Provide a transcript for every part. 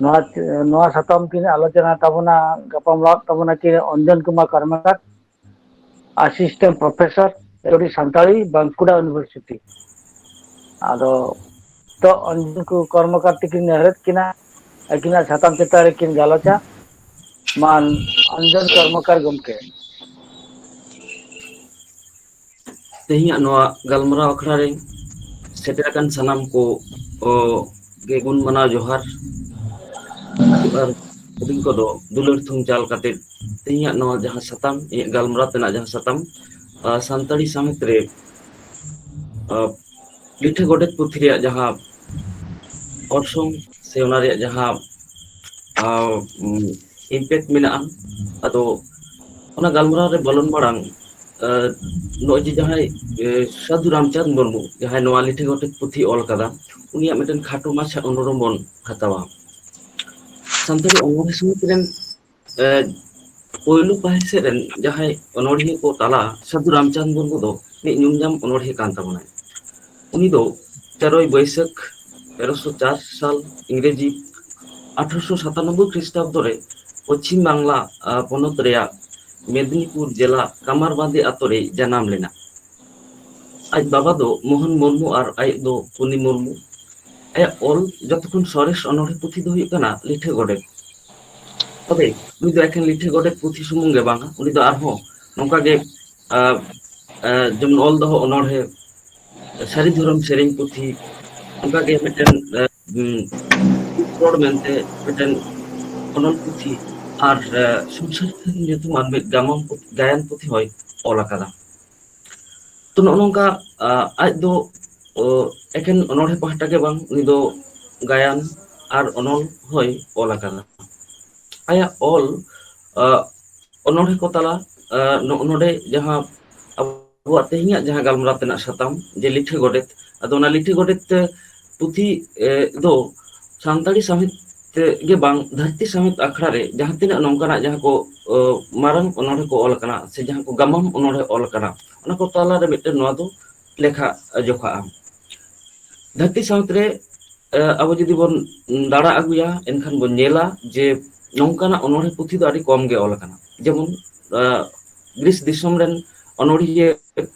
ᱱᱚᱣᱟ ᱱᱚᱣᱟ ᱥᱟᱛᱟᱢ ᱛᱮᱧ ᱟᱞᱳᱪᱚᱱᱟ ᱛᱟᱵᱚᱱᱟ ᱜᱟᱯᱟᱞᱢᱟᱨᱟᱣ ᱛᱟᱵᱚᱱᱟ ᱠᱤ ᱚᱱᱡᱚᱱ ᱠᱩᱢᱟᱨ ᱠᱚᱨᱢᱚᱠᱟᱨ ᱟᱥᱤᱥᱴᱮᱱᱴ ᱯᱨᱚᱯᱷᱮᱥᱟᱨ ᱪᱚᱨ ᱥᱟᱱᱛᱟᱲᱤ ᱵᱟᱸᱠᱩᱲᱟ ᱤᱭᱩᱱᱤᱵᱷᱟᱨᱥᱤᱴᱤ ᱟᱫᱚ ᱛᱚ ᱚᱱᱡᱚᱱ ᱠᱚ ᱠᱚᱨᱢᱚᱠᱟᱨ ᱛᱤᱠᱤᱱ ᱱᱮᱦᱨᱮᱫ ᱠᱤᱱᱟ ᱟᱹᱠᱤᱱᱟᱜ ᱥᱟᱛᱟᱢ ᱪᱮᱛᱟᱱ ᱨᱮᱠᱤᱱ ᱜᱟᱞᱚᱪᱟ ᱢᱟᱱ ᱚᱱᱡᱚᱱ ᱠᱚᱨᱢᱚᱠᱟᱨ ᱜᱚᱢᱠᱮ ᱛᱮᱦᱮᱧᱟᱜ ᱱᱚᱣᱟ ᱜᱟᱞᱢᱟᱨᱟᱣ ᱟᱠᱷᱲᱟ ᱨᱮ ᱥᱮᱴᱮᱨ ᱟᱠᱟᱱ ᱥᱟᱱᱟᱢ ᱠᱚ ᱠᱚ ᱜᱮᱜᱩᱱ ᱢᱟᱱᱟᱣ ᱡᱚᱦᱟᱨ ᱟᱨ ᱦᱩᱰᱤᱧ ᱠᱚᱫᱚ ᱫᱩᱞᱟᱹᱲ ᱛᱷᱩᱢ ᱪᱟᱞ ᱠᱟᱛᱮᱫ ᱛᱮᱦᱮᱧᱟᱜ ᱱᱚᱣᱟ ᱡᱟᱦᱟᱸ ᱥᱟᱛᱟᱢ ᱤᱧᱟᱹᱜ ᱜᱟᱞᱢᱟᱨᱟᱣ ᱛᱮᱱᱟᱜ ᱡᱟᱦᱟᱸ ᱥᱟᱛᱟᱢ ᱥᱟᱱᱛᱟᱲᱤ ᱥᱟᱶᱦᱮᱫ ᱨᱮ ᱞᱤᱴᱷᱟᱹ ᱜᱚᱰᱮᱛ ᱯᱩᱛᱷᱤ ᱨᱮᱭᱟᱜ ᱡᱟᱦᱟᱸ ᱚᱨᱥᱚᱝ ᱥᱮ ᱚᱱᱟ ᱨᱮᱭᱟᱜ ᱡᱟᱦᱟᱸ ᱤᱢᱯᱮᱠᱴ ᱢᱮᱱᱟᱜᱼᱟ ᱟᱫᱚ ᱚᱱᱟ ᱜᱟᱞᱢᱟᱨᱟᱣ ᱨᱮ ᱵᱚᱞᱚᱱ ᱢᱟᱲᱟᱝ ᱱᱚᱜᱼᱚᱭ ᱡᱮ ᱡᱟᱦᱟᱸᱭ ᱥᱟᱹᱫᱷᱩ ᱨᱟᱢᱪᱟᱸᱫᱽ ᱢᱩᱨᱢᱩ ᱡᱟᱦᱟᱸᱭ ᱱᱚᱣᱟ ᱞᱤᱴᱷᱤ ᱜᱚᱰᱮᱛ ᱯᱩᱛᱷᱤ ᱚᱞ ᱟᱠᱟᱫᱟ ᱩᱱᱤᱭᱟᱜ ᱢᱤᱫᱴᱮᱱ ᱠᱷᱟᱴᱚ ᱢᱟᱪᱷᱟ ᱚᱱᱩᱨᱳᱢ ᱵᱚᱱ ᱦᱟᱛᱟᱣᱟ ᱥᱟᱱᱛᱟᱲᱤ ᱚᱞ ᱥᱚᱢᱚᱭ ᱨᱮᱱ ᱮᱫ ᱯᱳᱭᱞᱳ ᱯᱟᱹᱦᱤᱞ ᱥᱮᱫ ᱨᱮᱱ ᱡᱟᱦᱟᱸᱭ ᱚᱱᱚᱲᱦᱤᱭᱟᱹ ᱠᱚ ᱛᱟᱞᱟ ᱥᱟᱹᱫᱷᱩ ᱨᱟᱢᱪᱟᱸᱫᱽ ᱢᱩᱨᱢᱩ ᱫᱚ ᱢᱤᱫ ᱧᱩᱢ ᱧᱟᱢ ᱚᱱᱚᱲᱦᱮ ᱠᱟᱱ ᱛᱟᱵᱚᱱᱟᱭ ᱩᱱᱤ ᱫᱚ ᱛᱮᱨᱚᱭ ᱵᱟᱹᱭᱥᱟᱹᱠᱷ ᱛᱮᱨᱚᱥᱚ ᱪᱟᱨ ᱥᱟᱞ ᱤᱝᱨᱮᱡᱤ ᱟᱴᱷᱨᱚᱥᱚ ᱥᱟᱛᱟᱱᱚᱵᱵᱚᱭ ᱠᱷᱨᱤᱥᱴᱟᱵᱫᱚ ᱨᱮ ᱯᱚᱪᱷᱤᱢ ᱵᱟᱝᱞᱟ ᱯᱚᱱᱚᱛ ᱨᱮᱭᱟᱜ ᱢᱮᱫᱽᱱᱤᱯᱩᱨ ᱡᱮᱞᱟ ᱠᱟᱢᱟᱨ ᱵᱟᱸᱫᱷᱤ ᱟᱛᱳ ᱨᱮᱭ ᱡᱟᱱᱟᱢ ᱞᱮᱱᱟ ᱟᱡ ᱵᱟᱵᱟ ᱫᱚ ᱢᱳᱦᱚᱱ ᱢᱩᱨᱢᱩ ᱟᱨ ᱟᱡ ᱫᱚ ᱠᱩᱱᱤ ᱢᱩᱨᱢᱩ ᱟᱭᱟᱜ ᱚᱞ ᱡᱚᱛᱚ ᱠᱷᱚᱱ ᱥᱚᱨᱮᱥ ᱚᱱᱚᱲᱦᱮ ᱯᱩᱛᱷᱤ ᱫᱚ ᱦᱩᱭᱩᱜ ᱠᱟᱱᱟ ᱞᱤᱴᱷᱟᱹ ᱜᱚᱰᱮᱛ ᱛᱚᱵᱮ ᱩᱱᱤ ᱫᱚ ᱮᱠᱷᱮᱱ ᱞᱤᱴᱷᱟᱹ ᱜᱚᱰᱮᱛ ᱯᱩᱛᱷᱤ ᱥᱩᱢᱩᱝ ᱜᱮ ᱵᱟᱝ ᱩᱱᱤ ᱫᱚ ᱟᱨᱦᱚᱸ ᱱᱚᱝᱠᱟ ᱜᱮ ᱟᱸ ᱟᱸ ᱡᱮᱢᱚᱱ ᱚᱞ ᱫᱚᱦᱚ ᱚᱱᱚᱬᱦᱮ ᱥᱟᱹᱨᱤ ᱫᱷᱚᱨᱚᱢ ᱥᱮᱨᱮᱧ ᱯᱩᱛᱷᱤ ᱚᱱᱠᱟ ᱜᱮ ᱢᱤᱫᱴᱮᱱ ᱨᱚᱲ ᱢᱮᱱᱛᱮ ᱢᱤᱫᱴᱮᱱ ᱚᱱᱚᱞ ᱯᱩᱛᱷᱤ ᱟᱨ ᱥᱩᱥᱟᱹᱛ ᱧᱩᱛᱩᱢᱟᱱ ᱢᱤᱫ ᱜᱟᱢᱟᱢ ᱜᱟᱭᱟᱱ ᱯᱩᱛᱷᱤ ᱦᱚᱭ ᱚᱞ ᱟᱠᱟᱫᱟ᱾ ᱛᱚ ᱱᱚᱜᱼᱚ ᱱᱚᱝᱠᱟ ᱟᱡ ᱫᱚ ᱚ ᱮᱠᱷᱮᱱ ᱚᱱᱚᱲᱦᱮ ᱯᱟᱦᱴᱟ ᱜᱮ ᱵᱟᱝ ᱩᱱᱤ ᱫᱚ ᱜᱟᱭᱟᱱ ᱟᱨ ᱚᱱᱚᱞ ᱦᱚᱭ ᱚᱞ ᱟᱠᱟᱫᱟ ᱟᱭᱟᱜ ᱚᱞ ᱚᱱᱚᱲᱦᱮ ᱠᱚ ᱛᱟᱞᱟ ᱱᱚᱜᱼᱚ ᱱᱚᱰᱮ ᱡᱟᱦᱟᱸ ᱟᱵᱚᱣᱟᱜ ᱛᱮᱦᱤᱧᱟᱜ ᱡᱟᱦᱟᱸ ᱜᱟᱞᱢᱟᱨᱟᱣ ᱛᱮᱱᱟᱜ ᱥᱟᱛᱟᱢ ᱡᱮ ᱞᱤᱴᱷᱟᱹ ᱜᱚᱰᱮᱛ ᱟᱫᱚ ᱚᱱᱟ ᱞᱤᱴᱷᱟᱹ ᱜᱚᱰᱮᱛ ᱛᱮ ᱯᱩᱛᱷᱤ ᱫᱚ ᱥᱟᱱᱛᱟᱲᱤ ᱥᱟᱶᱦᱮᱫ ᱜᱮ ᱵᱟᱝ ᱫᱷᱟᱹᱨᱛᱤ ᱥᱟᱶᱦᱮᱫ ᱟᱠᱷᱲᱟ ᱨᱮ ᱡᱟᱦᱟᱸ ᱛᱤᱱᱟᱹᱜ ᱱᱚᱝᱠᱟᱱᱟᱜ ᱡᱟᱦᱟᱸ ᱠᱚ ᱢᱟᱨᱟᱝ ᱚᱱᱚᱬᱦᱮᱸ ᱠᱚ ᱚᱞ ᱟᱠᱟᱱᱟ ᱥᱮ ᱡᱟᱦᱟᱸ ᱠᱚ ᱜᱟᱢᱟᱢ ᱚᱱᱚᱬᱦᱮᱸ ᱚᱞ ᱟᱠᱟᱱᱟ ᱚᱱᱟ ᱠᱚ ᱛᱟᱞᱟᱨᱮ ᱢᱤᱫᱴᱮᱱ ᱱᱚᱣᱟ ᱫᱚ ᱞᱮᱠᱷᱟ ᱡᱚᱠᱷᱟᱜᱼᱟ ᱫᱷᱟᱹᱨᱛᱤ ᱥᱟᱶᱛᱮ ᱨᱮ ᱟᱵᱚ ᱡᱩᱫᱤ ᱵᱚᱱ ᱫᱟᱲᱟ ᱟᱹᱜᱩᱭᱟ ᱮᱱᱠᱷᱟᱱ ᱵᱚᱱ ᱧᱮᱞᱟ ᱡᱮ ᱱᱚᱝᱠᱟᱱᱟᱜ ᱚᱱᱚᱬᱦᱮ ᱯᱩᱛᱷᱤ ᱫᱚ ᱟᱹᱰᱤ ᱠᱚᱢ ᱜᱮ ᱚᱞ ᱟᱠᱟᱱᱟ ᱡᱮᱢᱚᱱ ᱫᱮᱥ ᱫᱤᱥᱚᱢ ᱨᱮᱱ ᱚᱱᱚᱲᱦᱤᱭᱟᱹ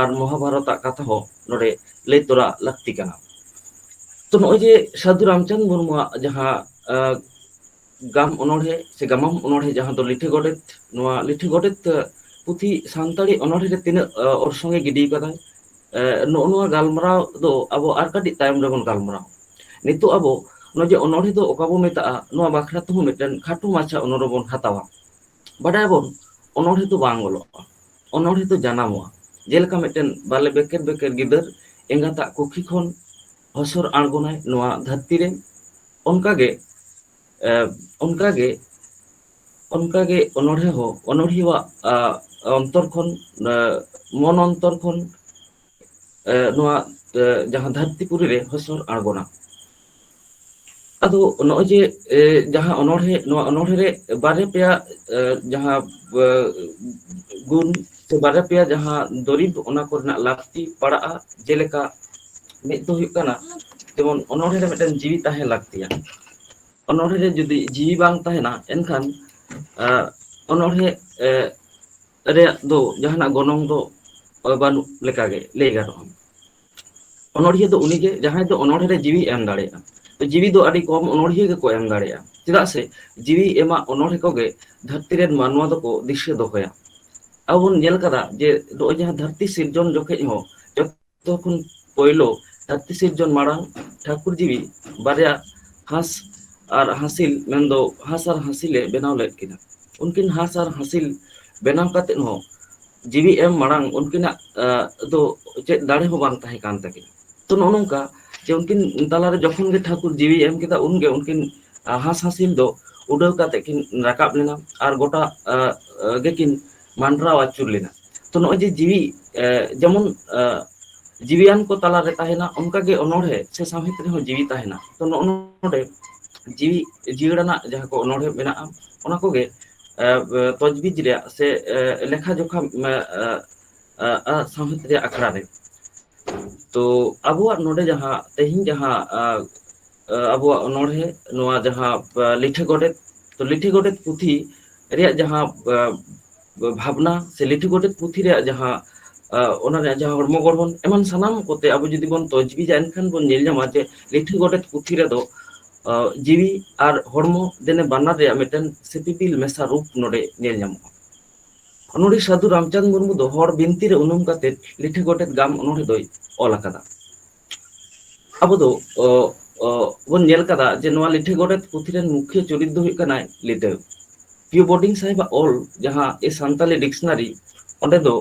ᱟᱨ ᱢᱚᱦᱟᱵᱷᱟᱨᱚᱛᱟᱜ ᱠᱟᱛᱷᱟ ᱦᱚᱸ ᱱᱚᱰᱮ ᱞᱟᱹᱭ ᱛᱚᱨᱟ ᱞᱟᱹᱠᱛᱤ ᱠᱟᱱᱟ ᱛᱚ ᱱᱚᱜᱼᱚᱭ ᱡᱮ ᱥᱟᱹᱫᱷᱩ ᱨᱟᱢᱪᱟᱸᱫᱽ ᱢᱩᱨᱢᱩᱣᱟᱜ ᱡᱟᱦᱟᱸ ᱜᱟᱢ ᱚᱱᱚᱬᱦᱮ ᱥᱮ ᱜᱟᱢᱟᱢ ᱚᱱᱚᱬᱦᱮ ᱡᱟᱦᱟᱸ ᱫᱚ ᱞᱤᱴᱷᱟᱹ ᱜᱚᱰᱮᱛ ᱱᱚᱣᱟ ᱞᱤᱴᱷᱟᱹ ᱜᱚᱰᱮᱛ ᱯᱩᱛᱷᱤ ᱥᱟᱱᱛᱟᱲᱤ ᱚᱱᱚᱲᱦᱮᱸ ᱨᱮ ᱛᱤᱱᱟᱹᱜ ᱚᱨᱥᱚᱝ ᱮ ᱜᱤᱰᱤ ᱟᱠᱟᱫᱟ ᱱᱚᱜᱼᱚ ᱱᱚᱣᱟ ᱜᱟᱞᱢᱟᱨᱟᱣ ᱫᱚ ᱟᱵᱚ ᱟᱨ ᱠᱟᱹᱴᱤᱡ ᱛᱟᱭᱚᱢ ᱨᱮᱵᱚᱱ ᱜᱟᱞᱢᱟᱨᱟᱣᱟ ᱱᱤᱛᱚᱜ ᱟᱵᱚ ᱱᱚᱜᱼᱚᱭ ᱡᱮ ᱚᱱᱚᱲᱦᱮ ᱫᱚ ᱚᱠᱟ ᱵᱚ ᱢᱮᱛᱟᱜᱼᱟ ᱱᱚᱣᱟ ᱵᱟᱠᱷᱨᱟ ᱛᱮᱦᱚᱸ ᱢᱤᱫᱴᱮᱱ ᱠᱷᱟᱴᱚ ᱢᱟᱪᱷᱟ ᱚᱱᱚᱲᱦᱮ ᱵᱚᱱ ᱦᱟᱛᱟᱣᱟ ᱵᱟᱰᱟᱭᱟᱵᱚᱱ ᱚᱱᱚᱬᱦᱮ ᱫᱚ ᱵᱟᱝ ᱚᱞᱚᱜᱼᱟ ᱚᱱᱚᱬᱦᱮ ᱫᱚ ᱡᱟᱱᱟᱢᱚᱜᱼᱟ ᱡᱮᱞᱮᱠᱟ ᱢᱤᱫᱴᱮᱱ ᱵᱟᱞᱮ ᱵᱮᱠᱮᱨ ᱵᱮᱠᱮᱨ ᱜᱤᱫᱟᱹᱨ ᱮᱸᱜᱟᱛᱟᱜ ᱠᱩᱠᱷᱤ ᱠᱷᱚᱱ ᱦᱚᱥᱚᱨ ᱟᱬᱜᱚᱱᱟᱭ ᱱᱚᱣᱟ ᱫᱷᱟᱹᱨᱛᱤ ᱨᱮ ᱚᱱᱠᱟᱜᱮ ᱮ ᱚᱱᱠᱟᱜᱮ ᱚᱱᱠᱟᱜᱮ ᱚᱱᱚᱬᱦᱮ ᱦᱚᱸ ᱚᱱᱚᱲᱦᱤᱣᱟᱜ ᱚᱱᱛᱚᱨ ᱠᱷᱚᱱ ᱢᱚᱱ ᱚᱱᱛᱚᱨ ᱠᱷᱚᱱ ᱮ ᱱᱚᱣᱟ ᱡᱟᱦᱟᱸ ᱫᱷᱟᱹᱨᱛᱤ ᱯᱩᱨᱤ ᱨᱮ ᱦᱟᱹᱥᱩᱨ ᱟᱬᱜᱚᱱᱟ ᱟᱫᱚ ᱱᱚᱜᱼᱚᱭ ᱡᱮ ᱮ ᱡᱟᱦᱟᱸ ᱚᱱᱚᱬᱦᱮᱸ ᱱᱚᱣᱟ ᱚᱱᱚᱬᱦᱮᱸ ᱨᱮ ᱵᱟᱨᱭᱟ ᱯᱮᱭᱟ ᱮ ᱡᱟᱦᱟᱸ ᱵᱮ ᱜᱩᱱ ᱥᱮ ᱵᱟᱨᱭᱟ ᱯᱮᱭᱟ ᱡᱟᱦᱟᱸ ᱫᱩᱨᱤᱵᱽ ᱚᱱᱟ ᱠᱚᱨᱮᱱᱟᱜ ᱞᱟᱹᱠᱛᱤ ᱯᱟᱲᱟᱜᱼᱟ ᱡᱮᱞᱮᱠᱟ ᱢᱤᱫ ᱫᱚ ᱦᱩᱭᱩᱜ ᱠᱟᱱᱟ ᱡᱮᱢᱚᱱ ᱚᱱᱚᱬᱦᱮᱸ ᱨᱮ ᱢᱤᱫᱴᱮᱱ ᱡᱤᱣᱤ ᱛᱟᱦᱮᱸ ᱞᱟᱹᱠᱛᱤᱭᱟ ᱚᱱᱚᱬᱦᱮᱸ ᱨᱮ ᱡᱩᱫᱤ ᱡᱤᱣᱤ ᱵᱟᱝ ᱛᱟᱦᱮᱱᱟ ᱮᱱᱠᱷᱟᱱ ᱮ ᱚᱱᱚᱬᱦᱮᱸ ᱮ ᱨᱮᱭᱟᱜ ᱫᱚ ᱡᱟᱦᱟᱱᱟᱜ ᱜᱚᱱᱚᱝ ᱫᱚ ᱵᱟᱹᱱᱩᱜ ᱞᱮᱠᱟᱜᱮ ᱞᱟᱹᱭ ᱜᱟᱱᱚᱜᱼᱟ ᱚᱱᱚᱲᱦᱤᱭᱟᱹ ᱫᱚ ᱩᱱᱤᱜᱮ ᱡᱟᱦᱟᱸᱭ ᱫᱚ ᱚᱱᱚᱲᱦᱮ ᱨᱮ ᱡᱤᱣᱤ ᱮᱢ ᱫᱟᱲᱮᱭᱟᱜᱼᱟ ᱡᱤᱣᱤ ᱫᱚ ᱟᱹᱰᱤ ᱠᱚᱢ ᱚᱱᱚᱲᱦᱤᱭᱟᱹ ᱜᱮᱠᱚ ᱮᱢ ᱫᱟᱲᱮᱭᱟᱜᱼᱟ ᱪᱮᱫᱟᱜ ᱥᱮ ᱡᱤᱣᱤ ᱮᱢᱟᱜ ᱚᱱᱚᱲᱦᱮ ᱠᱚᱜᱮ ᱫᱷᱟᱹᱨᱛᱤ ᱨᱮᱱ ᱢᱟᱱᱣᱟ ᱫᱚᱠᱚ ᱫᱤᱥᱟᱹ ᱫᱚᱦᱚᱭᱟ ᱟᱵᱚ ᱵᱚᱱ ᱧᱮᱞ ᱟᱠᱟᱫᱟ ᱡᱮ ᱱᱚᱜᱼᱚᱭ ᱡᱟᱦᱟᱸ ᱫᱷᱟᱹᱨᱛᱤ ᱥᱤᱨᱡᱚᱱ ᱡᱚᱠᱷᱚᱱ ᱦᱚᱸ ᱡᱚᱛᱚ ᱠᱷᱚᱱ ᱯᱳᱭᱞᱳ ᱫᱷᱟᱹᱨᱛᱤ ᱥᱤᱨᱡᱚᱱ ᱢᱟᱲᱟᱝ ᱴᱷᱟᱹᱠᱩᱨ ᱡᱤᱣᱤ ᱵᱟᱨᱭᱟ ᱦᱟᱸᱥ ᱟᱨ ᱦᱟᱹᱥᱤᱞ ᱢᱮᱱᱫᱚ ᱦᱟᱸᱥ ᱟᱨ ᱦᱟᱹᱥᱤᱞ ᱮ ᱵᱮᱱᱟᱣ ᱞᱮᱫ ᱠᱤᱱᱟ ᱩᱱᱠᱤᱱ ᱦᱟᱸᱥ ᱟᱨ ᱦᱟᱹᱥᱤᱞ ᱵᱮᱱᱟᱣ ᱠᱟᱛᱮᱫ ᱦᱚᱸ ᱡᱤᱣᱤ ᱮᱢ ᱢᱟᱲᱟᱝ ᱩᱱᱠᱤᱱᱟᱜ ᱫᱚ ᱪᱮᱫ ᱫᱟᱲᱮ ᱦᱚᱸ ᱵᱟᱝ ᱛᱟᱦᱮᱸ ᱠᱟᱱ ᱛᱟᱹᱠᱤᱱᱟ ᱛᱚ ᱱᱚᱜᱼᱚ ᱱᱚᱝᱠᱟ ᱡᱮ ᱩᱱᱠᱤᱱ ᱛᱟᱞᱟᱨᱮ ᱡᱚᱠᱷᱚᱱ ᱜᱮ ᱴᱷᱟᱹᱠᱩᱨ ᱡᱤᱣᱤ ᱮᱢ ᱠᱮᱫᱟ ᱩᱱᱜᱮ ᱩᱱᱠᱤᱱ ᱦᱟᱸᱥ ᱦᱟᱹᱥᱤᱞ ᱫᱚ ᱩᱰᱟᱹᱣ ᱠᱟᱛᱮᱜ ᱠᱤᱱ ᱨᱟᱠᱟᱵ ᱞᱮᱱᱟ ᱟᱨ ᱜᱚᱴᱟ ᱜᱮᱠᱤᱱ ᱢᱟᱸᱰᱨᱟᱣ ᱟᱹᱪᱩᱨ ᱞᱮᱱᱟ ᱛᱚ ᱱᱚᱜᱼᱚᱭ ᱡᱮ ᱡᱤᱣᱤ ᱡᱮᱢᱚᱱ ᱡᱤᱣᱤᱭᱟᱱ ᱠᱚ ᱛᱟᱞᱟᱨᱮ ᱛᱟᱦᱮᱱᱟ ᱚᱱᱠᱟ ᱜᱮ ᱚᱱᱚᱬᱦᱮᱸ ᱥᱮ ᱥᱟᱶᱦᱮᱫ ᱨᱮᱦᱚᱸ ᱡᱤᱣᱤ ᱛᱟᱦᱮᱱᱟ ᱛᱚ ᱱᱚᱜᱼᱚ ᱱᱚᱰᱮ ᱡᱤᱣᱤ ᱡᱤᱭᱟᱹᱲ ᱟᱱᱟᱜ ᱡᱟᱦᱟᱸ ᱠᱚ ᱚᱱᱚᱬᱦᱮᱸ ᱢᱮᱱᱟᱜᱼᱟ ᱚᱱᱟ ᱠᱚᱜᱮ ᱛᱚᱡᱽᱵᱤᱡ ᱨᱮᱭᱟᱜ ᱥᱮ ᱞᱮᱠᱷᱟ ᱡᱚᱠᱷᱟ ᱥᱟᱶᱦᱮᱫ ᱨᱮᱭᱟᱜ ᱟᱠᱷᱲᱟ ᱨᱮ ᱛᱚ ᱟᱵᱚᱣᱟᱜ ᱱᱚᱰᱮ ᱡᱟᱦᱟᱸ ᱛᱮᱦᱤᱧ ᱡᱟᱦᱟᱸ ᱟᱵᱚᱣᱟᱜ ᱚᱱᱚᱬᱦᱮ ᱱᱚᱣᱟ ᱡᱟᱦᱟᱸ ᱞᱤᱴᱷᱟᱹ ᱜᱚᱰᱮᱛ ᱛᱚ ᱞᱤᱴᱷᱤ ᱜᱚᱰᱮᱛ ᱯᱩᱛᱷᱤ ᱨᱮᱭᱟᱜ ᱡᱟᱦᱟᱸ ᱵᱷᱟᱵᱽᱱᱟ ᱥᱮ ᱞᱤᱴᱷᱤ ᱜᱚᱰᱮᱛ ᱯᱩᱛᱷᱤ ᱨᱮᱭᱟᱜ ᱡᱟᱦᱟᱸ ᱚᱱᱟ ᱨᱮᱭᱟᱜ ᱡᱟᱦᱟᱸ ᱦᱚᱲᱢᱚ ᱜᱚᱲᱦᱚᱱ ᱮᱢᱟᱱ ᱥᱟᱱᱟᱢ ᱠᱚᱛᱮ ᱟᱵᱚ ᱡᱩᱫᱤ ᱵᱚᱱ ᱛᱚᱡᱽᱵᱤᱡᱟ ᱮᱱᱠᱷᱟᱱ ᱵᱚᱱ ᱧᱮᱞ ᱧᱟᱢᱟ ᱡᱮ ᱞᱤᱴᱷᱤ ᱜᱚᱰᱮᱛ ᱯᱩᱛᱷᱤ ᱨᱮᱫᱚ ᱡᱤᱣᱤ ᱟᱨ ᱦᱚᱲᱢᱚ ᱫᱮᱱᱮ ᱵᱟᱱᱟᱨ ᱨᱮᱭᱟᱜ ᱢᱤᱫᱴᱮᱱ ᱥᱤᱯᱤᱵᱤᱞ ᱢᱮᱥᱟ ᱨᱩᱯ ᱱᱚᱰᱮ ᱧᱮᱞ ᱧᱟᱢᱚᱜᱼᱟ ᱚᱱᱚᱲᱦᱤ ᱥᱟᱹᱫᱷᱩ ᱨᱟᱢᱪᱟᱸᱫᱽ ᱢᱩᱨᱢᱩ ᱫᱚ ᱦᱚᱲ ᱵᱤᱱᱛᱤ ᱨᱮ ᱩᱱᱩᱢ ᱠᱟᱛᱮ ᱞᱤᱴᱷᱤ ᱜᱚᱰᱮᱛ ᱜᱟᱢ ᱚᱱᱚᱲᱦᱮ ᱫᱚᱭ ᱚᱞ ᱟᱠᱟᱫᱟ ᱟᱵᱚ ᱫᱚ ᱚ ᱚ ᱵᱚᱱ ᱧᱮᱞ ᱠᱟᱫᱟ ᱡᱮ ᱱᱚᱣᱟ ᱞᱤᱴᱷᱟᱹ ᱜᱚᱰᱮᱛ ᱯᱩᱛᱷᱤ ᱨᱮᱱ ᱢᱩᱠᱷᱤᱭᱟᱹ ᱪᱩᱨᱤᱛ ᱫᱚ ᱦᱩᱭᱩᱜ ᱠᱟᱱᱟᱭ ᱞᱤᱴᱟᱹ᱾ ᱠᱤᱭᱩ ᱵᱳᱰᱤᱝ ᱥᱟᱦᱮᱵᱟᱜ ᱚᱞ ᱡᱟᱦᱟᱸ ᱮ ᱥᱟᱱᱛᱟᱞᱤ ᱰᱤᱠᱥᱱᱟᱨᱤ ᱚᱸᱰᱮ ᱫᱚ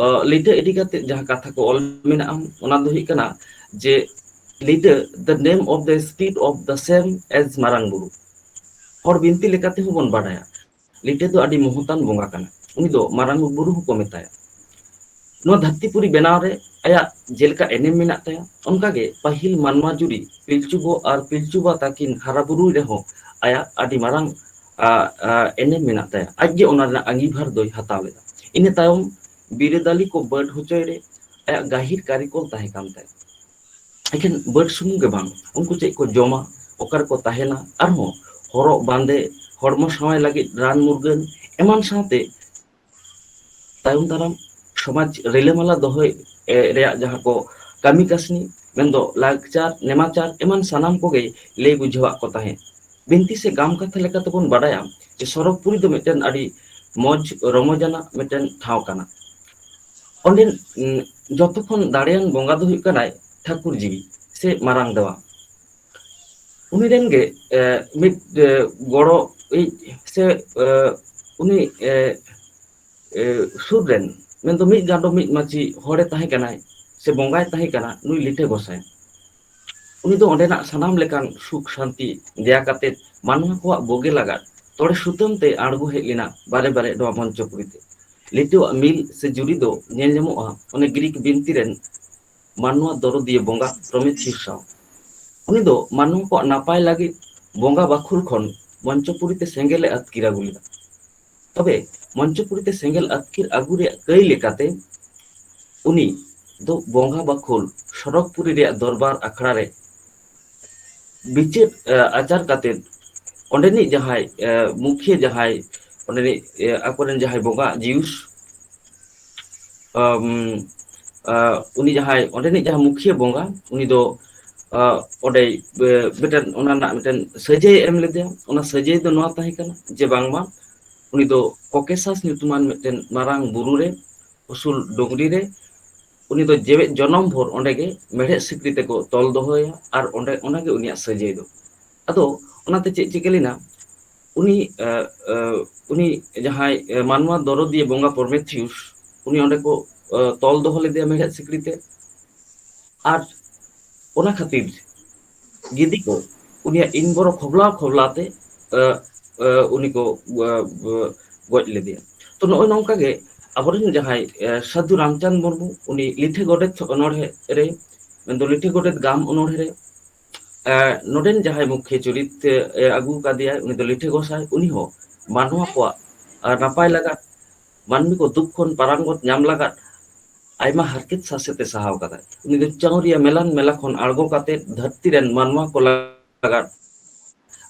ᱚ ᱞᱤᱴᱟᱹ ᱤᱫᱤ ᱠᱟᱛᱮᱜ ᱡᱟᱦᱟᱸ ᱠᱟᱛᱷᱟ ᱠᱚ ᱚᱞ ᱢᱮᱱᱟᱜᱼᱟ ᱚᱱᱟ ᱫᱚ ᱦᱩᱭᱩᱜ ᱠᱟᱱᱟ ᱡᱮ ᱞᱤᱰᱟᱹ the name of the speed of the same ᱮᱡ ᱢᱟᱨᱟᱝ ᱵᱩᱨᱩ᱾ ᱦᱚᱲ ᱵᱤᱱᱛᱤ ᱞᱮᱠᱟᱛᱮ ᱦᱚᱸ ᱵᱚᱱ ᱵᱟᱰᱟᱭᱟ᱾ ᱞᱤᱴᱟᱹ ᱫᱚ ᱟᱹᱰᱤ ᱢᱚᱦᱚᱛᱟᱱ ᱵᱚᱸᱜᱟ ᱠᱟᱱᱟ ᱩᱱᱤ ᱫᱚ ᱢᱟᱨᱟᱝ ᱵᱩᱨᱩ ᱦᱚᱸᱠᱚ ᱢᱮᱛᱟᱭᱟ᱾ ᱱᱚᱣᱟ ᱫᱷᱟᱹᱨᱛᱤ ᱯᱩᱨᱤ ᱵᱮᱱᱟᱣ ᱨᱮ ᱟᱭᱟᱜ ᱡᱮᱞᱮᱠᱟ ᱮᱱᱮᱢ ᱢᱮᱱᱟᱜ ᱛᱟᱭᱟ ᱚᱱᱠᱟ ᱜᱮ ᱯᱟᱹᱦᱤᱞ ᱢᱟᱱᱣᱟ ᱡᱩᱨᱤ ᱯᱤᱞᱪᱩ ᱜᱚ ᱟᱨ ᱯᱤᱞᱪᱩ ᱵᱟ ᱛᱟᱹᱠᱤᱱ ᱦᱟᱨᱟ ᱵᱩᱨᱩᱭ ᱨᱮᱦᱚᱸ ᱟᱭᱟᱜ ᱟᱹᱰᱤ ᱢᱟᱨᱟᱝ ᱮᱱᱮᱢ ᱢᱮᱱᱟᱜ ᱛᱟᱭᱟ ᱟᱡ ᱜᱮ ᱚᱱᱟ ᱨᱮᱱᱟᱜ ᱟᱺᱜᱤᱵᱷᱟᱨ ᱫᱚᱭ ᱦᱟᱛᱟᱣ ᱞᱮᱫᱟ ᱤᱱᱟᱹ ᱛᱟᱭᱚᱢ ᱵᱤᱨᱟᱹᱫᱟᱹᱞᱤ ᱠᱚ ᱵᱟᱹᱰ ᱦᱚᱪᱚᱭ ᱨᱮ ᱟᱭᱟᱜ ᱜᱟᱹᱦᱤᱨ ᱠᱟᱹᱨᱤᱠᱚᱞ ᱛᱟᱦᱮᱸ ᱠᱟᱱ ᱛᱟᱭᱟ᱾ ᱮᱠᱷᱮᱱ ᱵᱟᱹᱰ ᱥᱩᱢᱩᱝ ᱜᱮ ᱵᱟᱝ ᱩᱱᱠᱩ ᱪᱮᱫ ᱠᱚ ᱡᱚᱢᱟ ᱚᱠᱟ ᱨᱮᱠᱚ ᱛᱟᱦᱮᱱᱟ ᱟᱨᱦᱚᱸ ᱦᱚᱨᱚᱜ ᱵᱟᱸᱫᱮ ᱦᱚᱲᱢᱚ ᱥᱟᱶᱟᱭ ᱞᱟᱹᱜᱤᱫ ᱨᱟᱱ ᱢᱩᱨᱜᱟᱹᱱ ᱮᱢᱟᱱ ᱥᱟᱶᱛᱮ ᱛᱟᱭᱚᱢ ᱫᱟᱨᱟᱢ ᱥᱚᱢᱟᱡᱽ ᱨᱤᱞᱟᱹᱢᱟᱞᱟ ᱫᱚᱦᱚᱭ ᱨᱮᱭᱟᱜ ᱡᱟᱦᱟᱸ ᱠᱚ ᱠᱟᱹᱢᱤ ᱠᱟᱹᱥᱱᱤ ᱢᱮᱱᱫᱚ ᱞᱟᱠᱪᱟᱨ ᱱᱮᱢᱟᱪᱟᱨ ᱮᱢᱟᱱ ᱥᱟᱱᱟᱢ ᱠᱚᱜᱮ ᱞᱟᱹᱭ ᱵᱩᱡᱷᱟᱹᱣᱟᱫ ᱠᱚ ᱛᱟᱦᱮᱸᱫ ᱵᱤᱱᱛᱤ ᱥᱮ ᱜᱟᱢ ᱠᱟᱛᱷᱟ ᱞᱮᱠᱟᱛᱮᱵᱚᱱ ᱵᱟᱰᱟᱭᱟ ᱡᱮ ᱥᱚᱨᱚᱜᱽ ᱯᱩᱨᱤ ᱫᱚ ᱢᱤᱫᱴᱮᱱ ᱟᱹᱰᱤ ᱢᱚᱸᱡᱽ ᱨᱚᱢᱚᱡᱟᱱᱟᱜ ᱢᱤᱫᱴᱮᱱ ᱴᱷᱟᱶ ᱠᱟᱱᱟ ᱚᱸᱰᱮᱱ ᱡᱚᱛᱚ ᱠᱷᱚᱱ ᱫᱟᱲᱮᱭᱟᱱ ᱵᱚᱸᱜᱟ ᱫᱚ ᱦᱩᱭᱩᱜ ᱠᱟᱱᱟᱭ ᱴᱷᱟᱹᱠᱩᱨ ᱡᱤᱣᱤ ᱥᱮ ᱢᱟᱨᱟᱝ ᱫᱟᱣᱟ ᱩᱱᱤ ᱨᱮᱱ ᱜᱮ ᱢᱤᱫ ᱜᱚᱲᱚ ᱤᱡ ᱥᱮ ᱩᱱᱤ ᱮ ᱥᱩᱨ ᱨᱮᱱ ᱢᱮᱱᱫᱚ ᱢᱤᱫ ᱪᱟᱸᱫᱚ ᱢᱤᱫ ᱢᱟᱹᱡᱷᱤ ᱦᱚᱲᱮ ᱛᱟᱦᱮᱸ ᱠᱟᱱᱟᱭ ᱥᱮ ᱵᱚᱸᱜᱟᱭ ᱛᱟᱦᱮᱸ ᱠᱟᱱᱟ ᱱᱩᱭ ᱞᱤᱴᱟᱹ ᱜᱚᱸᱥᱟᱭ ᱩᱱᱤ ᱫᱚ ᱚᱸᱰᱮᱱᱟᱜ ᱥᱟᱱᱟᱢ ᱞᱮᱠᱟᱱ ᱥᱩᱠ ᱥᱟᱱᱛᱤ ᱫᱮᱭᱟ ᱠᱟᱛᱮ ᱢᱟᱱᱣᱟ ᱠᱚᱣᱟᱜ ᱵᱳᱜᱮ ᱞᱟᱜᱟᱫ ᱛᱚᱲᱮ ᱥᱩᱛᱟᱹᱢ ᱛᱮᱭ ᱟᱬᱜᱚ ᱦᱮᱡ ᱞᱮᱱᱟ ᱵᱟᱨᱮ ᱵᱟᱨᱮ ᱱᱚᱣᱟ ᱢᱚᱧᱪᱚ ᱯᱩᱨᱤ ᱛᱮ᱾ ᱱᱤᱛᱚᱜᱟᱜ ᱢᱤᱞ ᱥᱮ ᱡᱩᱨᱤ ᱫᱚ ᱧᱮᱞ ᱧᱟᱢᱚᱜᱼᱟ ᱚᱱᱮ ᱜᱨᱤᱠ ᱵᱤᱱᱛᱤ ᱨᱮᱱ ᱢᱟᱱᱣᱟ ᱫᱚᱨᱚᱫᱤᱭᱟᱹ ᱵᱚᱸᱜᱟ ᱯᱨᱚᱢᱮᱛᱷᱤᱭᱩᱥ ᱥᱟᱶ᱾ ᱩᱱᱤ ᱫᱚ ᱢᱟᱱᱣᱟ ᱠᱚᱣᱟᱜ ᱱᱟᱯᱟᱭ ᱞᱟᱹᱜᱤᱫ ᱵᱚᱸᱜᱟ ᱵᱟᱹᱠᱷᱩᱞ ᱠᱷᱚᱱ ᱢᱚᱧᱪᱚ ᱯᱩᱨᱤ ᱛᱮ ᱥᱮᱸᱜᱮᱞ ᱮ ᱟᱹᱛᱠᱤᱨ ᱟᱹᱜᱩ ᱞᱮᱫᱟ᱾ ᱛᱚᱵᱮ ᱢᱚᱧᱪᱚ ᱯᱩᱨᱤ ᱛᱮ ᱥᱮᱸᱜᱮᱞ ᱟᱹᱛᱠᱤᱨ ᱟᱹᱜᱩ ᱨᱮᱭᱟᱜ ᱠᱟᱹᱭ ᱞᱮᱠᱟᱛᱮ ᱩᱱᱤ ᱫᱚ ᱵᱚᱸᱜᱟ ᱵᱟᱠᱷᱳᱞ ᱥᱚᱨᱚᱜᱽ ᱯᱩᱨᱤ ᱨᱮᱭᱟᱜ ᱫᱚᱨᱵᱟᱨ ᱟᱠᱷᱲᱟ ᱨᱮ ᱵᱤᱪᱟᱹᱨ ᱟᱪᱟᱨ ᱠᱟᱛᱮᱫ ᱚᱸᱰᱮᱱᱤᱡ ᱡᱟᱦᱟᱸᱭ ᱢᱩᱠᱷᱤᱭᱟᱹ ᱡᱟᱦᱟᱸᱭ ᱚᱸᱰᱮᱱᱤᱡ ᱟᱠᱚᱨᱮᱱ ᱡᱟᱦᱟᱸᱭ ᱵᱚᱸᱜᱟ ᱡᱤᱭᱩᱥ ᱩᱱᱤ ᱡᱟᱦᱟᱸᱭ ᱚᱸᱰᱮᱱᱤᱡ ᱡᱟᱦᱟᱸ ᱢᱩᱠᱷᱤᱭᱟᱹ ᱵᱚᱸᱜᱟ ᱩᱱᱤ ᱫᱚ ᱚᱸᱰᱮ ᱢᱤᱫᱴᱮᱱ ᱚᱱᱟ ᱨᱮᱱᱟᱜ ᱢᱤᱫᱴᱮᱱ ᱥᱟᱹᱡᱟᱹᱭ ᱮ ᱮᱢ ᱞᱮᱫᱮᱭᱟ ᱚᱱᱟ ᱥᱟᱹᱡᱟᱹᱭ ᱫᱚ ᱱᱚᱣᱟ ᱛᱟᱦᱮᱸ ᱠᱟᱱᱟ ᱡᱮ ᱵᱟᱝᱢᱟ ᱩᱱᱤ ᱫᱚ ᱠᱚᱠᱮᱥᱟᱥ ᱧᱩᱛᱩᱢᱟᱱ ᱢᱤᱫᱴᱮᱱ ᱢᱟᱨᱟᱝ ᱵᱩᱨᱩ ᱨᱮ ᱩᱥᱩᱞ ᱰᱩᱝᱨᱤ ᱨᱮ ᱩᱱᱤ ᱫᱚ ᱡᱮᱣᱮᱫ ᱡᱚᱱᱚᱢ ᱵᱷᱳᱨ ᱚᱸᱰᱮ ᱜᱮ ᱢᱮᱲᱦᱮᱫ ᱥᱤᱠᱲᱤ ᱛᱮᱠᱚ ᱛᱚᱞ ᱫᱚᱦᱚᱭᱟ ᱟᱨ ᱚᱸᱰᱮ ᱚᱱᱟᱜᱮ ᱩᱱᱤᱭᱟᱜ ᱥᱟᱹᱡᱟᱹᱭ ᱫᱚ ᱟᱫᱚ ᱚᱱᱟᱛᱮ ᱪᱮᱫ ᱪᱤᱠᱟᱹ ᱞᱮᱱᱟ ᱩᱱᱤ ᱮᱸ ᱮᱸ ᱩᱱᱤ ᱡᱟᱦᱟᱸᱭ ᱢᱟᱱᱣᱟ ᱫᱚᱨᱚᱫᱤᱭᱟᱹ ᱵᱚᱸᱜᱟ ᱯᱚᱨᱢᱮᱛᱷᱤᱭᱩᱥ ᱩᱱᱤ ᱚᱸᱰᱮ ᱠᱚ ᱛᱚᱞ ᱫᱚᱦᱚ ᱞᱮᱫᱮᱭᱟ ᱢᱮᱲᱦᱮᱫ ᱥᱤᱠᱲᱤ ᱛᱮ ᱟᱨ ᱚᱱᱟ ᱠᱷᱟᱹᱛᱤᱨ ᱜᱤᱫᱤ ᱠᱚ ᱩᱱᱤᱭᱟᱜ ᱤᱱ ᱵᱚᱨᱚ ᱠᱷᱚᱵᱞᱟᱣ ᱠᱷᱚᱵᱞᱟᱣ ᱛᱮ ᱮᱸ ᱮᱸ ᱩᱱᱤ ᱠᱚ ᱜᱚᱡ ᱞᱮᱫᱮᱭᱟ ᱛᱚ ᱱᱚᱜᱼᱚᱭ ᱱᱚᱝᱠᱟ ᱜᱮ ᱟᱵᱚᱨᱮᱱ ᱡᱟᱦᱟᱸᱭ ᱥᱟᱹᱫᱷᱩ ᱨᱟᱢᱪᱟᱸᱫᱽ ᱢᱩᱨᱢᱩ ᱩᱱᱤ ᱞᱤᱴᱷᱤ ᱜᱚᱰᱮᱛ ᱚᱱᱚᱲᱦᱮᱸ ᱨᱮ ᱢᱮᱱᱫᱚ ᱞᱤᱴᱷᱤ ᱜᱚᱰᱮᱛ ᱜᱟᱢ ᱚᱱᱚᱲᱦᱮᱸ ᱨᱮ ᱱᱚᱰᱮᱱ ᱡᱟᱦᱟᱸᱭ ᱢᱩᱠᱷᱤᱭᱟᱹ ᱪᱩᱨᱤᱛ ᱮ ᱟᱹᱜᱩ ᱟᱠᱟᱫᱮᱭᱟᱭ ᱩᱱᱤ ᱫᱚ ᱞᱤᱴᱷᱟᱹ ᱜᱚᱸᱥᱟᱭ ᱩᱱᱤ ᱦᱚᱸ ᱢᱟᱱᱣᱟ ᱠᱚᱣᱟᱜ ᱱᱟᱯᱟᱭ ᱞᱟᱜᱟᱫ ᱢᱟᱹᱱᱢᱤ ᱠᱚ ᱫᱩᱠ ᱠᱷᱚᱱ ᱯᱟᱨᱟᱝ ᱜᱚᱛ ᱧᱟᱢ ᱞᱟᱜᱟᱫ ᱟᱭᱢᱟ ᱦᱟᱨᱠᱮᱛ ᱥᱟᱥᱮᱛ ᱮ ᱥᱟᱦᱟᱣ ᱟᱠᱟᱫᱟ ᱩᱱᱤ ᱫᱚ ᱪᱟᱶᱨᱤᱭᱟ ᱢᱮᱞᱟᱱ ᱢᱮᱞᱟ ᱠᱷᱚᱱ ᱟᱬᱜᱚ ᱠᱟᱛᱮᱫ ᱫᱷᱟᱹᱨᱛᱤ ᱨᱮᱱ ᱢᱟᱱᱣᱟ ᱠᱚ ᱞᱟᱜᱟᱫ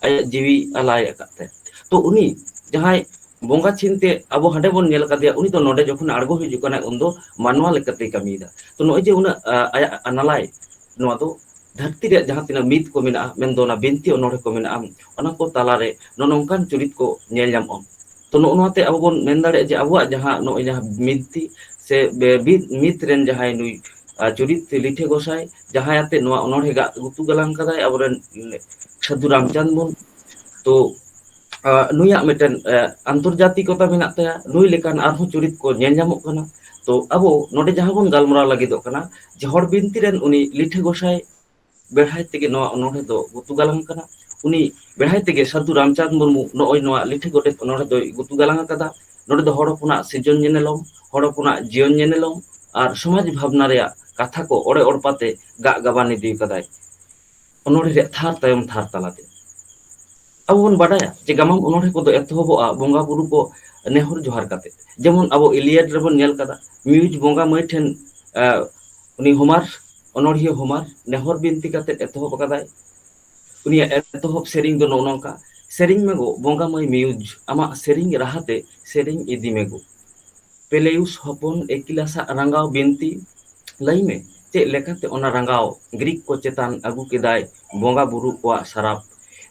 ᱟᱭᱟᱜ ᱡᱤᱣᱤ ᱟᱞᱟᱭ ᱟᱠᱟᱫ ᱛᱟᱭ ᱛᱚ ᱩᱱᱤ ᱡᱟᱦᱟᱸᱭ ᱵᱚᱸᱜᱟ ᱪᱤᱱᱛᱮ ᱟᱵᱚ ᱦᱟᱸᱰᱮ ᱵᱚᱱ ᱧᱮᱞ ᱟᱠᱟᱫᱮᱭᱟ ᱩᱱᱤ ᱫᱚ ᱱᱚᱰᱮ ᱡᱚᱠᱷᱚᱱ ᱟᱬᱜᱚ ᱦᱤᱡᱩᱜ ᱠᱟᱱᱟᱭ ᱩᱱ ᱫᱚ ᱢᱟᱱᱣᱟ ᱞᱮᱠᱟᱛᱮᱭ ᱠᱟᱹᱢᱤᱭᱮᱫᱟ ᱛᱚ ᱱᱚᱜᱼᱚᱭ ᱡᱮ ᱩᱱᱟᱹᱜ ᱟᱭᱟᱜ ᱟᱱᱟᱞᱟᱭ ᱱᱚᱣᱟ ᱫᱚ ᱫᱷᱟᱹᱨᱛᱤ ᱨᱮᱭᱟᱜ ᱡᱟᱦᱟᱸ ᱛᱤᱱᱟᱹᱜ ᱢᱤᱛ ᱠᱚ ᱢᱮᱱᱟᱜᱼᱟ ᱢᱮᱱᱫᱚ ᱚᱱᱟ ᱵᱤᱱᱛᱤ ᱚᱱᱚᱬᱦᱮ ᱠᱚ ᱢᱮᱱᱟᱜᱼᱟ ᱚᱱᱟ ᱠᱚ ᱛᱟᱞᱟᱨᱮ ᱱᱚᱜᱼᱚ ᱱᱚᱝᱠᱟᱱ ᱪᱩᱨᱤᱛ ᱠᱚ ᱧᱮᱞ ᱧᱟᱢᱚᱜᱼᱟ ᱛᱚ ᱱᱚᱜᱼᱚ ᱱᱚᱣᱟᱛᱮ ᱟᱵᱚ ᱵᱚᱱ ᱢᱮᱱ ᱫᱟᱲᱮᱭᱟᱜᱼᱟ ᱡᱮ ᱟᱵᱚᱣᱟᱜ ᱡᱟᱦᱟᱸ ᱱᱚᱜᱼᱚᱭ ᱡᱟᱦᱟᱸ ᱵᱤᱱᱛᱤ ᱥᱮ ᱵᱤᱫ ᱢᱤᱛ ᱨᱮᱱ ᱡᱟᱦᱟᱸᱭ ᱱᱩᱭ ᱪᱩᱨᱤᱛ ᱞᱤᱴᱷᱟᱹ ᱜᱚᱸᱥᱟᱭ ᱡᱟᱦᱟᱸᱭ ᱟᱛᱮᱜ ᱱᱚᱣᱟ ᱚᱱᱚᱬᱦᱮ ᱜᱟᱜ ᱜᱩᱛᱩ ᱜᱟᱞᱟᱝ ᱠᱟᱫᱟᱭ ᱟᱵᱚᱨᱮᱱ ᱥᱟᱹᱫᱷᱩ ᱨᱟᱢᱪᱟᱸᱫᱽ ᱢᱩᱨᱢᱩ ᱛᱚ ᱱᱩᱭᱟᱜ ᱢᱤᱫᱴᱮᱱ ᱟᱱᱛᱚᱨᱡᱟᱛᱤᱠᱚᱛᱟ ᱢᱮᱱᱟᱜ ᱛᱟᱭᱟ ᱱᱩᱭ ᱞᱮᱠᱟᱱ ᱟᱨᱦᱚᱸ ᱪᱩᱨᱤᱛ ᱠᱚ ᱧᱮᱞ ᱧᱟᱢᱚᱜ ᱠᱟᱱᱟ ᱛᱚ ᱟᱵᱚ ᱱᱚᱰᱮ ᱡᱟᱦᱟᱸ ᱵᱚᱱ ᱜᱟᱞᱢᱟᱨᱟᱣ ᱞᱟᱹᱜᱤᱫᱚᱜ ᱠᱟᱱᱟ ᱡᱮ ᱦᱚᱲ ᱵᱤᱱᱛᱤ ᱨᱮᱱ ᱩᱱᱤ ᱞᱤᱴᱷᱟᱹ ᱜᱚᱸᱥᱟᱭ ᱵᱮᱲᱦᱟᱭ ᱛᱮᱜᱮ ᱱᱚᱣᱟ ᱚᱱᱚᱲᱦᱮᱸ ᱫᱚ ᱜᱩᱛᱩ ᱜᱟᱞᱟᱝ ᱠᱟᱱᱟ ᱩᱱᱤ ᱵᱮᱲᱦᱟᱭ ᱛᱮᱜᱮ ᱥᱟᱹᱫᱷᱩ ᱨᱟᱢᱪᱟᱸᱫᱽ ᱢᱩᱨᱢᱩ ᱱᱚᱜᱼᱚᱭ ᱱᱚᱣᱟ ᱞᱤᱴᱷᱤ ᱜᱚᱰᱮᱛ ᱚᱱᱚᱲᱦᱮ ᱫᱚᱭ ᱜᱩᱛᱩ ᱜᱟᱞᱟᱝ ᱟᱠᱟᱫᱟ ᱱᱚᱰᱮ ᱫᱚ ᱦᱚᱲ ᱦᱚᱯᱚᱱᱟᱜ ᱥᱤᱨᱡᱚᱱ ᱧᱮᱱᱮᱞᱚᱢ, ᱦᱚᱲ ᱦᱚᱯᱚᱱᱟᱜ ᱡᱤᱭᱚᱱ ᱧᱮᱱᱮᱞᱚᱢ ᱟᱨ ᱥᱚᱢᱟᱡᱽ ᱵᱷᱟᱵᱽᱱᱟ ᱨᱮᱭᱟᱜ ᱠᱟᱛᱷᱟ ᱠᱚ ᱚᱲᱮ ᱚᱲᱯᱟ ᱛᱮ ᱜᱟᱜ ᱜᱟᱵᱟᱱ ᱤᱫᱤ ᱟᱠᱟᱫᱟᱭ ᱚᱱᱚᱬᱦᱮ ᱨᱮᱭᱟᱜ ᱛᱷᱟᱨ ᱛᱟᱭᱚᱢ ᱛᱷᱟᱨ ᱛᱟᱞᱟᱛᱮ᱾ ᱟᱵᱚ ᱵᱚᱱ ᱵᱟᱰᱟᱭᱟ ᱡᱮ ᱜᱟᱢᱟᱢ ᱚᱱᱚᱬᱦᱮ ᱠᱚᱫᱚ ᱮᱛᱚᱦᱚᱵᱚᱜᱼᱟ ᱵᱚᱸᱜᱟ ᱵᱩᱨᱩ ᱠᱚ ᱱᱮᱦᱚᱨ ᱡᱚᱦᱟᱨ ᱠᱟᱛᱮ᱾ ᱡᱮᱢᱚᱱ ᱟᱵᱚ ᱤᱞᱤᱭᱟᱰ ᱨᱮᱵᱚᱱ ᱧᱮᱞ ᱠᱟᱫᱟ ᱢᱤᱭᱩᱡᱽ ᱵᱚᱸᱜᱟ ᱢᱟᱹᱭ ᱴᱷᱮᱱ ᱮ ᱩᱱᱤ ᱦᱳᱢᱟᱨ ᱚᱱᱚᱬᱦᱤᱭᱟᱹ ᱦᱳᱢᱟᱨ ᱱᱮᱦᱚᱨ ᱵᱤᱱᱛᱤ ᱠᱟᱛᱮ ᱮᱛᱚᱦᱚᱵ ᱟᱠᱟᱫᱟᱭ᱾ ᱩᱱᱤᱭᱟᱜ ᱮᱛᱚᱦᱚᱵ ᱥᱮᱨᱮᱧ ᱫᱚ ᱱᱚᱜᱼᱚ ᱱᱚᱝᱠᱟ ᱥᱮᱨᱮᱧ ᱢᱮ ᱜᱳ ᱵᱚᱸᱜᱟ ᱢᱟᱹᱭ ᱢᱤᱭᱩᱡᱽ ᱟᱢᱟᱜ ᱥᱮᱨᱮᱧ ᱨᱟᱦᱟ ᱛᱮ ᱥᱮᱨᱮᱧ ᱤᱫᱤ ᱢᱮ ᱜᱳ ᱯᱮᱞᱮᱭᱩᱥ ᱦᱚᱯᱚᱱ ᱮᱠᱤᱞᱟ ᱥᱟᱜ ᱨᱟᱸᱜᱟᱣ ᱵᱤᱱᱛᱤ ᱞᱟᱹᱭ ᱢᱮ ᱪᱮᱫ ᱞᱮᱠᱟᱛᱮ ᱚᱱᱟ ᱨᱟᱸᱜᱟᱣ ᱜᱨᱤᱠ ᱠᱚ ᱪᱮᱛᱟᱱ ᱟᱹᱜᱩ ᱠᱮᱫᱟᱭ ᱵᱚᱸᱜᱟ ᱵᱩᱨᱩ ᱠᱚᱣᱟᱜ ᱥᱟᱨᱟᱯ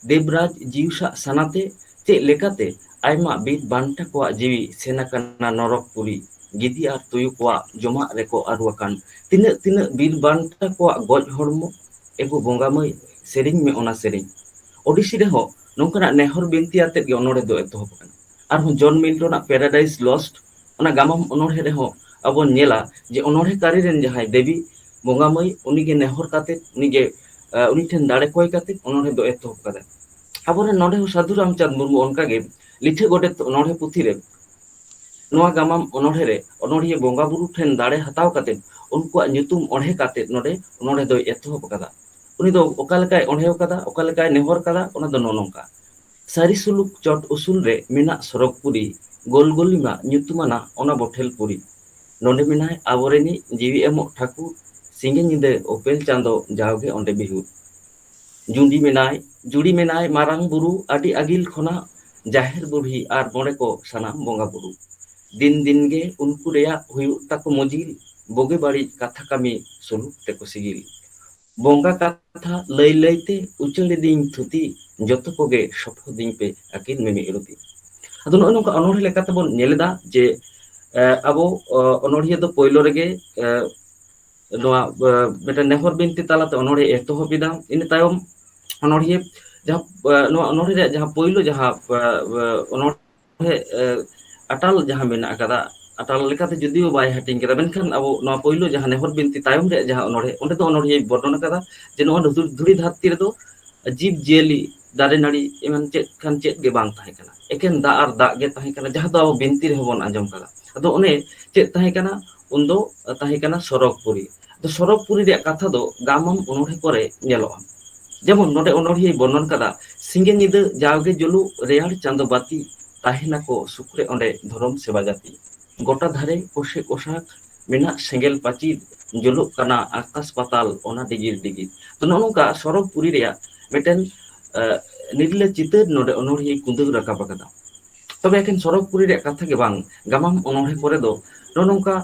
ᱫᱮᱵᱽᱨᱟᱡᱽ ᱡᱤᱣᱥᱟᱜ ᱥᱟᱱᱟᱛᱮ ᱪᱮᱫ ᱞᱮᱠᱟᱛᱮ ᱟᱭᱢᱟ ᱵᱤᱨ ᱵᱟᱱᱴᱟ ᱠᱚᱣᱟᱜ ᱡᱤᱣᱤ ᱥᱮᱱ ᱟᱠᱟᱱᱟ ᱱᱚᱨᱚᱠ ᱯᱩᱨᱤ ᱜᱤᱫᱤ ᱟᱨ ᱛᱩᱭᱩ ᱠᱚᱣᱟᱜ ᱡᱚᱢᱟᱜ ᱨᱮᱠᱚ ᱟᱹᱨᱩ ᱟᱠᱟᱱ ᱛᱤᱱᱟᱹᱜ ᱛᱤᱱᱟᱹᱜ ᱵᱤᱨ ᱵᱟᱱᱴᱟ ᱠᱚᱣᱟᱜ ᱜᱚᱡ ᱦᱚᱲᱢᱚ ᱮᱜᱳ ᱵᱚᱸᱜᱟ ᱢᱟᱹᱭ ᱥᱮᱨᱮᱧ ᱢᱮ ᱚᱱᱟ ᱥᱮᱨᱮᱧ᱾ ᱳᱰᱤᱥᱤ ᱨᱮᱦᱚᱸ ᱱᱚᱝᱠᱟᱱᱟᱜ ᱱᱮᱦᱚᱨ ᱵᱤᱱᱛᱤ ᱟᱛᱮᱫ ᱜᱮ ᱚᱱᱚᱬᱦᱮ ᱫᱚ ᱮᱛᱚᱦᱚᱵ ᱟᱠᱟᱱᱟ᱾ ᱟᱨᱦᱚᱸ ᱡᱚᱱ ᱢᱤᱞᱴᱚᱱ ᱟᱜ ᱯᱮᱨᱟᱰᱟᱭᱤᱥ ᱞᱚᱥᱴ ᱚᱱᱟ ᱜᱟᱢᱟᱢ ᱚᱱᱚᱬᱦᱮ ᱨᱮᱦᱚᱸ ᱟᱵᱚ ᱵᱚᱱ ᱧᱮᱞᱟ ᱡᱮ ᱚᱱᱚᱬᱦᱮ ᱠᱟᱹᱨᱤ ᱨᱮᱱ ᱡᱟᱦᱟᱸᱭ ᱫᱮᱵᱤ ᱵᱚᱸᱜᱟ ᱢᱟᱹᱭ ᱩᱱᱤ ᱜᱮ ᱱᱮᱦᱚᱨ ᱠᱟᱛᱮᱫ ᱩᱱᱤ ᱜᱮ ᱩᱱᱤ ᱴᱷᱮᱱ ᱫᱟᱲᱮ ᱠᱚᱭ ᱠᱟᱛᱮᱫ ᱚᱱᱚᱬᱦᱮ ᱫᱚ ᱮᱛᱚᱦᱚᱵ ᱠᱟᱫᱟᱭ᱾ ᱟᱵᱚ ᱨᱮᱱ ᱱᱚᱰᱮ ᱦᱚᱸ ᱥᱟᱹᱫᱷᱩ ᱨᱟᱢᱪᱟᱸᱫᱽ ᱢᱩᱨᱢᱩ ᱚᱱᱠᱟ ᱜᱮ ᱞᱤᱴᱷᱟᱹ ᱜᱚᱰᱮᱛ ᱚᱱᱚᱬᱦᱮ ᱯᱩᱛᱷᱤ ᱨᱮ ᱱᱚᱣᱟ ᱜᱟᱢᱟᱢ ᱚᱱᱚᱬᱦᱮᱸ ᱨᱮ ᱚᱱᱚᱬᱦᱤᱭᱟᱹ ᱵᱚᱸᱜᱟ ᱵᱩᱨᱩ ᱴᱷᱮᱱ ᱫᱟᱲᱮ ᱦᱟᱛᱟᱣ ᱠᱟᱛᱮ ᱩᱱᱠᱩᱣᱟᱜ ᱧᱩᱛᱩᱢ ᱚᱬᱦᱮᱸ ᱠᱟᱛᱮ ᱱᱚᱰᱮ ᱚᱱᱚᱬᱦᱮᱸ ᱫᱚᱭ ᱮᱛᱚᱦᱚᱵ ᱟᱠᱟᱫᱟ᱾ ᱩᱱᱤ ᱫᱚ ᱚᱠᱟ ᱞᱮᱠᱟᱭ ᱚᱬᱦᱮᱣ ᱠᱟᱫᱟ ᱚᱠᱟ ᱞᱮᱠᱟᱭ ᱱᱮᱦᱚᱨ ᱠᱟᱫᱟ ᱚᱱᱟ ᱫᱚ ᱱᱚᱜ-ᱚ ᱱᱚᱝᱠᱟ᱾ ᱥᱟᱹᱨᱤ ᱥᱩᱞᱩᱠ ᱪᱚᱴ ᱩᱥᱩᱞ ᱨᱮ ᱢᱮᱱᱟᱜ ᱥᱚᱨᱚᱜᱽ ᱯᱩᱨᱤ, ᱜᱳᱞ ᱜᱳᱞᱤᱢᱟ ᱧᱩᱛᱩᱢᱟᱱᱟᱜ ᱚᱱᱟ ᱵᱚᱴᱷᱮᱞ ᱯᱩᱨᱤ᱾ ᱱᱚᱰᱮ ᱢᱮᱱᱟᱭ ᱟᱵᱚᱨᱤᱱᱤᱡ ᱡᱤᱣᱤ ᱮᱢᱚᱜ ᱴᱷᱟᱹᱠᱩᱨ, ᱥᱤᱸᱜᱮ ᱧᱤᱫᱟᱹ ᱳᱯᱮᱞ ᱪᱟᱸᱫᱚ ᱡᱟᱣᱜᱮ ᱚᱸᱰᱮ ᱵᱤᱦᱩᱨ᱾ ᱡᱩᱸᱰᱤ ᱢᱮᱱᱟᱭ ᱡᱩᱲᱤ ᱢᱮᱱᱟᱭ ᱢᱟᱨᱟᱝ ᱵᱩᱨᱩ ᱟᱹᱰᱤ ᱟᱹᱜᱤᱞ ᱠᱷᱚᱱᱟᱜ ᱡᱟᱦᱮᱨ ᱵᱩᱲᱦᱤ ᱟᱨ ᱢᱚᱬᱮ ᱠᱚ ᱥᱟᱱᱟᱢ ᱵᱚᱸᱜᱟ ᱵᱩᱨᱩ ᱫᱤᱱ ᱫᱤᱱ ᱜᱮ ᱩᱱᱠᱩ ᱨᱮᱭᱟᱜ ᱦᱩᱭᱩᱜ ᱛᱟᱠᱚ ᱢᱚᱡᱤᱞ ᱵᱳᱜᱮ ᱵᱟᱹᱲᱤᱡ ᱠᱟᱛᱷᱟ ᱠᱟᱹᱢᱤ ᱥᱩᱞᱩᱠ ᱛᱮᱠᱚ ᱥᱤᱜᱤᱞ ᱵᱚᱸᱜᱟ ᱠᱟᱛᱷᱟ ᱞᱟᱹᱭ ᱞᱟᱹᱭ ᱛᱮ ᱩᱪᱟᱹᱲ ᱮᱫᱤᱧ ᱛᱷᱩᱛᱤ ᱡᱚᱛᱚ ᱠᱚᱜᱮ ᱥᱚᱯᱷᱚ ᱫᱤᱧ ᱯᱮ ᱟᱹᱠᱤᱱ ᱢᱤᱢᱤᱫ ᱨᱩᱛᱤ ᱟᱫᱚ ᱱᱚᱜᱼᱚᱭ ᱱᱚᱝᱠᱟ ᱚᱱᱚᱬᱦᱮ ᱞᱮᱠᱟᱛᱮ ᱵᱚᱱ ᱧᱮᱞ ᱮᱫᱟ ᱡᱮ ᱟᱵᱚ ᱚᱱᱚᱬᱦᱤᱭᱟᱹ ᱫᱚ ᱯᱳᱭᱞᱳ ᱨᱮᱜᱮ ᱱᱚᱣᱟ ᱢᱤᱫᱴᱮᱱ ᱱᱮᱦᱚᱨ ᱵᱤᱱᱛᱤ ᱛᱟᱞᱟᱛᱮ ᱚᱱᱚᱲᱦᱮ ᱮᱛᱚᱦᱚᱵ ᱮᱫᱟ ᱤᱱᱟᱹ ᱛᱟᱭᱚᱢ ᱚᱱᱚᱲᱦᱤᱭᱟᱹ ᱡᱟᱦᱟᱸ ᱱᱚᱣᱟ ᱚᱱᱚᱲᱦᱮ ᱨᱮᱭᱟᱜ ᱡᱟᱦᱟᱸ ᱯᱳᱭᱞᱳ ᱡᱟᱦᱟᱸ ᱚᱱᱚᱲ ᱦᱮ ᱟᱴᱟᱞ ᱡᱟᱦᱟᱸ ᱢᱮᱱᱟᱜ ᱟᱠᱟᱫᱟ ᱟᱴᱟᱞ ᱞᱮᱠᱟᱛᱮ ᱡᱩᱫᱤᱭᱳ ᱵᱟᱭ ᱦᱟᱹᱴᱤᱧ ᱠᱟᱫᱟ ᱢᱮᱱᱠᱷᱟᱱ ᱟᱵᱚ ᱱᱚᱣᱟ ᱯᱳᱭᱞᱳ ᱡᱟᱦᱟᱸ ᱱᱮᱦᱚᱨ ᱵᱤᱱᱛᱤ ᱛᱟᱭᱚᱢ ᱨᱮᱭᱟᱜ ᱡᱟᱦᱟᱸ ᱚᱱᱚᱲᱦᱮ ᱚᱸᱰᱮ ᱫᱚ ᱚᱱᱚᱲᱦᱤᱭᱟᱹᱭ ᱵᱚᱨᱱᱚᱱ ᱟᱠᱟᱫᱟ ᱡᱮ ᱱᱚᱣᱟ ᱫᱷᱩᱲᱤ ᱫᱷᱟᱹᱨᱛᱤ ᱨᱮᱫᱚ ᱡᱤᱵᱽ ᱡᱤᱭᱟᱹᱞᱤ ᱫᱟᱨᱮ ᱱᱟᱹᱲᱤ ᱮᱢᱟᱱ ᱪᱮᱫ ᱠᱷᱟᱱ ᱪᱮᱫ ᱜᱮ ᱵᱟᱝ ᱛᱟᱦᱮᱸ ᱠᱟᱱᱟ ᱮᱠᱮᱱ ᱫᱟᱜ ᱟᱨ ᱫᱟᱜ ᱜᱮ ᱛᱟᱦᱮᱸ ᱠᱟᱱᱟ ᱡᱟᱦᱟᱸ ᱫᱚ ᱟᱵᱚ ᱵᱤᱱᱛᱤ ᱨᱮᱦᱚᱸ ᱵᱚᱱ ᱟᱸᱡᱚᱢ ᱠᱟᱫᱟ ᱟᱫᱚ ᱚᱱᱮ ᱪᱮᱫ ᱛᱟᱦᱮᱸ ᱠᱟᱱᱟ ᱩᱱ ᱫᱚ ᱛᱟᱦᱮᱸ ᱠᱟᱱᱟ ᱥᱚᱨᱚᱜᱽ ᱯᱩᱨᱤ᱾ ᱟᱫᱚ ᱥᱚᱨᱚᱜᱽ ᱯᱩᱨᱤ ᱨᱮᱭᱟᱜ ᱠᱟᱛᱷᱟ ᱫᱚ ᱜᱟᱢᱟᱢ ᱚᱱᱚᱬᱦᱮᱸ ᱠᱚᱨᱮ ᱧᱮᱞᱚᱜᱼᱟ᱾ ᱡᱮᱢᱚᱱ ᱱᱚᱰᱮ ᱚᱱᱚᱬᱦᱤᱭᱟᱹᱭ ᱵᱚᱨᱱᱚᱱ ᱠᱟᱫᱟ ᱥᱤᱸᱜᱮ ᱧᱤᱫᱟᱹ ᱡᱟᱣᱜᱮ ᱡᱩᱞᱩᱜ ᱨᱮᱭᱟᱲ ᱪᱟᱸᱫᱚ ᱵᱟᱹᱛᱤ ᱛᱟᱦᱮᱸᱱᱟᱠᱚ ᱥᱩᱠᱨᱮ ᱚᱸᱰᱮ ᱫᱷᱚᱨᱚᱢ ᱥᱮᱵᱟ ᱡᱟᱹᱛᱤ᱾ ᱜᱚᱴᱟ ᱫᱷᱟᱨᱮ ᱠᱚᱥᱮ ᱠᱚᱥᱟᱠ ᱢᱮᱱᱟᱜ ᱥᱮᱸᱜᱮᱞ ᱯᱟᱹᱪᱤᱨ ᱡᱩᱞᱩᱜ ᱠᱟᱱᱟ ᱟᱠᱟᱥ ᱯᱟᱛᱟᱞ ᱚᱱᱟ ᱰᱤᱜᱤᱨ ᱰᱤᱜᱤᱨ᱾ ᱛᱚ ᱱᱚᱜᱼᱚ ᱱᱚᱝᱠᱟ ᱥᱚᱨᱚᱜᱽ ᱯᱩᱨᱤ ᱨᱮᱭᱟᱜ ᱢᱤᱫᱴᱮᱱ ᱱᱤᱨᱞᱟᱹ ᱪᱤᱛᱟᱹᱨ ᱱᱚᱰᱮ ᱚᱱᱚᱬᱦᱤᱭᱟᱹᱭ ᱠᱩᱸᱫᱟᱹᱣ ᱨᱟᱠᱟᱵ ᱟᱠᱟᱫᱟ᱾ ᱛᱚᱵᱮ ᱮᱠᱷᱮᱱ ᱥᱚᱨᱚᱜᱽ ᱯᱩᱨᱤ ᱨᱮᱭᱟᱜ ᱠᱟᱛᱷᱟ ᱜᱮ ᱵᱟᱝ ᱜᱟᱢᱟᱢ ᱚᱱᱚᱬᱦᱮᱸ ᱠᱚᱨᱮ ᱫᱚ ᱱᱚᱜᱼᱚ ᱱᱚᱝᱠᱟ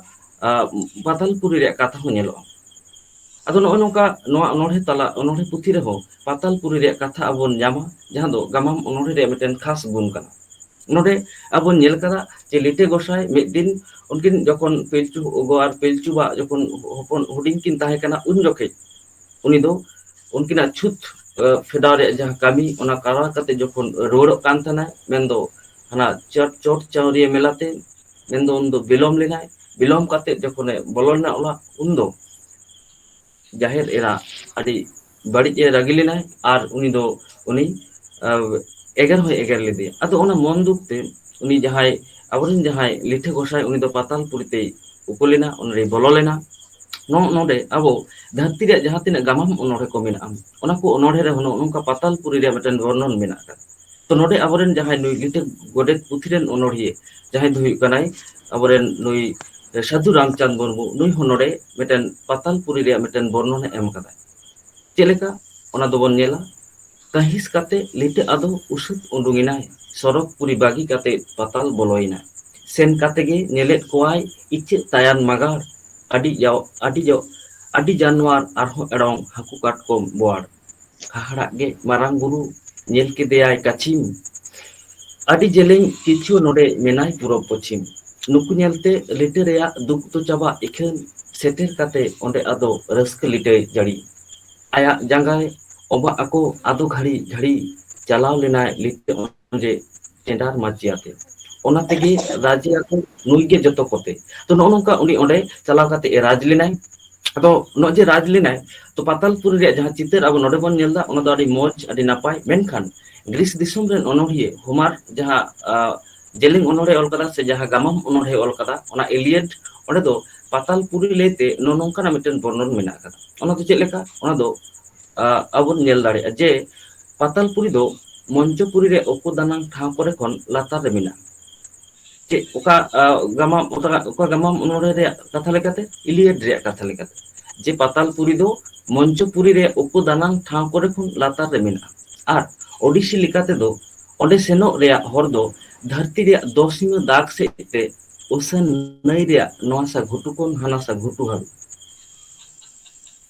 ᱯᱟᱛᱟᱞ ᱯᱩᱨᱤ ᱨᱮᱭᱟᱜ ᱠᱟᱛᱷᱟ ᱦᱚᱸ ᱧᱮᱞᱚᱜᱼᱟ ᱟᱫᱚ ᱱᱚᱜᱼᱚᱭ ᱱᱚᱝᱠᱟ ᱱᱚᱣᱟ ᱚᱱᱚᱬᱦᱮᱸ ᱛᱟᱞᱟ ᱚᱱᱚᱬᱦᱮᱸ ᱯᱩᱛᱷᱤ ᱨᱮᱦᱚᱸ ᱯᱟᱛᱟᱞ ᱯᱩᱨᱤ ᱨᱮᱭᱟᱜ ᱠᱟᱛᱷᱟ ᱟᱵᱚ ᱵᱚᱱ ᱧᱟᱢᱟ ᱡᱟᱦᱟᱸ ᱫᱚ ᱜᱟᱢᱟᱢ ᱚᱱᱚᱬᱦᱮ ᱨᱮᱭᱟᱜ ᱢᱤᱫᱴᱮᱱ ᱠᱷᱟᱥ ᱜᱩᱱ ᱠᱟᱱᱟ ᱱᱚᱰᱮ ᱟᱵᱚ ᱵᱚᱱ ᱧᱮᱞ ᱠᱟᱫᱟ ᱡᱮ ᱞᱤᱴᱟᱹ ᱜᱚᱸᱥᱟᱭ ᱢᱤᱫ ᱫᱤᱱ ᱩᱱᱠᱤᱱ ᱡᱚᱠᱷᱚᱱ ᱯᱤᱞᱪᱩ ᱜᱚ ᱟᱨ ᱯᱤᱞᱪᱩ ᱵᱟ ᱡᱚᱠᱷᱚᱱ ᱦᱚᱯᱚᱱ ᱦᱩᱰᱤᱧ ᱠᱤᱱ ᱛᱟᱦᱮᱸ ᱠᱟᱱᱟ ᱩᱱ ᱡᱚᱠᱷᱮᱡ ᱩᱱᱤ ᱫᱚ ᱩᱱᱠᱤᱱᱟᱜ ᱪᱷᱩᱛ ᱯᱷᱮᱰᱟᱣ ᱨᱮᱭᱟᱜ ᱡᱟᱦᱟᱸ ᱠᱟᱹᱢᱤ ᱚᱱᱟ ᱠᱟᱨᱟᱣ ᱠᱟᱛᱮ ᱡᱚᱠᱷᱚᱱ ᱨᱩᱣᱟᱹᱲᱚᱜ ᱠᱟᱱ ᱛᱟᱦᱮᱱᱟᱭ ᱢᱮᱱᱫᱚ ᱦᱟᱱᱟ ᱪᱚᱴ ᱪᱚᱴ ᱪᱟᱣᱨᱤᱭᱟᱹ ᱢᱮᱞᱟᱛᱮ ᱢᱮᱱᱫᱚ ᱩᱱᱫᱚ ᱵᱤᱞᱚᱢ ᱞᱮᱱᱟᱭ ᱵᱤᱞᱚᱢ ᱠᱟᱛᱮ ᱡᱚᱠᱷᱚᱱᱮ ᱵᱚᱞᱚᱱᱟ ᱚᱲᱟᱜ ᱩᱱᱫᱚ ᱡᱟᱦᱮᱨ ᱮᱨᱟ ᱟᱹᱰᱤ ᱵᱟᱹᱲᱤᱡ ᱮ ᱨᱟᱹᱜᱤ ᱞᱮᱱᱟᱭ ᱟᱨ ᱩᱱᱤ ᱫᱚ ᱩᱱᱤ ᱮᱜᱮᱨ ᱦᱚᱸᱭ ᱮᱜᱮᱨ ᱞᱮᱫᱮᱭᱟ ᱟᱫᱚ ᱚᱱᱟ ᱢᱚᱱ ᱫᱩᱠ ᱛᱮ ᱩᱱᱤ ᱡᱟᱦᱟᱸᱭ ᱟᱵᱚᱨᱮᱱ ᱡᱟᱦᱟᱸᱭ ᱞᱤᱴᱷᱟᱹ ᱜᱚᱸᱥᱟᱭ ᱩᱱᱤ ᱫᱚ ᱯᱟᱛᱟᱞ ᱯᱩᱨᱤ ᱛᱮᱭ ᱩᱠᱩ ᱞᱮᱱᱟ ᱚᱱᱟ ᱨᱮ ᱵᱚᱞᱚ ᱞᱮᱱᱟ ᱱᱚᱜ ᱱᱚᱰᱮ ᱟᱵᱚ ᱫᱷᱟᱹᱨᱛᱤ ᱨᱮᱭᱟᱜ ᱡᱟᱦᱟᱸ ᱛᱤᱱᱟᱹᱜ ᱜᱟᱢᱟᱢ ᱚᱱᱚᱬᱦᱮ ᱠᱚ ᱢᱮᱱᱟᱜᱼᱟ ᱚᱱᱟ ᱠᱚ ᱚᱱᱚᱬᱦᱮ ᱨᱮᱦᱚᱸ ᱱᱚᱜᱼᱚ ᱱᱚᱝᱠᱟ ᱯᱟᱛᱟᱞ ᱯᱩᱨᱤ ᱨᱮᱭᱟᱜ ᱢᱤᱫᱴᱮᱱ ᱵᱚᱨᱱᱚᱱ ᱢᱮᱱᱟᱜ ᱟᱠᱟᱫᱟ ᱛᱚ ᱱᱚᱰᱮ ᱟᱵᱚᱨᱮᱱ ᱡᱟᱦᱟᱸᱭ ᱱᱩᱭ ᱞᱤᱴᱟᱹ ᱜᱚᱰᱮᱛ ᱯᱩᱛᱷᱤ ᱨᱮᱱ ᱚᱱᱚᱬᱦᱤᱭᱟᱹ ᱡᱟᱦᱟᱸᱭ ᱫᱚ ᱦᱩᱭᱩᱜ ᱠᱟᱱᱟᱭ ᱟᱵᱚᱨᱮᱱ ᱱᱩᱭ ᱥᱟᱫᱷᱩ ᱨᱟᱢᱪᱟᱸᱫᱽ ᱢᱩᱨᱢᱩ ᱱᱩᱭ ᱦᱚᱸ ᱱᱚᱰᱮ ᱢᱤᱫᱴᱮᱱ ᱯᱟᱛᱟᱞ ᱯᱩᱨᱤ ᱨᱮᱭᱟᱜ ᱢᱤᱫᱴᱮᱱ ᱵᱚᱨᱱᱚᱱᱮ ᱮᱢ ᱟᱠᱟᱫᱟ ᱪᱮᱫ ᱞᱮᱠᱟ ᱚᱱᱟ ᱫᱚᱵᱚᱱ ᱧᱮᱞᱟ ᱠᱟᱺᱦᱤᱥ ᱠᱟᱛᱮ ᱞᱤᱴᱟᱹ ᱟᱫᱚ ᱩᱥᱟᱹᱫ ᱩᱰᱩᱝ ᱮᱱᱟᱭ ᱥᱚᱨᱚᱜᱽ ᱯᱩᱨᱤ ᱵᱟᱹᱜᱤ ᱠᱟᱛᱮ ᱯᱟᱛᱟᱞ ᱵᱚᱞᱚ ᱮᱱᱟ᱾ ᱥᱮᱱ ᱠᱟᱛᱮ ᱜᱮ ᱧᱮᱞᱮᱫ ᱠᱚᱣᱟᱭ ᱤᱪᱟᱹᱜ ᱛᱟᱭᱟᱱ ᱢᱟᱜᱟᱲ ᱟᱹᱰᱤ ᱡᱟᱣ ᱟᱹᱰᱤ ᱡᱟᱣ ᱟᱹᱰᱤ ᱡᱟᱱᱣᱟᱨ ᱟᱨᱦᱚᱸ ᱮᱲᱚᱝ ᱦᱟᱹᱠᱩ ᱠᱟᱴᱠᱚᱢ ᱵᱚᱣᱟᱲ᱾ ᱦᱟᱦᱟᱲᱟᱜ ᱜᱮ ᱢᱟᱨᱟᱝ ᱵᱩᱨᱩ ᱧᱮᱞ ᱠᱮᱫᱮᱭᱟᱭ ᱠᱟᱪᱷᱤᱢ ᱟᱹᱰᱤ ᱡᱮᱞᱮᱧ ᱠᱤᱪᱷᱩ ᱱᱚᱰᱮ ᱢᱮᱱᱟᱭ ᱯᱩᱨᱚᱵᱽ ᱯᱚᱪᱷᱤᱢ᱾ ᱱᱩᱠᱩ ᱧᱮᱞ ᱛᱮ ᱞᱤᱴᱟᱹ ᱨᱮᱭᱟᱜ ᱫᱩᱠ ᱫᱚ ᱪᱟᱵᱟᱜ ᱤᱠᱷᱟᱹᱱ ᱥᱮᱴᱮᱨ ᱠᱟᱛᱮ ᱚᱸᱰᱮ ᱟᱫᱚ ᱨᱟᱹᱥᱠᱟᱹ ᱞᱤᱴᱟᱹᱭ ᱡᱟᱹᱲᱤ᱾ ᱟᱭᱟᱜ ᱡᱟᱸᱜᱟᱭ ᱚᱵᱟᱜ ᱟᱠᱚ ᱟᱫᱚ ᱜᱷᱟᱹᱲᱤ ᱜᱷᱟᱹᱲᱤ ᱪᱟᱞᱟᱣ ᱞᱮᱱᱟᱭ ᱞᱤᱴᱟᱹ ᱚᱱᱮ ᱪᱮᱸᱰᱟᱨ ᱢᱟᱹᱪᱤ ᱟᱛᱮ ᱚᱱᱟ ᱛᱮᱜᱮ ᱟᱪᱪᱷᱟ ᱨᱟᱡᱽ ᱮᱭᱟᱭ ᱠᱚ ᱱᱩᱭ ᱜᱮ ᱡᱚᱛᱚ ᱠᱚᱛᱮ ᱛᱚ ᱱᱚᱜᱼᱚ ᱱᱚᱝᱠᱟ ᱩᱱᱤ ᱚᱸᱰᱮ ᱪᱟᱞᱟᱣ ᱠᱟᱛᱮ ᱮ ᱨᱟᱡᱽ ᱞᱮᱱᱟᱭ ᱟᱫᱚ ᱱᱚᱜᱼᱚᱭ ᱡᱮ ᱨᱟᱡᱽ ᱞᱮᱱᱟᱭ ᱛᱚ ᱯᱟᱛᱟᱞᱯᱩᱨᱤ ᱨᱮᱭᱟᱜ ᱡᱟᱦᱟᱸ ᱪᱤᱛᱟᱹᱨ ᱟᱵᱚ ᱱᱚᱰᱮ ᱵᱚᱱ ᱧᱮᱞ ᱮᱫᱟ ᱚᱱᱟ ᱫᱚ ᱟᱹᱰᱤ ᱢᱚᱸᱡᱽ ᱟᱹᱰᱤ ᱱᱟᱯᱟᱭ ᱢᱮᱱᱠᱷᱟᱱ ᱜᱨᱤᱥ ᱫᱤᱥᱚᱢ ᱨᱮᱱ ᱚᱱᱚᱲᱦᱤᱭᱟᱹ ᱦᱩᱢᱟᱨ ᱡᱟᱦᱟᱸ ᱡᱮᱞᱮᱧ ᱚᱱᱚᱲᱦᱮ ᱚᱞ ᱟᱠᱟᱫᱟ ᱥᱮ ᱡᱟᱦᱟᱸ ᱜᱟᱢᱟᱢ ᱚᱱᱚᱲᱦᱮ ᱚᱞ ᱟᱠᱟᱫᱟ ᱚᱱᱟ ᱮᱞᱤᱭᱟᱱ ᱚᱸᱰᱮ ᱫᱚ ᱯᱟᱛᱟᱞ ᱯᱩᱨᱤ ᱞᱟᱹᱭᱛᱮ ᱱᱚᱜᱼᱚ ᱱᱚᱝᱠᱟᱱᱟᱜ ᱢᱤᱫᱴᱮᱱ ᱵᱚᱨᱱᱚᱱ ᱢᱮᱱᱟᱜ ᱟᱠᱟᱫᱟ ᱚᱱᱟ ᱫᱚ ᱪᱮᱫ ᱞᱮᱠᱟ ᱚᱱᱟ ᱫᱚ ᱟᱵ ᱵᱚᱱ ᱧᱮᱞ ᱫᱟᱲᱮᱭᱟᱜᱼᱟ ᱡᱮ ᱯᱟᱛᱟᱞᱯᱩᱨᱤ ᱫᱚ ᱢᱚᱧᱪᱚᱯᱩᱨᱤ ᱨᱮ ᱩᱠᱩ ᱫᱟᱱᱟᱝ ᱴᱷᱟᱶ ᱠᱚᱨᱮ ᱠᱷᱚᱱ ᱞᱟᱛᱟᱨ ᱨᱮ ᱢᱮᱱᱟᱜᱼᱟ ᱪᱮᱫ ᱚᱠᱟ ᱜᱟᱢᱟᱢ ᱚᱠᱟ ᱜᱟᱢᱟᱢ ᱚᱱᱚᱲᱦᱮ ᱨᱮᱭᱟᱜ ᱠᱟᱛᱷᱟ ᱞᱮᱠᱟᱛᱮ ᱤᱞᱤᱭᱟᱰ ᱨᱮᱭᱟᱜ ᱠᱟᱛᱷᱟ ᱞᱮᱠᱟᱛᱮ ᱡᱮ ᱯᱟᱛᱟᱞᱯᱩᱨᱤ ᱫᱚ ᱢᱚᱧᱪᱚᱯᱩᱨᱤ ᱨᱮ ᱩᱠᱩ ᱫᱟᱱᱟᱝ ᱴᱷᱟᱶ ᱠᱚᱨᱮ ᱠᱷᱚᱱ ᱞᱟᱛᱟᱨ ᱨᱮ ᱢᱮᱱᱟᱜᱼᱟ ᱟᱨ ᱳᱰᱤᱥᱤ ᱞᱮᱠᱟᱛᱮᱫᱚ ᱚᱸᱰᱮ ᱥᱮᱱᱚᱜ ᱨᱮᱭᱟᱜ ᱦᱚᱨ ᱫᱚ ᱫᱷᱟᱹᱨᱛᱤ ᱨᱮᱭᱟᱜ ᱫᱚᱥᱤᱢᱟᱹ ᱫᱟᱜᱽ ᱥᱮᱫ ᱛᱮ ᱩᱥᱟᱹᱱ ᱱᱟᱹᱭ ᱨᱮᱭᱟᱜ ᱱᱚᱣᱟᱥᱟ ᱜᱷᱩᱴᱩ ᱠᱷᱚᱱ ᱦᱟᱱᱟᱥᱟ ᱜᱷᱩᱴᱩ ᱦᱟᱹᱵᱤᱡ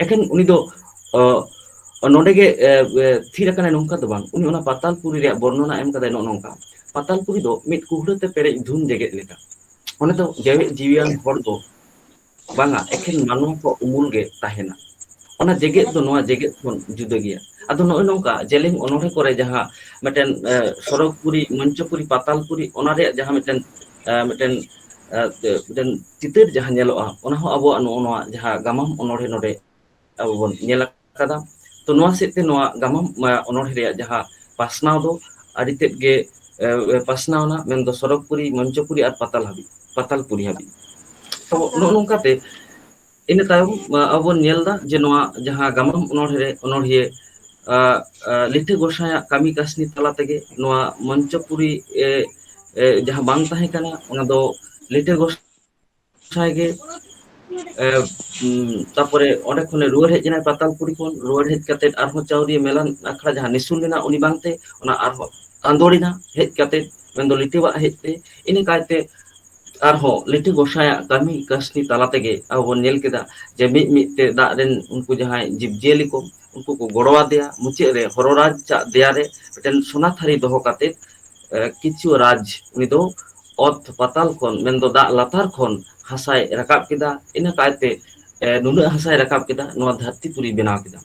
ᱮᱠᱷᱮᱱ ᱩᱱᱤ ᱫᱚ ᱚ ᱱᱚᱰᱮ ᱜᱮ ᱛᱷᱤᱨ ᱟᱠᱟᱱᱟᱭ ᱱᱚᱝᱠᱟ ᱫᱚ ᱵᱟᱝ ᱩᱱᱤ ᱚᱱᱟ ᱯᱟᱛᱟᱞᱯᱩᱨᱤ ᱨᱮᱭᱟᱜ ᱵᱚᱨᱱᱚᱱᱟ ᱮᱢ ᱟᱠᱟᱫᱟᱭ ᱱᱚᱜᱼᱚ ᱱᱚᱝᱠᱟ ᱯᱟᱛᱟᱞᱯᱩᱨᱤ ᱫᱚ ᱢᱤᱫ ᱠᱩᱦᱲᱟᱹ ᱛᱮ ᱯᱮᱨᱮᱡ ᱫᱷᱩᱢ ᱡᱮᱜᱮᱫ ᱞᱮᱠᱟ ᱚᱸᱰᱮ ᱫᱚ ᱡᱮᱣᱮᱫ ᱡᱤᱣᱤᱭᱟᱱ ᱦᱚᱲ ᱫᱚ ᱵᱟᱝᱟ ᱮᱠᱷᱮᱱ ᱢᱟᱱᱣᱟ ᱠᱚ ᱩᱢᱩᱞ ᱜᱮ ᱛᱟᱦᱮᱱᱟ ᱚᱱᱟ ᱡᱮᱜᱮᱛ ᱫᱚ ᱱᱚᱣᱟ ᱡᱮᱜᱮᱛ ᱠᱷᱚᱱ ᱡᱩᱫᱟᱹ ᱜᱮᱭᱟ ᱟᱫᱚ ᱱᱚᱜᱼᱚᱭ ᱱᱚᱝᱠᱟ ᱡᱮᱞᱮᱧ ᱚᱱᱚᱲᱦᱮᱸ ᱠᱚᱨᱮ ᱡᱟᱦᱟᱸ ᱢᱤᱫᱴᱮᱱ ᱥᱚᱨᱚᱜᱽ ᱯᱩᱨᱤ ᱢᱚᱧᱪᱚ ᱯᱩᱨᱤ ᱯᱟᱛᱟᱞ ᱯᱩᱨᱤ ᱚᱱᱟ ᱨᱮᱭᱟᱜ ᱡᱟᱦᱟᱸ ᱢᱤᱫᱴᱮᱱ ᱢᱤᱫᱴᱮᱱ ᱢᱤᱫᱴᱮᱱ ᱪᱤᱛᱟᱹᱨ ᱡᱟᱦᱟᱸ ᱧᱮᱞᱚᱜᱼᱟ ᱚᱱᱟ ᱦᱚᱸ ᱟᱵᱚᱣᱟᱜ ᱱᱚᱜᱼᱚ ᱱᱚᱣᱟ ᱡᱟᱦᱟᱸ ᱜᱟᱢᱟᱢ ᱚᱱᱚᱲᱦᱮᱸ ᱱᱚᱰᱮ ᱟᱵᱚ ᱵᱚᱱ ᱧᱮᱞ ᱠᱟᱫᱟ ᱛᱚ ᱱᱚᱣᱟ ᱥᱮᱫ ᱛᱮ ᱱᱚᱣᱟ ᱜᱟᱢᱟᱢ ᱚᱱᱚᱬᱦᱮ ᱨᱮᱭᱟᱜ ᱡᱟᱦᱟᱸ ᱯᱟᱥᱱᱟᱣ ᱫᱚ ᱟᱹᱰᱤ ᱛᱮᱫ ᱜᱮ ᱯᱟᱥᱱᱟᱣ ᱮᱱᱟ ᱢᱮᱱᱫᱚ ᱥᱚᱨᱚᱜᱽ ᱯᱩᱨᱤ ᱢᱚᱧᱪᱚ ᱯᱩᱨᱤ ᱟᱨ ᱯᱟᱛᱟᱞ ᱦᱟᱹᱵᱤᱡ ᱯᱟᱛᱟᱞ ᱯᱩᱨᱤ ᱦᱟᱹᱵᱤᱡ ᱛᱚ ᱟᱪᱪᱷᱟ ᱱᱚᱜᱼᱚ ᱱᱚᱝᱠᱟ ᱛᱮ ᱤᱱᱟᱹ ᱛᱟᱭᱚᱢ ᱟᱵᱚ ᱵᱚᱱ ᱧᱮᱞ ᱮᱫᱟ ᱡᱮ ᱱᱚᱣᱟ ᱡᱟᱦᱟᱸ ᱜᱟᱢᱟᱢ ᱚᱱᱚᱬᱦᱮ ᱨᱮ ᱚᱱᱚᱬᱦᱤᱭᱟᱹ ᱞᱤᱴᱟᱹ ᱜᱚᱸᱥᱟᱭ ᱟᱜ ᱠᱟᱹᱢᱤ ᱠᱟᱹᱥᱱᱤ ᱛᱟᱞᱟ ᱛᱮᱜᱮ ᱱᱚᱣᱟ ᱢᱚᱧᱪᱚᱯᱩᱨᱤ ᱮ ᱡᱟᱦᱟᱸ ᱵᱟᱝ ᱛᱟᱦᱮᱸ ᱠᱟᱱᱟ ᱚᱱᱟ ᱫᱚ ᱞᱤᱴᱟᱹ ᱜᱚᱸᱥᱟᱭ ᱡᱟᱦᱟᱭ ᱜᱮ ᱮ ᱛᱟᱯᱚᱨᱮ ᱚᱸᱰᱮ ᱠᱷᱚᱱᱮ ᱨᱩᱣᱟᱹᱲ ᱦᱮᱡ ᱮᱱᱟᱭ ᱯᱟᱛᱟᱞᱯᱩᱨᱤ ᱠᱷᱚᱱ ᱨᱩᱣᱟᱹᱲ ᱦᱮᱡ ᱠᱟᱛᱮᱜ ᱟᱨᱦᱚᱸ ᱪᱟᱣᱨᱤᱭᱟᱹ ᱢᱮᱞᱟ ᱟᱠᱷᱲᱟ ᱡᱟᱦᱟᱸ ᱱᱤᱥᱩᱱ ᱞᱮᱱᱟ ᱩᱱᱤ ᱵᱟᱝᱛᱮ ᱚᱱᱟ ᱟᱨᱦᱚᱸ ᱟᱸᱫᱳᱲ ᱮᱱᱟ ᱦᱮᱡ ᱠᱟᱛᱮ ᱢᱮᱱᱫᱚ ᱞᱤᱴᱟᱹᱣᱟᱜ ᱦᱮᱡ ᱛᱮ ᱤᱱᱟᱹ ᱠᱟᱭᱛᱮ ᱟᱨᱦᱚᱸ ᱞᱤᱴᱟᱹ ᱜᱚᱸᱥᱟᱭᱟᱜ ᱠᱟᱹᱢᱤ ᱠᱟᱹᱥᱱᱤ ᱛᱟᱞᱟ ᱛᱮᱜᱮ ᱟᱵᱚ ᱵᱚᱱ ᱧᱮᱞ ᱠᱮᱫᱟ ᱡᱮ ᱢᱤᱫ ᱢᱤᱫ ᱛᱮ ᱫᱟᱜ ᱨᱮᱱ ᱩᱱᱠᱩ ᱡᱟᱦᱟᱸᱭ ᱡᱤᱵᱽ ᱡᱤᱭᱟᱹᱞᱤ ᱠᱚ ᱩᱱᱠᱩ ᱠᱚ ᱜᱚᱲᱚ ᱟᱫᱮᱭᱟ ᱢᱩᱪᱟᱹᱫ ᱨᱮ ᱦᱚᱨᱚ ᱨᱟᱡᱽ ᱟᱜ ᱫᱮᱭᱟ ᱨᱮ ᱢᱤᱫᱴᱮᱱ ᱥᱚᱱᱟ ᱛᱷᱟᱹᱨᱤ ᱫᱚᱦᱚ ᱠᱟᱛᱮᱫ ᱠᱤᱪᱷᱩ ᱨᱟᱡᱽ ᱩᱱᱤ ᱫᱚ ᱚᱛ ᱯᱟᱛᱟᱞ ᱠᱷᱚᱱ ᱢᱮᱱᱫᱚ ᱫᱟᱜ ᱞᱟᱛᱟᱨ ᱠᱷᱚᱱ ᱦᱟᱥᱟᱭ ᱨᱟᱠᱟᱵ ᱠᱮᱫᱟ ᱤᱱᱟᱹ ᱠᱟᱭᱛᱮ ᱱᱩᱱᱟᱹᱜ ᱦᱟᱥᱟᱭ ᱨᱟᱠᱟᱵ ᱠᱮᱫᱟ ᱱᱚᱣᱟ ᱫᱷᱟᱹᱨᱛᱤ ᱯᱩᱨᱤ ᱵᱮᱱᱟᱣ ᱠᱮᱫᱟ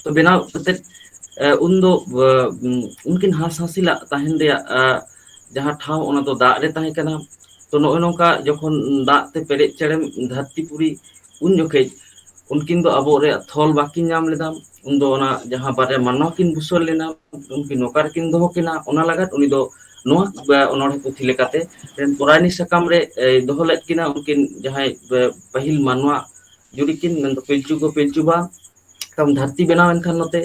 ᱛᱚ ᱵᱮᱱᱟᱣ ᱠᱟᱛᱮᱫ ᱩᱱ ᱫᱚ ᱩᱱᱠᱤᱱ ᱦᱟᱸᱥ ᱦᱟᱸᱥᱤᱞᱟᱜ ᱛᱟᱦᱮᱱ ᱨᱮᱭᱟᱜ ᱡᱟᱦᱟᱸ ᱴᱷᱟᱶ ᱚᱱᱟ ᱫᱚ ᱫᱟᱜ ᱨᱮ ᱛᱟᱦᱮᱸ ᱠᱟᱱᱟ ᱛᱚ ᱱᱚᱜᱼᱚᱭ ᱱᱚᱝᱠᱟ ᱡᱚᱠᱷᱚᱱ ᱫᱟᱜ ᱛᱮ ᱯᱮᱨᱮᱡ ᱪᱮᱨᱮᱡ ᱫᱷᱟᱹᱨᱛᱤ ᱯᱩᱨᱤ ᱩᱱ ᱡᱚᱠᱷᱮᱡ ᱩᱱᱠᱤᱱ ᱫᱚ ᱟᱵᱚ ᱨᱮᱭᱟᱜ ᱛᱷᱚᱞ ᱵᱟᱠᱤᱱ ᱧᱟᱢ ᱞᱮᱫᱟ ᱩᱱᱫᱚ ᱚᱱᱟ ᱡᱟᱦᱟᱸ ᱵᱟᱨᱭᱟ ᱢᱟᱱᱱᱚ ᱠᱤᱱ ᱵᱩᱥᱟᱹᱲ ᱞᱮᱱᱟ ᱩᱱᱠᱤᱱ ᱱᱚᱠᱟ ᱨᱮᱠᱤᱱ ᱫᱚᱦᱚ ᱠᱤᱱᱟ ᱚᱱᱟ ᱞᱟᱜᱟᱫ ᱩᱱᱤ ᱫᱚ ᱱᱚᱣᱟ ᱚᱱᱚᱬᱦᱮ ᱯᱩᱛᱷᱤ ᱞᱮᱠᱟᱛᱮ ᱯᱚᱨᱟᱭᱱᱤ ᱥᱟᱠᱟᱢ ᱨᱮ ᱫᱚᱦᱚ ᱞᱮᱫ ᱠᱤᱱᱟ ᱩᱱᱠᱤᱱ ᱡᱟᱦᱟᱸᱭ ᱯᱟᱹᱦᱤᱞ ᱢᱟᱱᱣᱟ ᱡᱩᱨᱤ ᱠᱤᱱ ᱢᱮᱱᱫᱚ ᱯᱤᱞᱪᱩ ᱠᱚ ᱯᱤᱞᱪᱩ ᱵᱟᱝ ᱫᱷᱟᱹᱨᱛᱤ ᱵᱮᱱᱟᱣ ᱮᱱ ᱠᱷᱟᱱ ᱱᱚᱛᱮ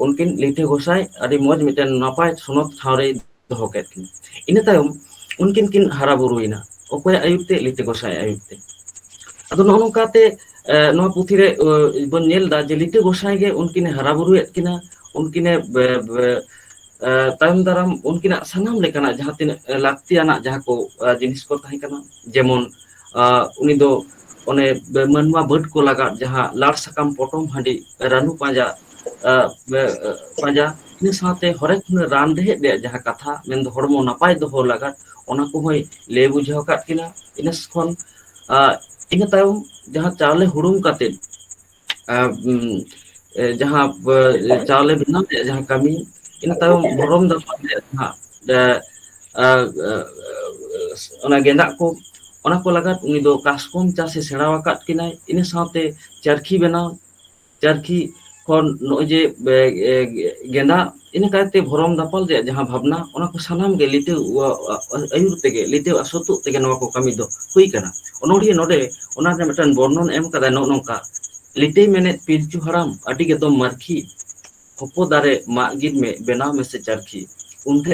ᱩᱱᱠᱤᱱ ᱞᱤᱴᱷᱤ ᱜᱚᱸᱥᱟᱭ ᱟᱹᱰᱤ ᱢᱚᱸᱡᱽ ᱢᱤᱫᱴᱮᱱ ᱱᱟᱯᱟᱭ ᱥᱚᱱᱚᱛ ᱴᱷᱟᱶ ᱨᱮ ᱫᱚᱦᱚ ᱠᱮᱫ ᱠᱤᱱᱟ ᱤᱱᱟᱹ ᱛᱟᱭᱚᱢ ᱩᱱᱠᱤᱱ ᱠᱤᱱ ᱦᱟᱨᱟ ᱵᱩᱨᱩᱭᱮᱱᱟ ᱚᱠᱚᱭᱟᱜ ᱟᱹᱭᱩᱨ ᱛᱮ ᱞᱤᱴᱟᱹ ᱜᱚᱸᱥᱟᱭ ᱟᱜ ᱟᱹᱭᱩᱨ ᱛᱮ ᱟᱫᱚ ᱱᱚᱜᱼᱚ ᱱᱚᱝᱠᱟᱛᱮ ᱱᱚᱣᱟ ᱯᱩᱛᱷᱤ ᱨᱮ ᱵᱚᱱ ᱧᱮᱞ ᱮᱫᱟ ᱡᱮ ᱞᱤᱴᱟᱹ ᱜᱚᱸᱥᱟᱭ ᱜᱮ ᱩᱱᱠᱤᱱᱮ ᱦᱟᱨᱟ ᱵᱩᱨᱩᱭᱮᱫ ᱠᱤᱱᱟ ᱩᱱᱠᱤᱱᱮ ᱵᱮ ᱵᱮ ᱛᱟᱭᱚᱢ ᱫᱟᱨᱟᱢ ᱩᱱᱠᱤᱱᱟᱜ ᱥᱟᱱᱟᱢ ᱞᱮᱠᱟᱱᱟᱜ ᱡᱟᱦᱟᱸ ᱛᱤᱱᱟᱹᱜ ᱞᱟᱹᱠᱛᱤᱭᱟᱱᱟᱜ ᱡᱟᱦᱟᱸ ᱠᱚ ᱡᱤᱱᱤᱥ ᱠᱚ ᱛᱟᱦᱮᱸ ᱠᱟᱱᱟ ᱡᱮᱢᱚᱱ ᱟᱜ ᱩᱱᱤ ᱫᱚ ᱚᱱᱮ ᱢᱟᱹᱱᱣᱟ ᱵᱟᱹᱫᱽ ᱠᱚ ᱞᱟᱜᱟᱫ ᱡᱟᱦᱟᱸ ᱞᱟᱲ ᱥᱟᱠᱟᱢ ᱯᱚᱴᱚᱢ ᱦᱟᱺᱰᱤ ᱨᱟᱹᱱᱩ ᱯᱟᱸᱡᱟ ᱟᱜ ᱵᱮ ᱯᱟᱸᱡᱟ ᱤᱱᱟᱹ ᱥᱟᱶᱛᱮ ᱦᱚᱨᱮᱠ ᱨᱟᱱ ᱨᱮᱦᱮᱫ ᱨᱮᱭᱟᱜ ᱡᱟᱦᱟᱸ ᱠᱟᱛᱷᱟ ᱢᱮᱱᱫᱚ ᱦᱚᱲᱢᱚ ᱱᱟᱯᱟᱭ ᱫᱚᱦᱚ ᱞᱟᱜᱟᱫ ᱚᱱᱟ ᱠᱚᱦᱚᱸᱭ ᱞᱟᱹᱭ ᱵᱩᱡᱷᱟᱹᱣ ᱟᱠᱟᱫ ᱠᱤᱱᱟ ᱤᱱᱟᱹ ᱠᱷᱚᱱ ᱟᱜ ᱤᱱᱟᱹ ᱛᱟᱭᱚᱢ ᱡᱟᱦᱟᱸ ᱪᱟᱣᱞᱮ ᱦᱩᱲᱩᱝ ᱠᱟᱛᱮᱫ ᱡᱟᱦᱟᱸ ᱪᱟᱣᱞᱮ ᱵᱮᱱᱟᱣ ᱨᱮᱭᱟᱜ ᱡᱟᱦᱟᱸ ᱠᱟᱹᱢᱤ ᱤᱱᱟᱹ ᱛᱟᱭᱚᱢ ᱵᱷᱚᱨᱚᱢ ᱫᱟᱲ ᱨᱮᱭᱟᱜ ᱦᱟᱸᱜ ᱟᱨ ᱚᱱᱟ ᱜᱮᱸᱫᱟᱜ ᱠᱚ ᱚᱱᱟ ᱠᱚ ᱞᱟᱜᱟᱫ ᱩᱱᱤ ᱫᱚ ᱠᱟᱥᱠᱚᱢ ᱪᱟᱥ ᱮ ᱥᱮᱬᱟ ᱟᱠᱟᱫ ᱠᱤᱱᱟᱭ ᱤᱱᱟᱹ ᱥᱟᱶᱛᱮ ᱪᱟᱨᱠᱷᱤ ᱵᱮᱱᱟᱣ ᱪᱟᱨᱠᱷᱤ ᱠᱷᱚᱱ ᱱᱚᱜᱼᱚᱭ ᱡᱮ ᱜᱮᱸᱫᱟᱜ ᱤᱱᱟᱹ ᱠᱟᱭᱛᱮ ᱵᱷᱚᱨᱚᱢ ᱫᱟᱯᱟᱞ ᱨᱮᱭᱟᱜ ᱡᱟᱦᱟᱸ ᱵᱷᱟᱵᱽᱱᱟ ᱚᱱᱟ ᱠᱚ ᱥᱟᱱᱟᱢ ᱜᱮ ᱞᱤᱴᱟᱹ ᱟᱹᱭᱩᱨ ᱛᱮᱜᱮ ᱞᱤᱴᱟᱹ ᱟᱨ ᱥᱟᱹᱛᱳᱜ ᱛᱮᱜᱮ ᱱᱚᱣᱟ ᱠᱚ ᱠᱟᱹᱢᱤ ᱫᱚ ᱦᱩᱭ ᱠᱟᱱᱟ ᱚᱱᱚᱲᱦᱤᱭᱟᱹ ᱱᱚᱰᱮ ᱚᱱᱟ ᱨᱮᱱᱟᱜ ᱢᱤᱫᱴᱟᱝ ᱵᱚᱨᱱᱚᱱ ᱮᱢ ᱠᱟᱫᱟᱭ ᱱᱚᱜᱼᱚ ᱱᱚᱝᱠᱟ ᱞᱤᱴᱟᱹᱭ ᱢᱮᱱᱮᱫ ᱯᱤᱞᱪᱩ ᱦᱟᱲᱟᱢ ᱟᱹᱰᱤ ᱜᱮᱛᱚᱢ ᱢᱟᱨᱠᱷᱤ ᱦᱚᱯᱚ ᱫᱟᱨᱮ ᱢᱟᱜ ᱜᱤᱫ ᱢᱮ ᱵᱮᱱᱟᱣ ᱢᱮᱥᱮ ᱪᱟᱨᱠᱷᱤ ᱩᱱᱨᱮ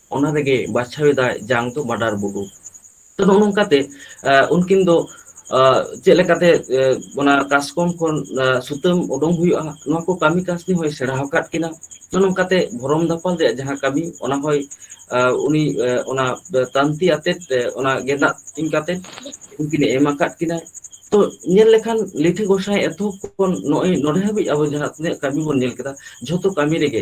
ᱚᱱᱟ ᱨᱮᱜᱮ ᱵᱟᱪᱷᱟᱣ ᱮᱫᱟᱭ ᱡᱟᱝ ᱫᱚ ᱵᱟᱰᱟᱨ ᱵᱩᱰᱩ ᱛᱚ ᱱᱚᱜᱼᱚ ᱱᱚᱝᱠᱟ ᱛᱮ ᱩᱱᱠᱤᱱ ᱫᱚ ᱪᱮᱫ ᱞᱮᱠᱟᱛᱮ ᱚᱱᱟ ᱠᱟᱥᱠᱚᱢ ᱠᱷᱚᱱ ᱥᱩᱛᱟᱹᱢ ᱩᱰᱩᱝ ᱦᱩᱭᱩᱜᱼᱟ ᱱᱚᱣᱟ ᱠᱚ ᱠᱟᱹᱢᱤ ᱠᱟᱹ ᱩᱱᱤ ᱦᱚᱸᱭ ᱥᱮᱬᱟ ᱟᱠᱟᱫ ᱠᱤᱱᱟ ᱱᱚᱜᱼᱚ ᱱᱚᱝᱠᱟᱛᱮ ᱵᱷᱚᱨᱚᱢ ᱫᱟᱯᱟᱞ ᱨᱮᱭᱟᱜ ᱡᱟᱦᱟᱸ ᱠᱟᱹᱢᱤ ᱚᱱᱟ ᱦᱚᱭ ᱩᱱᱤ ᱚᱱᱟ ᱛᱟᱱᱛᱤ ᱟᱛᱮᱫ ᱚᱱᱟ ᱜᱮᱸᱫᱟᱜ ᱛᱤᱧ ᱠᱟᱛᱮᱫ ᱩᱱᱠᱤᱱᱮ ᱮᱢ ᱟᱠᱟᱫ ᱠᱤᱱᱟ ᱛᱚ ᱧᱮᱞ ᱞᱮᱠᱷᱟᱱ ᱞᱤᱴᱷᱤ ᱜᱚᱸᱥᱟᱭ ᱮᱛᱚᱦᱚᱵ ᱠᱷᱚᱱ ᱱᱚᱜᱼᱚᱭ ᱱᱚᱰᱮ ᱦᱟᱹᱵᱤᱡ ᱟᱵᱚ ᱡᱟᱦᱟᱸ ᱛᱤᱱᱟᱹᱜ ᱠᱟᱹᱢᱤ ᱵᱚᱱ ᱧᱮᱞ ᱠᱮᱫᱟ ᱡᱷᱚᱛᱚ ᱠᱟᱹᱢᱤ ᱨᱮᱜᱮ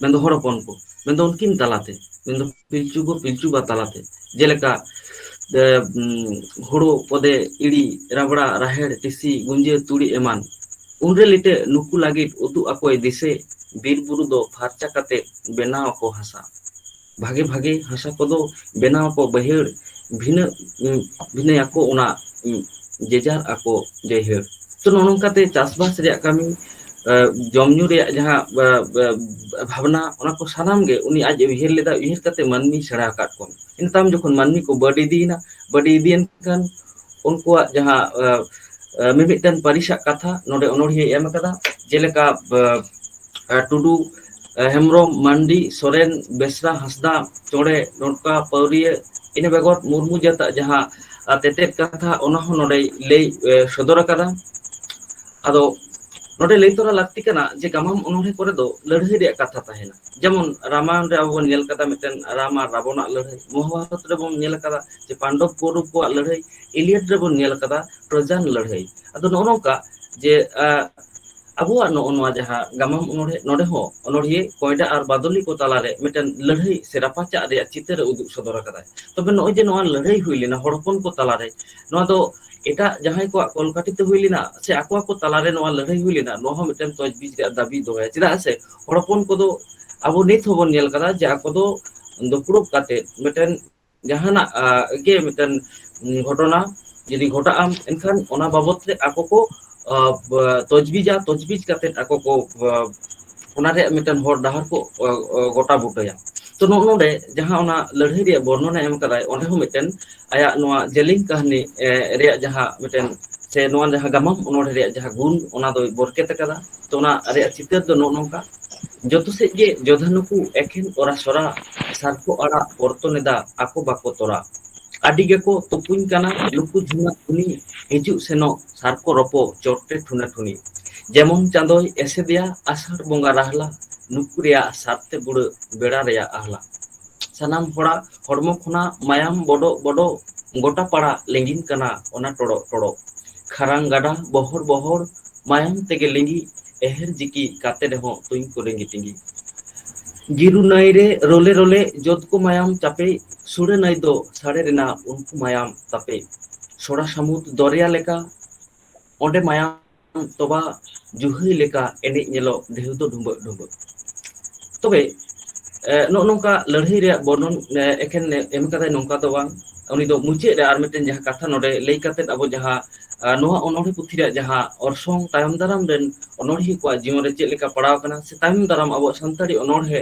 ᱢᱮᱱᱫᱚ ᱦᱚᱲ ᱦᱚᱯᱚᱱ ᱠᱚ ᱢᱮᱱᱫᱚ ᱩᱱᱠᱤᱱ ᱛᱟᱞᱟᱛᱮ ᱢᱮᱱᱫᱚ ᱯᱤᱞᱪᱩ ᱠᱚ ᱯᱤᱞᱪᱩ ᱵᱟ ᱛᱟᱞᱟᱛᱮ ᱡᱮᱞᱮᱠᱟ ᱦᱩᱲᱩ ᱠᱚᱫᱮ ᱤᱲᱤ ᱨᱟᱵᱲᱟ ᱨᱟᱦᱮᱲ ᱴᱤᱥᱤ ᱜᱩᱸᱡᱟᱹ ᱛᱩᱲᱤ ᱮᱢᱟᱱ ᱩᱱᱨᱮ ᱞᱤᱴᱟᱹ ᱱᱩᱠᱩ ᱞᱟᱹᱜᱤᱫ ᱩᱛᱩ ᱟᱠᱚᱭ ᱫᱤᱥᱟᱹ ᱵᱤᱨ ᱵᱩᱨᱩ ᱫᱚ ᱯᱷᱟᱨᱪᱟ ᱠᱟᱛᱮ ᱵᱮᱱᱟᱣ ᱟᱠᱚ ᱦᱟᱥᱟ ᱵᱷᱟᱜᱮ ᱵᱷᱟᱜᱮ ᱦᱟᱥᱟ ᱠᱚᱫᱚ ᱵᱮᱱᱟᱣ ᱟᱠᱚ ᱵᱟᱹᱭᱦᱟᱹᱲ ᱵᱷᱤᱱᱟᱹ ᱵᱷᱤᱱᱟᱹᱭᱟᱠᱚ ᱚᱱᱟ ᱡᱮᱡᱟᱨ ᱟᱠᱚ ᱡᱟᱹᱭᱦᱟᱹᱨ ᱛᱚ ᱱᱚᱜᱼᱚ ᱱᱚᱝᱠᱟᱛᱮ ᱪᱟᱥᱵᱟᱥ ᱨᱮᱭᱟᱜ ᱠᱟᱹᱢᱤ ᱡᱚᱢ ᱧᱩ ᱨᱮᱭᱟᱜ ᱡᱟᱦᱟᱸ ᱵᱷᱟᱵᱽᱱᱟ ᱚᱱᱟ ᱠᱚ ᱥᱟᱱᱟᱢ ᱜᱮ ᱩᱱᱤ ᱟᱡ ᱩᱭᱦᱟᱹᱨ ᱞᱮᱫᱟ ᱩᱭᱦᱟᱹᱨ ᱠᱟᱛᱮ ᱢᱟᱹᱱᱢᱤᱭ ᱥᱮᱬᱟ ᱟᱠᱟᱫ ᱠᱚᱣᱟ ᱤᱱᱟᱹ ᱛᱟᱭᱚᱢ ᱡᱚᱠᱷᱚᱱ ᱢᱟᱹᱱᱢᱤ ᱠᱚ ᱵᱟᱹᱰᱤ ᱤᱫᱤᱭᱮᱱᱟ ᱵᱟᱹᱰᱤ ᱤᱫᱤᱭᱮᱱ ᱠᱷᱟᱱ ᱩᱱᱠᱩᱣᱟᱜ ᱡᱟᱦᱟᱸ ᱢᱤᱢᱤᱫᱴᱟᱝ ᱯᱟᱹᱨᱤᱥᱟᱜ ᱠᱟᱛᱷᱟ ᱱᱚᱰᱮ ᱚᱱᱚᱲᱦᱤᱭᱟᱹ ᱮᱢ ᱟᱠᱟᱫᱟ ᱡᱮᱞᱮᱠᱟ ᱴᱩᱰᱩ ᱦᱮᱢᱵᱨᱚᱢ ᱢᱟᱱᱰᱤ ᱥᱚᱨᱮᱱ ᱵᱮᱥᱨᱟ ᱦᱟᱸᱥᱫᱟ ᱪᱚᱬᱮ ᱰᱚᱸᱴᱠᱟ ᱯᱟᱹᱣᱨᱤᱭᱟᱹ ᱤᱱᱟᱹ ᱵᱮᱜᱚᱨ ᱢᱩᱨᱢᱩ ᱡᱟᱹᱛᱟᱜ ᱡᱟᱦᱟᱸ ᱟᱨ ᱛᱮᱛᱮᱫ ᱠᱟᱛᱷᱟ ᱚᱱᱟ ᱦᱚᱸ ᱱᱚᱰᱮᱭ ᱞᱟᱹᱭ ᱥᱚᱫᱚᱨ ᱟᱠᱟᱫᱟ ᱟᱫᱚ ᱱᱚᱰᱮ ᱞᱟᱹᱭ ᱛᱚᱨᱟ ᱞᱟᱹᱠᱛᱤ ᱠᱟᱱᱟ ᱡᱮ ᱜᱟᱢᱟᱢ ᱚᱱᱚᱲᱦᱮᱸ ᱠᱚᱨᱮ ᱫᱚ ᱞᱟᱹᱲᱦᱟᱹᱭ ᱨᱮᱭᱟᱜ ᱠᱟᱛᱷᱟ ᱛᱟᱦᱮᱱᱟ ᱡᱮᱢᱚᱱ ᱨᱟᱢᱟᱭᱚᱱ ᱨᱮ ᱟᱵᱚ ᱵᱚᱱ ᱧᱮᱞ ᱠᱟᱫᱟ ᱢᱤᱫᱴᱮᱱ ᱨᱟᱢ ᱟᱨ ᱨᱟᱵᱚᱱᱟᱜ ᱞᱟᱹᱲᱦᱟᱹᱭ ᱢᱚᱦᱟᱵᱟᱨᱚᱛ ᱨᱮᱵᱚᱱ ᱧᱮᱞ ᱟᱠᱟᱫᱟ ᱡᱮ ᱯᱟᱱᱰᱚᱵ ᱠᱚᱣᱨᱚᱵ ᱠᱚᱣᱟᱜ ᱞᱟᱹᱲᱦᱟᱹᱭ ᱤᱞᱤᱭᱟᱰ ᱨᱮᱵᱚᱱ ᱧᱮᱞ ᱟᱠᱟᱫᱟ ᱴᱨᱚᱡᱟᱱ ᱞᱟᱹᱲᱦᱟᱹᱭ ᱟᱫᱚ ᱱᱚᱜᱼᱚ ᱱᱚᱝᱠᱟ ᱡᱮ ᱟᱵᱚᱣᱟᱜ ᱱᱚᱜᱼᱚ ᱱᱚᱣᱟ ᱡᱟᱦᱟᱸ ᱜᱟᱢᱟᱢ ᱚᱱᱚᱲᱦᱮ ᱱᱚᱰᱮ ᱦᱚᱸ ᱚᱱᱚᱲᱦᱤᱭᱟᱹ ᱠᱚᱭᱰᱟ ᱟᱨ ᱵᱟᱫᱚᱞᱤ ᱠᱚ ᱛᱟᱞᱟᱨᱮ ᱢᱤᱫᱴᱮᱱ ᱞᱟᱹᱲᱦᱟᱹᱭ ᱥᱮ ᱨᱟᱯᱟᱪᱟᱜ ᱨᱮᱭᱟᱜ ᱪᱤᱛᱟᱹᱨ ᱮ ᱩᱫᱩᱜ ᱥᱚᱫᱚᱨ ᱟᱠᱟᱫᱟᱭ ᱛᱚᱵᱮ ᱱᱚᱜᱼᱚᱭ ᱡᱮ ᱱᱚᱣᱟ ᱞᱟᱹᱲᱦᱟᱹᱭ ᱦᱩᱭ ᱞᱮᱱᱟ ᱦᱚᱲ ᱦᱚᱯᱚᱱ ᱠᱚ ᱛᱟᱞᱟᱨᱮ ᱱᱚᱣᱟ ᱫᱚ ᱮᱴᱟᱜ ᱡᱟᱦᱟᱸᱭ ᱠᱚᱣᱟᱜ ᱠᱚᱞᱠᱟᱴᱤ ᱛᱮ ᱦᱩᱭ ᱞᱮᱱᱟ ᱥᱮ ᱟᱠᱚ ᱟᱠᱚ ᱛᱟᱞᱟᱨᱮ ᱱᱚᱣᱟ ᱞᱟᱹᱲᱦᱟᱹᱭ ᱦᱩᱭ ᱞᱮᱱᱟ ᱱᱚᱣᱟ ᱦᱚᱸ ᱢᱤᱫᱴᱮᱱ ᱛᱚᱡᱽ ᱵᱤᱡ ᱨᱮᱭᱟᱜ ᱫᱟᱹᱵᱤ ᱫᱚᱦᱚᱭᱟ ᱪᱮᱫᱟᱜ ᱥᱮ ᱦᱚᱲ ᱦᱚᱯᱚᱱ ᱠᱚᱫᱚ ᱟᱵᱚ ᱱᱤᱛ ᱦᱚᱸᱵᱚᱱ ᱧᱮᱞ ᱟᱠᱟᱫᱟ ᱡᱮ ᱟᱠᱚ ᱫᱚ ᱫᱩᱯᱲᱩᱵ ᱠᱟᱛᱮᱫ ᱢᱤᱫᱴᱮᱱ ᱡᱟᱦᱟᱱᱟᱜ ᱜᱮ ᱢᱤᱫᱴᱮᱱ ᱜᱷᱚᱴᱚᱱᱟ ᱡᱩᱫᱤ ᱜᱷᱚᱴᱟᱜ ᱟᱢ ᱮᱱᱠᱷᱟᱱ ᱚᱱᱟ ᱵᱟᱵᱚᱛ ᱛᱮ ᱟᱠᱚ ᱠᱚ ᱛᱚᱡᱽᱵᱤᱡᱟ ᱛᱚᱡᱽᱵᱤᱡ ᱠᱟᱛᱮᱫ ᱟᱠᱚ ᱠᱚ ᱚᱱᱟ ᱨᱮᱭᱟᱜ ᱢᱤᱫᱴᱮᱱ ᱦᱚᱨ ᱰᱟᱦᱟᱨ ᱠᱚ ᱜᱚᱴᱟ ᱵᱩᱴᱟᱹᱭᱟ ᱛᱚ ᱱᱚᱜᱼᱚ ᱱᱚᱰᱮ ᱡᱟᱦᱟᱸ ᱚᱱᱟ ᱞᱟᱹᱲᱦᱟᱹᱭ ᱨᱮᱭᱟᱜ ᱵᱚᱨᱱᱚᱱᱮ ᱮᱢ ᱠᱟᱫᱟᱭ ᱚᱸᱰᱮ ᱦᱚᱸ ᱢᱤᱫᱴᱮᱱ ᱟᱭᱟᱜ ᱱᱚᱣᱟ ᱡᱮᱞᱮᱧ ᱠᱟᱹᱦᱱᱤ ᱨᱮᱭᱟᱜ ᱡᱟᱦᱟᱸ ᱢᱤᱫᱴᱮᱱ ᱥᱮ ᱱᱚᱣᱟ ᱡᱟᱦᱟᱸ ᱜᱟᱢᱟᱢ ᱚᱱᱚᱲᱦᱮ ᱨᱮᱭᱟᱜ ᱡᱟᱦᱟᱸ ᱜᱩᱱ ᱚᱱᱟ ᱫᱚᱭ ᱵᱚᱨᱠᱮᱛ ᱟᱠᱟᱫᱟ ᱛᱚ ᱚᱱᱟ ᱨᱮᱭᱟᱜ ᱪᱤᱛᱟᱹᱨ ᱫᱚ ᱱᱚᱜᱼᱚ ᱱᱚᱝᱠᱟ ᱡᱚᱛᱚ ᱥᱮᱫ ᱜᱮ ᱡᱚᱫᱷᱟ ᱱᱩᱠᱩ ᱮᱠᱷᱮᱱ ᱚᱨ ᱥᱚᱨᱟ ᱥᱟᱨᱯᱷᱚ ᱟᱲᱟᱜ ᱚᱨᱛᱚᱱ ᱮᱫᱟ ᱟᱠᱚ ᱵᱟᱠᱚ ᱛᱚᱨᱟ ᱟᱹᱰᱤ ᱜᱮᱠᱚ ᱛᱩᱯᱩᱧ ᱠᱟᱱᱟ ᱞᱩᱠᱩ ᱡᱷᱩᱢᱟᱹ ᱠᱩᱞᱤ ᱦᱤᱡᱩᱜ ᱥᱮᱱᱚᱜ ᱥᱟᱨᱠᱚ ᱨᱚᱯᱚᱜ ᱪᱚᱴᱨᱮ ᱴᱷᱩᱱᱟ ᱴᱷᱩᱱᱤ ᱡᱮᱢᱚᱱ ᱪᱟᱸᱫᱚᱭ ᱮᱥᱮᱫᱮᱭᱟ ᱟᱥᱟᱲ ᱵᱚᱸᱜᱟ ᱨᱟᱦᱞᱟ ᱱᱩᱠᱩ ᱨᱮᱭᱟᱜ ᱥᱟᱨᱛᱮ ᱵᱩᱲᱟᱹᱜ ᱵᱮᱲᱟ ᱨᱮᱭᱟᱜ ᱟᱦᱞᱟ ᱥᱟᱱᱟᱢ ᱦᱚᱲᱟᱜ ᱦᱚᱲᱢᱚ ᱠᱷᱚᱱᱟᱜ ᱢᱟᱭᱟᱢ ᱵᱚᱰᱚᱜ ᱵᱚᱰᱚᱜ ᱜᱚᱴᱟ ᱯᱟᱲᱟᱜ ᱞᱤᱸᱜᱤᱱ ᱠᱟᱱᱟ ᱚᱱᱟ ᱴᱚᱲᱚᱜ ᱴᱚᱲᱚᱜ ᱠᱷᱟᱨᱟᱝ ᱜᱟᱰᱟ ᱵᱚᱦᱚᱲ ᱵᱚᱦᱚᱲ ᱢᱟᱭᱟᱢ ᱛᱮᱜᱮ ᱞᱤᱸᱜᱤᱜ ᱮᱦᱮᱨ ᱡᱤᱠᱤ ᱠᱟᱛᱮ ᱨᱮᱦᱚᱸ ᱛᱩᱧ ᱠᱚ ᱞᱤᱸᱜᱤ ᱛᱤᱸᱜᱤ ᱜᱤᱨᱩ ᱱᱟᱹᱭ ᱨᱮ ᱨᱚᱞᱮ ᱨᱚᱞᱮ ᱡᱚᱛ ᱠᱚ ᱢᱟᱭᱟᱢ ᱪᱟᱯᱮ ᱥᱩᱲᱟᱹ ᱱᱟᱹᱭ ᱫᱚ ᱥᱟᱲᱮ ᱨᱮᱱᱟᱜ ᱩᱱᱠᱩ ᱢᱟᱭᱟᱢ ᱛᱟᱯᱮ ᱥᱚᱲᱟ ᱥᱟᱹᱢᱩᱫ ᱫᱚᱨᱭᱟ ᱞᱮᱠᱟ ᱚᱸᱰᱮ ᱢᱟᱭᱟᱢ ᱛᱚᱵᱟ ᱡᱩᱦᱤ ᱞᱮᱠᱟ ᱮᱱᱮᱡ ᱧᱮᱞᱚᱜ ᱰᱷᱮᱣ ᱫᱚ ᱰᱷᱩᱵᱟᱹᱜ ᱰᱷᱩᱵᱟᱹᱜ ᱛᱚᱵᱮ ᱮᱜ ᱱᱚᱜᱼᱚ ᱱᱚᱝᱠᱟ ᱞᱟᱹᱲᱦᱟᱹᱭ ᱨᱮᱭᱟᱜ ᱵᱚᱨᱱᱚᱱ ᱮᱠᱷᱮᱱ ᱮᱢ ᱠᱟᱫᱟᱭ ᱱᱚᱝᱠᱟ ᱫᱚ ᱵᱟᱝ ᱩᱱᱤ ᱫᱚ ᱢᱩᱪᱟᱹᱫ ᱨᱮ ᱟᱨ ᱢᱤᱫᱴᱮᱱ ᱡᱟᱦᱟᱸ ᱠᱟᱛᱷᱟ ᱱᱚᱰᱮ ᱞᱟᱹᱭ ᱠᱟᱛᱮᱫ ᱟᱵᱚ ᱡᱟᱦᱟᱸ ᱱᱚᱣᱟ ᱚᱱᱚᱲᱦᱮ ᱯᱩᱛᱷᱤ ᱨᱮᱭᱟᱜ ᱡᱟᱦᱟᱸ ᱚᱨᱥᱚᱝ ᱛᱟᱭᱚᱢ ᱫᱟᱨᱟᱢ ᱨᱮᱱ ᱚᱱᱚᱲᱦᱤᱭᱟᱹ ᱠᱚᱣᱟᱜ ᱡᱤᱭᱚᱱ ᱨᱮ ᱪᱮᱫ ᱞᱮᱠᱟ ᱯᱟᱲᱟᱣ ᱟᱠᱟᱱᱟ ᱥᱮ ᱛᱟᱭᱚᱢ ᱫᱟᱨᱟᱢ ᱟᱵᱚᱣᱟᱜ ᱥᱟᱱᱛᱟᱲᱤ ᱚᱱᱚᱲᱦᱮ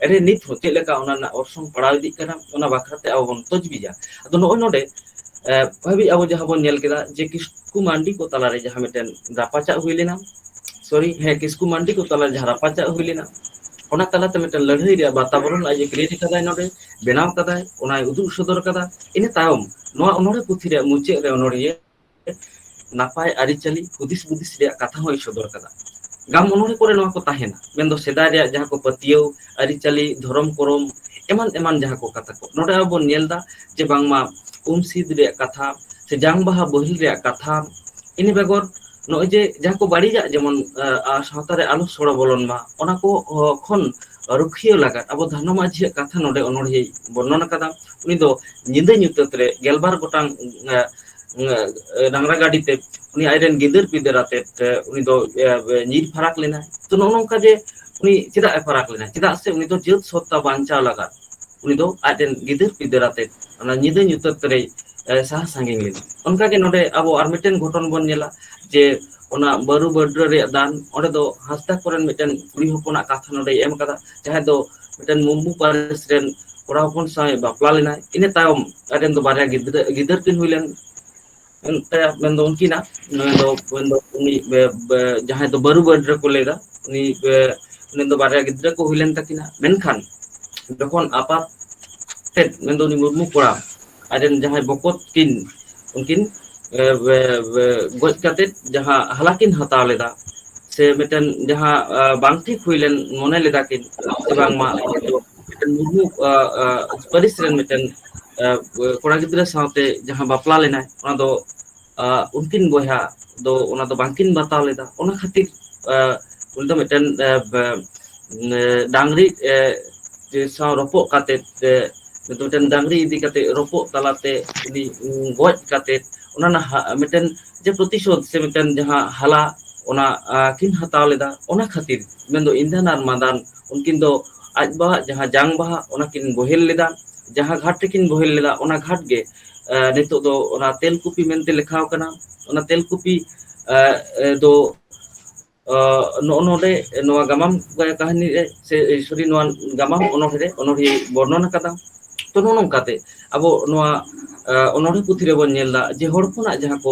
ᱨᱮ ᱱᱤᱛ ᱦᱚᱸ ᱪᱮᱫ ᱞᱮᱠᱟ ᱚᱱᱟ ᱨᱮᱱᱟᱜ ᱚᱨᱥᱚᱝ ᱯᱟᱲᱟᱣ ᱤᱫᱤᱜ ᱠᱟᱱᱟ ᱚᱱᱟ ᱵᱟᱠᱷᱨᱟᱛᱮ ᱟᱵᱚ ᱵᱚᱱ ᱛᱚᱡᱽ ᱵᱤᱡᱟ ᱟᱫᱚ ᱱᱚᱜᱼᱚᱭ ᱱᱚᱰᱮ ᱮ ᱦᱟᱹᱵᱤᱡ ᱟᱵᱚ ᱡᱟᱦᱟᱸ ᱵᱚᱱ ᱧᱮᱞ ᱠᱮᱫᱟ ᱡᱮ ᱠᱤᱥ ᱠᱤᱥᱠᱩ ᱢᱟᱱᱰᱤ ᱠᱚ ᱛᱟᱞᱟᱨᱮ ᱡᱟᱦᱟᱸ ᱢᱤᱫᱴᱮᱱ ᱨᱟᱯᱟᱪᱟᱜ ᱦᱩᱭ ᱞᱮᱱᱟ ᱥᱚᱨᱤ ᱦᱮᱸ ᱠᱤᱥᱠᱩ ᱢᱟᱱᱰᱤ ᱠᱚ ᱛᱟᱞᱟ ᱨᱮ ᱡᱟᱦᱟᱸ ᱨᱟᱯᱟᱪᱟᱜ ᱦᱩᱭ ᱞᱮᱱᱟ ᱚᱱᱟ ᱛᱟᱞᱟᱛᱮ ᱢᱤᱫᱴᱮᱱ ᱞᱟᱹᱲᱦᱟᱹᱭ ᱨᱮᱭᱟᱜ ᱵᱟᱛᱟᱵᱚᱨᱚᱱ ᱟᱡ ᱮ ᱠᱨᱤᱭᱮᱴ ᱟᱠᱟᱫᱟᱭ ᱱᱚᱰᱮ ᱵᱮᱱᱟᱣ ᱟᱠᱟᱫᱟᱭ ᱚᱱᱟᱭ ᱩᱫᱩᱜ ᱥᱚᱫᱚᱨ ᱟᱠᱟᱫᱟ ᱤᱱᱟᱹ ᱛᱟᱭᱚᱢ ᱱᱚᱣᱟ ᱚᱱᱚᱲᱦᱮ ᱯᱩᱛᱷᱤ ᱨᱮᱭᱟᱜ ᱢᱩᱪᱟᱹᱫ ᱨᱮ ᱚᱱᱚᱲᱦᱤᱭᱟᱹ ᱱᱟᱯᱟᱭ ᱟᱹᱨᱤᱪᱟᱹᱞᱤ ᱦᱩᱫᱤᱥ ᱦᱩᱫᱤᱥ ᱨᱮᱭᱟᱜ ᱠᱟᱛᱷᱟ ᱦᱚᱸᱭ ᱥᱚᱫᱚᱨ ᱟᱠᱟᱫᱟ ᱜᱟᱢ ᱚᱱᱚᱲᱦᱮ ᱠᱚᱨᱮ ᱱᱚᱣᱟ ᱠᱚ ᱛᱟᱦᱮᱱᱟ ᱢᱮᱱᱫᱚ ᱥᱮᱫᱟᱭ ᱨᱮᱭᱟᱜ ᱡᱟᱦᱟᱸ ᱠᱚ ᱯᱟᱹᱛᱭᱟᱹᱣ ᱟᱹᱨᱤᱪᱟᱹᱞᱤ ᱫᱷᱚᱨᱚᱢ ᱠᱚᱨᱚᱢ ᱮᱢᱟᱱ ᱮᱢᱟᱱ ᱡᱟᱦᱟᱸ ᱠᱚ ᱠᱟᱛᱷᱟ ᱠᱚ ᱱᱚᱰᱮ ᱟᱵᱚ ᱵᱚᱱ ᱧᱮᱞ ᱮᱫᱟ ᱡᱮ ᱵᱟᱝᱢᱟ ᱩᱢ ᱥᱤᱫ ᱨᱮᱭᱟᱜ ᱠᱟᱛᱷᱟ ᱥᱮ ᱡᱟᱝ ᱵᱟᱦᱟ ᱵᱳᱦᱮᱞ ᱨᱮᱭᱟᱜ ᱠᱟᱛᱷᱟ ᱤᱱᱟᱹ ᱵᱮᱜᱚᱨ ᱱᱚᱜᱼᱚᱭ ᱡᱮ ᱡᱟᱦᱟᱸ ᱠᱚ ᱵᱟᱹᱲᱤᱡᱟᱜ ᱡᱮᱢᱚᱱ ᱥᱟᱶᱛᱟ ᱨᱮ ᱟᱞᱚ ᱥᱚᱲᱚ ᱵᱚᱞᱚᱱ ᱢᱟ ᱚᱱᱟ ᱠᱚ ᱠᱷᱚᱱ ᱨᱩᱠᱷᱤᱭᱟᱹ ᱞᱟᱜᱟᱫ ᱟᱵᱚ ᱫᱷᱟᱱᱚ ᱢᱟᱹᱡᱷᱤ ᱭᱟᱜ ᱠᱟᱛᱷᱟ ᱱᱚᱰᱮ ᱚᱱᱚᱲᱦᱮᱸ ᱵᱚᱨᱱᱚᱱ ᱟᱠᱟᱫᱟ ᱩᱱᱤ ᱫᱚ ᱧᱤᱫᱟᱹ ᱧᱩᱛᱟᱹᱛ ᱨᱮ ᱜᱮᱞᱵᱟᱨ ᱜᱚᱴᱟᱝ ᱰᱟᱝᱨᱟ ᱜᱟᱹᱰᱤ ᱛᱮ ᱩᱱᱤ ᱟᱡᱨᱮᱱ ᱜᱤᱫᱟᱹᱨ ᱯᱤᱫᱟᱹᱨ ᱟᱛᱮᱫ ᱩᱱᱤ ᱫᱚ ᱧᱤᱨ ᱯᱷᱟᱨᱟᱠ ᱞᱮᱱᱟᱭ ᱛᱚ ᱱᱚᱜᱼᱚ ᱱᱚᱝᱠᱟ ᱡᱮ ᱩᱱᱤ ᱪᱮᱫᱟᱜ ᱮ ᱯᱷᱟᱨᱟᱠ ᱞᱮᱱᱟ ᱪᱮᱫᱟᱜ ᱥᱮ ᱩᱱᱤ ᱫᱚ ᱡᱟᱹᱛ ᱥᱚᱛᱛᱟ ᱵᱟᱧᱪᱟᱣ ᱞᱟᱜᱟᱫ ᱩᱱᱤ ᱫᱚ ᱟᱡ ᱨᱮᱱ ᱜᱤᱫᱟᱹᱨ ᱯᱤᱫᱟᱹᱨ ᱟᱛᱮᱜ ᱚᱱᱟ ᱧᱤᱫᱟᱹ ᱧᱩᱛᱟᱹᱛ ᱨᱮᱭ ᱥᱟᱦᱟ ᱥᱟᱺᱜᱤᱧ ᱞᱮᱱᱟ ᱚᱱᱠᱟ ᱜᱮ ᱱᱚᱰᱮ ᱟᱵᱚ ᱟᱨ ᱢᱤᱫᱴᱮᱱ ᱜᱷᱚᱴᱚᱱ ᱵᱚᱱ ᱧᱮᱞᱟ ᱡᱮ ᱚᱱᱟ ᱵᱟᱹᱨᱩ ᱵᱟᱹᱰᱨᱟᱹ ᱨᱮᱭᱟᱜ ᱫᱟᱱ ᱚᱸᱰᱮ ᱫᱚ ᱦᱟᱸᱥᱫᱟ ᱠᱚᱨᱮᱱ ᱢᱤᱫᱴᱮᱱ ᱠᱩᱲᱤ ᱦᱚᱯᱚᱱᱟᱜ ᱠᱟᱛᱷᱟ ᱱᱚᱰᱮᱭ ᱮᱢ ᱟᱠᱟᱫᱟ ᱡᱟᱦᱟᱸᱭ ᱫᱚ ᱢᱤᱫᱴᱮᱱ ᱢᱩᱢᱵᱩ ᱯᱟᱹᱨᱤᱥ ᱨᱮᱱ ᱠᱚᱲᱟ ᱦᱚᱯᱚᱱ ᱥᱟᱶ ᱵᱟᱯᱞᱟ ᱞᱮᱱᱟᱭ ᱤᱱᱟᱹ ᱛᱟᱭᱚᱢ ᱟᱡ ᱨᱮᱱ ᱫᱚ ᱵᱟᱨᱭᱟ ᱜᱤᱫᱽᱨᱟᱹ ᱜᱤᱫᱟᱹᱨ ᱠᱤᱱ ᱦᱩᱭ ᱞᱮᱱ ᱢᱮᱱᱫᱚ ᱩᱱᱠᱤᱱᱟᱜ ᱱᱩᱭ ᱫᱚ ᱢᱮᱱ ᱫᱚ ᱩᱱᱤ ᱵᱮ ᱵᱮ ᱡᱟᱦᱟᱸᱭ ᱫᱚ ᱵᱟᱹᱨᱩ ᱜᱟᱰᱨᱤ ᱠᱚ ᱞᱟᱹᱭ ᱫᱟ ᱩᱱᱤ ᱜᱮ ᱩᱱᱤ ᱫᱚ ᱵᱟᱨᱭᱟ ᱜᱤᱫᱽᱨᱟᱹ ᱠᱚ ᱦᱩᱭ ᱞᱮᱱ ᱛᱟᱹᱠᱤᱱᱟ ᱢᱮᱱᱠᱷᱟᱱ ᱡᱚᱠᱷᱚᱱ ᱟᱯᱟᱛ ᱛᱮᱫ ᱢᱮᱱᱫᱚ ᱩᱱᱤ ᱢᱩᱨᱢᱩ ᱠᱚᱲᱟ ᱟᱡ ᱨᱮᱱ ᱡᱟᱦᱟᱸᱭ ᱵᱚᱠᱚᱛ ᱠᱤᱱ ᱩᱱᱠᱤᱱ ᱮ ᱵᱮ ᱵᱮ ᱜᱚᱡ ᱠᱟᱛᱮᱫ ᱡᱟᱦᱟᱸ ᱦᱟᱞᱟ ᱠᱤᱱ ᱦᱟᱛᱟᱣ ᱞᱮᱫᱟ ᱥᱮ ᱢᱤᱫᱴᱮᱱ ᱡᱟᱦᱟᱸ ᱵᱟᱝ ᱴᱷᱤᱠ ᱦᱩᱭᱞᱮᱱ ᱢᱚᱱᱮ ᱞᱮᱫᱟ ᱠᱤᱱ ᱥᱮ ᱵᱟᱝᱢᱟ ᱢᱤᱫᱴᱮᱱ ᱢᱩᱨᱢᱩ ᱯᱟᱹᱨᱤᱥ ᱨᱮᱱ ᱢᱤᱫᱴᱮᱱ ᱠᱚᱲᱟ ᱜᱤᱫᱽᱨᱟᱹ ᱥᱟᱶᱛᱮ ᱡᱟᱦᱟᱸ ᱵᱟᱯᱞᱟ ᱞᱮᱱᱟᱭ ᱚᱱᱟ ᱫᱚ ᱩᱱᱠᱤᱱ ᱵᱚᱭᱦᱟ ᱫᱚ ᱚᱱᱟ ᱫᱚ ᱵᱟᱝᱠᱤᱱ ᱵᱟᱛᱟᱣ ᱞᱮᱫᱟ ᱚᱱᱟ ᱠᱷᱟᱹᱛᱤᱨ ᱩᱱᱤ ᱫᱚ ᱢᱤᱫᱴᱮᱱ ᱰᱟᱝᱨᱤ ᱥᱟᱶ ᱨᱚᱯᱚᱜ ᱠᱟᱛᱮᱜ ᱛᱮ ᱢᱤᱫᱴᱮᱱ ᱰᱟᱝᱨᱤ ᱤᱫᱤ ᱠᱟᱛᱮᱜ ᱨᱚᱯᱚᱜ ᱛᱟᱞᱟᱛᱮ ᱩᱱᱤ ᱜᱚᱡ ᱠᱟᱛᱮᱜ ᱚᱱᱟ ᱨᱮᱱᱟᱜ ᱢᱤᱫᱴᱮᱱ ᱡᱮ ᱯᱨᱚᱛᱤᱥᱳᱫ ᱥᱮ ᱢᱤᱫᱴᱮᱱ ᱡᱟᱦᱟᱸ ᱦᱟᱞᱟ ᱚᱱᱟ ᱠᱤᱱ ᱦᱟᱛᱟᱣ ᱞᱮᱫᱟ ᱚᱱᱟ ᱠᱷᱟᱹᱛᱤᱨ ᱢᱮᱱᱫᱚ ᱤᱸᱫᱷᱟᱱ ᱟᱨ ᱢᱟᱸᱫᱟᱱ ᱩᱱᱠᱤᱱ ᱫᱚ ᱟᱡ ᱵᱟᱵᱟᱣᱟᱜ ᱡᱟᱦᱟᱸ ᱡᱟᱝ ᱵᱟᱦᱟ ᱚᱱᱟ ᱠᱤᱱ ᱵᱳᱚᱦᱮᱞ ᱞᱮᱫᱟ ᱡᱟᱦᱟᱸ ᱜᱷᱟᱴ ᱨᱮᱠᱤᱱ ᱵᱳᱚᱦᱮᱞ ᱞᱮᱫᱟ ᱚᱱᱟ ᱜᱷᱟᱴ ᱜᱮ ᱱᱤᱛᱚᱜ ᱫᱚ ᱚᱱᱟ ᱛᱮᱞᱠᱩᱯᱤ ᱢᱮᱱᱛᱮ ᱞᱮᱠᱷᱟ ᱠᱟᱱᱟ ᱚᱱᱟ ᱛᱮᱞᱠᱩᱯᱤ ᱫᱚ ᱱᱚᱜᱼᱚ ᱱᱚᱰᱮ ᱱᱚᱣᱟ ᱜᱟᱢᱟᱢ ᱠᱟᱹᱦᱱᱤ ᱨᱮ ᱥᱮ ᱥᱚᱨᱤ ᱱᱚᱣᱟ ᱜᱟᱢᱟᱢ ᱚᱱᱚᱲᱦᱮᱸ ᱨᱮ ᱚᱱᱚᱲᱦᱤᱭᱟᱹ ᱵᱚᱨᱱᱚᱱ ᱟᱠᱟᱫᱟ ᱛᱚ ᱱᱚᱜᱼᱚ ᱱᱚᱝᱠᱟᱛᱮ ᱟᱵᱚ ᱱᱚᱣᱟ ᱚᱱᱚᱲᱦᱮ ᱯᱩᱛᱷᱤ ᱨᱮᱵᱚᱱ ᱧᱮᱞ ᱮᱫᱟ ᱡᱮ ᱦᱚᱲ ᱦᱚᱯᱚᱱᱟᱜ ᱡᱟᱦᱟᱸ ᱠᱚ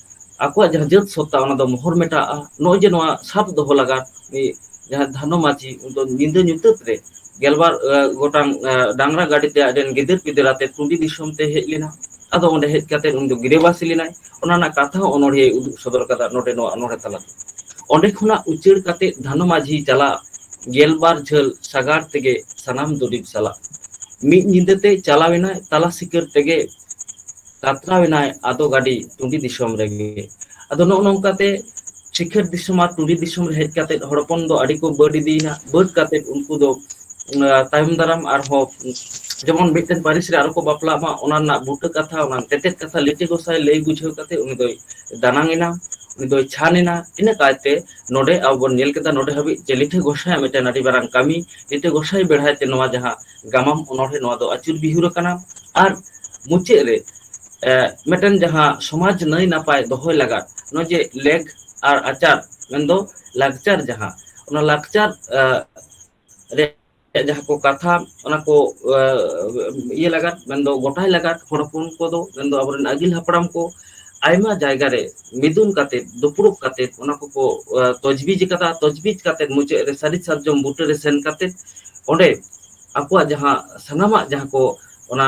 ᱟᱠᱚᱣᱟᱜ ᱡᱟᱦᱟᱸ ᱡᱟᱹᱛ ᱥᱚᱛᱛᱟ ᱚᱱᱟ ᱫᱚ ᱢᱚᱦᱚᱨ ᱢᱮᱴᱟᱜᱼᱟ ᱱᱚᱜᱼᱚᱭ ᱡᱮ ᱱᱚᱣᱟ ᱥᱟᱵ ᱫᱚᱦᱚ ᱞᱟᱜᱟ ᱡᱟᱦᱟᱸ ᱫᱷᱟᱱᱚ ᱢᱟᱹᱡᱷᱤ ᱩᱱᱤ ᱫᱚ ᱧᱤᱫᱟᱹ ᱧᱩᱛᱟᱹᱛ ᱨᱮ ᱜᱮᱞᱵᱟᱨ ᱜᱚᱴᱟᱝ ᱰᱟᱝᱨᱟ ᱜᱟᱹᱰᱤ ᱛᱮ ᱟᱡ ᱨᱮᱱ ᱜᱤᱫᱟᱹᱨ ᱯᱤᱫᱟᱹᱨ ᱟᱛᱮ ᱴᱩᱰᱤ ᱫᱤᱥᱚᱢ ᱛᱮ ᱦᱮᱡ ᱞᱮᱱᱟ ᱟᱫᱚ ᱚᱸᱰᱮ ᱦᱮᱡ ᱠᱟᱛᱮ ᱩᱱᱤ ᱫᱚ ᱜᱤᱨᱟᱹ ᱵᱟᱥᱤ ᱞᱮᱱᱟᱭ ᱚᱱᱟ ᱨᱮᱱᱟᱜ ᱠᱟᱛᱷᱟ ᱦᱚᱸ ᱚᱱᱚᱲᱦᱤᱭᱟᱹ ᱩᱫᱩᱜ ᱥᱚᱫᱚᱨ ᱠᱟᱫᱟ ᱱᱚᱰᱮ ᱱᱚᱣᱟ ᱚᱱᱚᱲᱦᱮ ᱛᱟᱞᱟ ᱛᱮ ᱚᱸᱰᱮ ᱠᱷᱚᱱᱟᱜ ᱩᱪᱟᱹᱲ ᱠᱟᱛᱮ ᱫᱷᱟᱱᱚ ᱢᱟᱹᱡᱷᱤ ᱪᱟᱞᱟᱜ ᱜᱮᱞᱵᱟᱨ ᱡᱷᱟᱹᱞ ᱥᱟᱜᱟᱲ ᱛᱮᱜᱮ ᱥᱟᱱᱟᱢ ᱫᱩᱨᱤᱵᱽ ᱥᱟᱞᱟᱜ ᱢᱤᱫ ᱧᱤᱫᱟᱹ ᱛᱮ ᱪᱟᱞᱟᱣ ᱮᱱᱟᱭ ᱛᱟᱞᱟ ᱥᱤᱠᱟᱹᱨ ᱛᱮᱜᱮ ᱠᱟᱛᱨᱟᱣ ᱮᱱᱟᱭ ᱟᱫᱚ ᱜᱟᱹᱰᱤ ᱴᱩᱸᱰᱤ ᱫᱤᱥᱚᱢ ᱨᱮᱜᱮ ᱟᱫᱚ ᱱᱚᱜᱼᱚ ᱱᱚᱝᱠᱟ ᱛᱮ ᱥᱤᱠᱷᱟᱹᱨ ᱫᱤᱥᱚᱢ ᱟᱨ ᱴᱩᱸᱰᱤ ᱫᱤᱥᱚᱢ ᱨᱮ ᱦᱮᱡ ᱠᱟᱛᱮᱫ ᱦᱚᱲ ᱦᱚᱯᱚᱱ ᱫᱚ ᱟᱹᱰᱤ ᱠᱚ ᱵᱟᱹᱰ ᱤᱫᱤᱭᱮᱱᱟ ᱵᱟᱹᱰ ᱠᱟᱛᱮᱫ ᱩᱱᱠᱩ ᱫᱚ ᱛᱟᱭᱚᱢ ᱫᱟᱨᱟᱢ ᱟᱨᱦᱚᱸ ᱡᱮᱢᱚᱱ ᱢᱤᱫᱴᱮᱱ ᱯᱟᱹᱨᱤᱥ ᱨᱮ ᱟᱨᱚ ᱠᱚ ᱵᱟᱯᱞᱟᱜ ᱢᱟ ᱚᱱᱟ ᱨᱮᱱᱟᱜ ᱵᱩᱴᱟᱹ ᱠᱟᱛᱷᱟ ᱚᱱᱟ ᱛᱮᱛᱮᱫ ᱠᱟᱛᱷᱟ ᱞᱤᱴᱟᱹ ᱜᱚᱸᱥᱟᱭ ᱞᱟᱹᱭ ᱵᱩᱡᱷᱟᱹᱣ ᱠᱟᱛᱮᱫ ᱩᱱᱤ ᱫᱚᱭ ᱫᱟᱱᱟᱝ ᱮᱱᱟ ᱩᱱᱤ ᱫᱚᱭ ᱪᱷᱟᱱ ᱮᱱᱟ ᱤᱱᱟᱹ ᱠᱟᱭᱛᱮ ᱱᱚᱰᱮ ᱟᱵᱚ ᱵᱚᱱ ᱧᱮᱞ ᱠᱮᱫᱟ ᱱᱚᱰᱮ ᱦᱟᱹᱵᱤᱡ ᱡᱮ ᱞᱤᱴᱷᱟᱹ ᱜᱚᱸᱥᱟᱭᱟᱜ ᱢᱤᱫᱴᱮᱱ ᱟᱹᱰᱤ ᱢᱟᱨᱟᱝ ᱠᱟᱹᱢᱤ ᱞᱤᱴᱟᱹ ᱜᱚᱸᱥᱟᱭ ᱵᱮᱲᱦᱟᱭ ᱛᱮ ᱱᱚᱣᱟ ᱡᱟᱦᱟᱸ ᱜᱟᱢᱟᱢ ᱚᱱᱚᱬᱦᱮᱸ ᱱᱚᱣᱟ ᱫᱚ ᱟᱹᱪᱩᱨ ᱵᱤᱦᱩᱨ ᱟᱠᱟᱱᱟ ᱟᱨ ᱢᱩᱪᱟᱹᱫ ᱨᱮ ᱮ ᱢᱤᱫᱴᱮᱱ ᱡᱟᱦᱟᱸ ᱥᱚᱢᱟᱡᱽ ᱱᱟᱹᱭ ᱱᱟᱯᱟᱭ ᱫᱚᱦᱚᱭ ᱞᱟᱜᱟᱫ ᱱᱚᱜᱼᱚᱭ ᱡᱮ ᱞᱮᱠ ᱟᱨ ᱟᱪᱟᱨ ᱢᱮᱱᱫᱚ ᱞᱟᱠᱪᱟᱨ ᱡᱟᱦᱟᱸ ᱚᱱᱟ ᱞᱟᱠᱪᱟᱨ ᱨᱮ ᱡᱟᱦᱟᱸ ᱠᱚ ᱠᱟᱛᱷᱟ ᱚᱱᱟ ᱠᱚ ᱤᱭᱟᱹ ᱞᱟᱜᱟᱫ ᱢᱮᱱᱫᱚ ᱜᱚᱴᱟᱭ ᱞᱟᱜᱟᱫ ᱦᱚᱲ ᱦᱚᱯᱚᱱ ᱠᱚᱫᱚ ᱢᱮᱱᱫᱚ ᱟᱵᱚᱨᱮᱱ ᱟᱹᱜᱤᱞ ᱦᱟᱯᱲᱟᱢ ᱠᱚ ᱟᱭᱢᱟ ᱡᱟᱭᱜᱟ ᱨᱮ ᱢᱤᱫᱩᱱ ᱠᱟᱛᱮᱫ ᱫᱩᱯᱲᱩᱵ ᱠᱟᱛᱮᱫ ᱚᱱᱟ ᱠᱚᱠᱚ ᱛᱚᱡᱽᱵᱤᱡ ᱟᱠᱟᱫᱟ ᱛᱚᱡᱽᱵᱤᱡ ᱠᱟᱛᱮᱫ ᱢᱩᱪᱟᱹᱫ ᱨᱮ ᱥᱟᱹᱨᱤ ᱥᱟᱨᱡᱚᱢ ᱵᱩᱴᱟᱹᱨ ᱨᱮ ᱥᱮᱱ ᱠᱟᱛᱮᱫ ᱚᱸᱰᱮ ᱟᱠᱚᱣᱟᱜ ᱡᱟᱦᱟᱸ ᱥᱟᱱᱟᱢᱟᱜ ᱡᱟᱦᱟᱸ ᱠᱚ ᱚᱱᱟ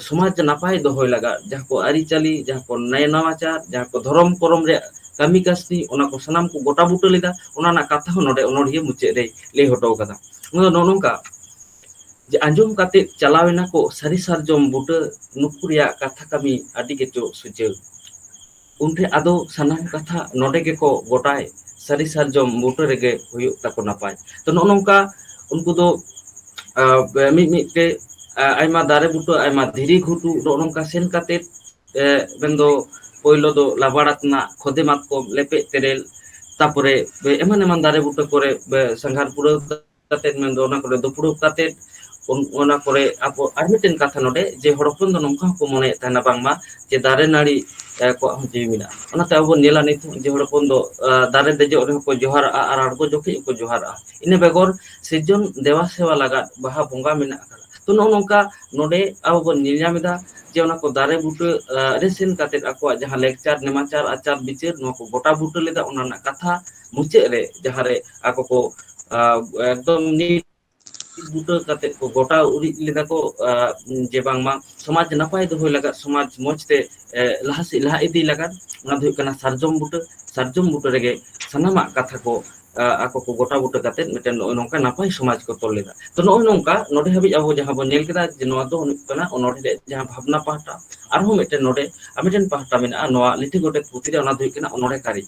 ᱥᱚᱢᱟᱡᱽ ᱱᱟᱯᱟᱭ ᱫᱚᱦᱚᱭ ᱞᱟᱜᱟᱫ ᱡᱟᱦᱟᱸ ᱠᱚ ᱟᱹᱨᱤᱪᱟᱹᱞᱤ ᱡᱟᱦᱟᱸ ᱠᱚ ᱱᱟᱭ ᱱᱟᱣᱟ ᱡᱟᱦᱟᱸ ᱠᱚ ᱫᱷᱚᱨᱚᱢ ᱠᱚᱨᱚᱢ ᱨᱮᱭᱟᱜ ᱠᱟᱹᱢᱤ ᱠᱟᱹᱥᱱᱤ ᱚᱱᱟ ᱠᱚ ᱥᱟᱱᱟᱢ ᱠᱚ ᱜᱚᱴᱟ ᱵᱩᱴᱟᱹ ᱞᱮᱫᱟ ᱚᱱᱟ ᱨᱮᱱᱟᱜ ᱠᱟᱛᱷᱟ ᱦᱚᱸ ᱱᱚᱰᱮ ᱚᱱᱚᱲᱦᱤᱭᱟᱹ ᱢᱩᱪᱟᱹᱫ ᱨᱮᱭ ᱞᱟᱹᱭ ᱦᱚᱴᱚ ᱠᱟᱫᱟ ᱚᱱᱟ ᱫᱚ ᱱᱚᱜᱼᱚ ᱱᱚᱝᱠᱟ ᱡᱮ ᱟᱸᱡᱚᱢ ᱠᱟᱛᱮᱫ ᱪᱟᱞᱟᱣ ᱮᱱᱟ ᱠᱚ ᱥᱟᱹᱨᱤ ᱥᱟᱨᱡᱚᱢ ᱵᱩᱴᱟᱹ ᱱᱩᱠᱩ ᱨᱮᱭᱟᱜ ᱠᱟᱛᱷᱟ ᱠᱟᱹᱢᱤ ᱟᱹᱰᱤ ᱜᱮᱪᱚ ᱥᱩᱪᱟᱹᱨ ᱩᱱ ᱴᱷᱮᱱ ᱟᱫᱚ ᱥᱟᱱᱟᱢ ᱠᱟᱛᱷᱟ ᱱᱚᱰᱮ ᱜᱮᱠᱚ ᱜᱚᱴᱟᱭ ᱥᱟᱹᱨᱤ ᱥᱟᱨᱡᱚᱢ ᱵᱩᱴᱟᱹ ᱨᱮᱜᱮ ᱦᱩᱭᱩᱜ ᱛᱟᱠᱚ ᱱᱟᱯᱟᱭ ᱛᱚ ᱱᱚᱜᱼᱚ ᱱᱚᱝᱠᱟ ᱩᱱᱠᱩ ᱫᱚ ᱢᱤᱫ ᱢᱤᱫ ᱛᱮ ᱟᱭᱢᱟ ᱫᱟᱨᱮ ᱵᱩᱴᱟᱹ ᱟᱭᱢᱟ ᱫᱷᱤᱨᱤ ᱜᱷᱩᱴᱩ ᱱᱚᱜᱼᱚ ᱱᱚᱝᱠᱟ ᱥᱮᱱ ᱠᱟᱛᱮᱫ ᱮ ᱢᱮᱱ ᱫᱚ ᱯᱳᱭᱞᱳ ᱫᱚ ᱞᱟᱵᱟᱲ ᱟᱛᱱᱟᱜ ᱠᱷᱚᱫᱮ ᱢᱟᱛᱠᱚᱢ ᱞᱮᱯᱮᱡ ᱛᱮᱨᱮᱞ ᱛᱟᱯᱚᱨᱮ ᱮᱢᱟᱱ ᱮᱢᱟᱱ ᱫᱟᱨᱮ ᱵᱩᱴᱟᱹ ᱠᱚᱨᱮ ᱥᱟᱸᱜᱷᱟᱨ ᱯᱩᱨᱟᱹᱣ ᱠᱟᱛᱮᱫ ᱢᱮᱱᱫᱚ ᱚᱱᱟ ᱠᱚᱨᱮ ᱫᱩᱯᱲᱩᱵ ᱠᱟᱛᱮᱫ ᱚᱱᱟ ᱠᱚᱨᱮ ᱟᱵᱚ ᱟᱨ ᱢᱤᱫᱴᱮᱱ ᱠᱟᱛᱷᱟ ᱱᱚᱰᱮ ᱡᱮ ᱦᱚᱲ ᱦᱚᱯᱚᱱ ᱫᱚ ᱱᱚᱝᱠᱟ ᱦᱚᱸᱠᱚ ᱢᱚᱱᱮᱭᱮᱫ ᱛᱟᱦᱮᱱᱟ ᱵᱟᱝᱢᱟ ᱡᱮ ᱫᱟᱨᱮ ᱱᱟᱹᱲᱤ ᱠᱚᱣᱟᱜ ᱦᱚᱸ ᱡᱤᱣᱤ ᱢᱮᱱᱟᱜᱼᱟ ᱚᱱᱟᱛᱮ ᱟᱵᱚ ᱵᱚᱱ ᱧᱮᱞᱟ ᱱᱤᱛ ᱡᱮ ᱦᱚᱲ ᱦᱚᱯᱚᱱ ᱫᱚ ᱫᱟᱨᱮ ᱫᱮᱡᱚᱜ ᱨᱮᱦᱚᱸ ᱠᱚ ᱡᱚᱦᱟᱨᱟᱜᱼᱟ ᱟᱨ ᱟᱬᱜᱚ ᱡᱚᱠᱷᱮᱡ ᱦᱚᱸᱠᱚ ᱡᱚᱦᱟᱨᱟᱜᱼᱟ ᱤᱱᱟᱹ ᱵᱮᱜᱚᱨ ᱥᱤᱨᱡᱚᱱ ᱫᱮᱵᱟ ᱥᱮᱵᱟ ᱞᱟᱜᱟᱫ ᱵᱟᱦᱟ ᱵᱚᱸᱜᱟ ᱢᱮᱱᱟᱜ ᱟᱠᱟᱫᱟ ᱛᱚ ᱱᱚᱜᱼᱚ ᱱᱚᱝᱠᱟ ᱱᱚᱰᱮ ᱟᱵᱚ ᱵᱚᱱ ᱧᱮᱞ ᱧᱟᱢ ᱮᱫᱟ ᱡᱮ ᱚᱱᱟ ᱠᱚ ᱫᱟᱨᱮ ᱵᱩᱴᱟᱹ ᱨᱮ ᱥᱮᱱ ᱠᱟᱛᱮᱫ ᱟᱠᱚᱣᱟᱜ ᱡᱟᱦᱟᱸ ᱞᱮᱠᱪᱟᱨ ᱱᱮᱢᱟᱪᱟᱨ ᱟᱪᱟᱨ ᱵᱤᱪᱟᱹᱨ ᱱᱚᱣᱟ ᱠᱚ ᱜᱚᱴᱟ ᱵᱩᱴᱟᱹ ᱞᱮᱫᱟ ᱚᱱᱟ ᱨᱮᱱᱟᱜ ᱠᱟᱛᱷᱟ ᱢᱩᱪᱟᱹᱫ ᱨᱮ ᱡᱟᱦᱟᱸ ᱨᱮ ᱟᱠᱚ ᱠᱚ ᱮᱠᱫᱚᱢ ᱱᱤᱴ ᱢᱤᱫ ᱵᱩᱴᱟᱹ ᱠᱟᱛᱮᱫ ᱠᱚ ᱜᱚᱴᱟ ᱩᱨᱤᱡ ᱞᱮᱫᱟ ᱠᱚ ᱡᱮ ᱵᱟᱝᱢᱟ ᱥᱚᱢᱟᱡᱽ ᱱᱟᱯᱟᱭ ᱫᱚᱦᱚᱭ ᱞᱟᱜᱟᱫ ᱥᱚᱢᱟᱡᱽ ᱢᱚᱡᱽ ᱛᱮ ᱞᱟᱦᱟ ᱥᱮᱫ ᱞᱟᱦᱟ ᱤᱫᱤ ᱞᱟᱜᱟᱫ ᱚᱱᱟ ᱫᱚ ᱦᱩᱭᱩᱜ ᱠᱟᱱᱟ ᱥᱟᱨᱡᱚᱢ ᱵᱩᱴᱟᱹ ᱥᱟᱨᱡᱚᱢ ᱵᱩᱴᱟᱹ ᱨᱮᱜᱮ ᱥᱟᱱᱟᱢᱟᱜ ᱠᱟᱛᱷᱟ ᱠᱚ ᱟᱠᱚ ᱠᱚ ᱜᱚᱴᱟ ᱵᱩᱴᱟᱹ ᱠᱟᱛᱮᱫ ᱢᱤᱫᱴᱮᱱ ᱱᱚᱜᱼᱚᱭ ᱱᱚᱝᱠᱟ ᱱᱟᱯᱟᱭ ᱥᱚᱢᱟᱡᱽ ᱠᱚ ᱛᱚᱞ ᱞᱮᱫᱟ ᱛᱚ ᱱᱚᱜᱼᱚᱭ ᱱᱚᱝᱠᱟ ᱱᱚᱰᱮ ᱦᱟᱹᱵᱤᱡ ᱟᱵᱚ ᱡᱟᱦᱟᱸ ᱵᱚᱱ ᱧᱮᱞ ᱠᱮᱫᱟ ᱡᱮ ᱱᱚᱣᱟ ᱫᱚ ᱦᱩᱭᱩᱜ ᱠᱟᱱᱟ ᱚᱱᱚᱲᱦᱮ ᱡᱟᱦᱟᱸ ᱵᱷᱟᱵᱽᱱᱟ ᱯᱟᱦᱴᱟ ᱟᱨᱦᱚᱸ ᱢᱤᱫᱴᱮᱱ ᱱᱚᱰᱮ ᱟᱨ ᱢᱤᱫᱴᱮᱱ ᱯᱟᱦᱴᱟ ᱢᱮᱱᱟᱜᱼᱟ ᱱᱚᱣᱟ ᱞᱤᱴᱷᱤ ᱜᱚᱰᱮᱛ ᱯᱩᱛᱷᱤ ᱨᱮ ᱚᱱᱟ ᱫᱚ ᱦᱩᱭᱩᱜ ᱠᱟᱱᱟ ᱚᱱᱚᱲᱦᱮ ᱠᱟᱹᱨᱤ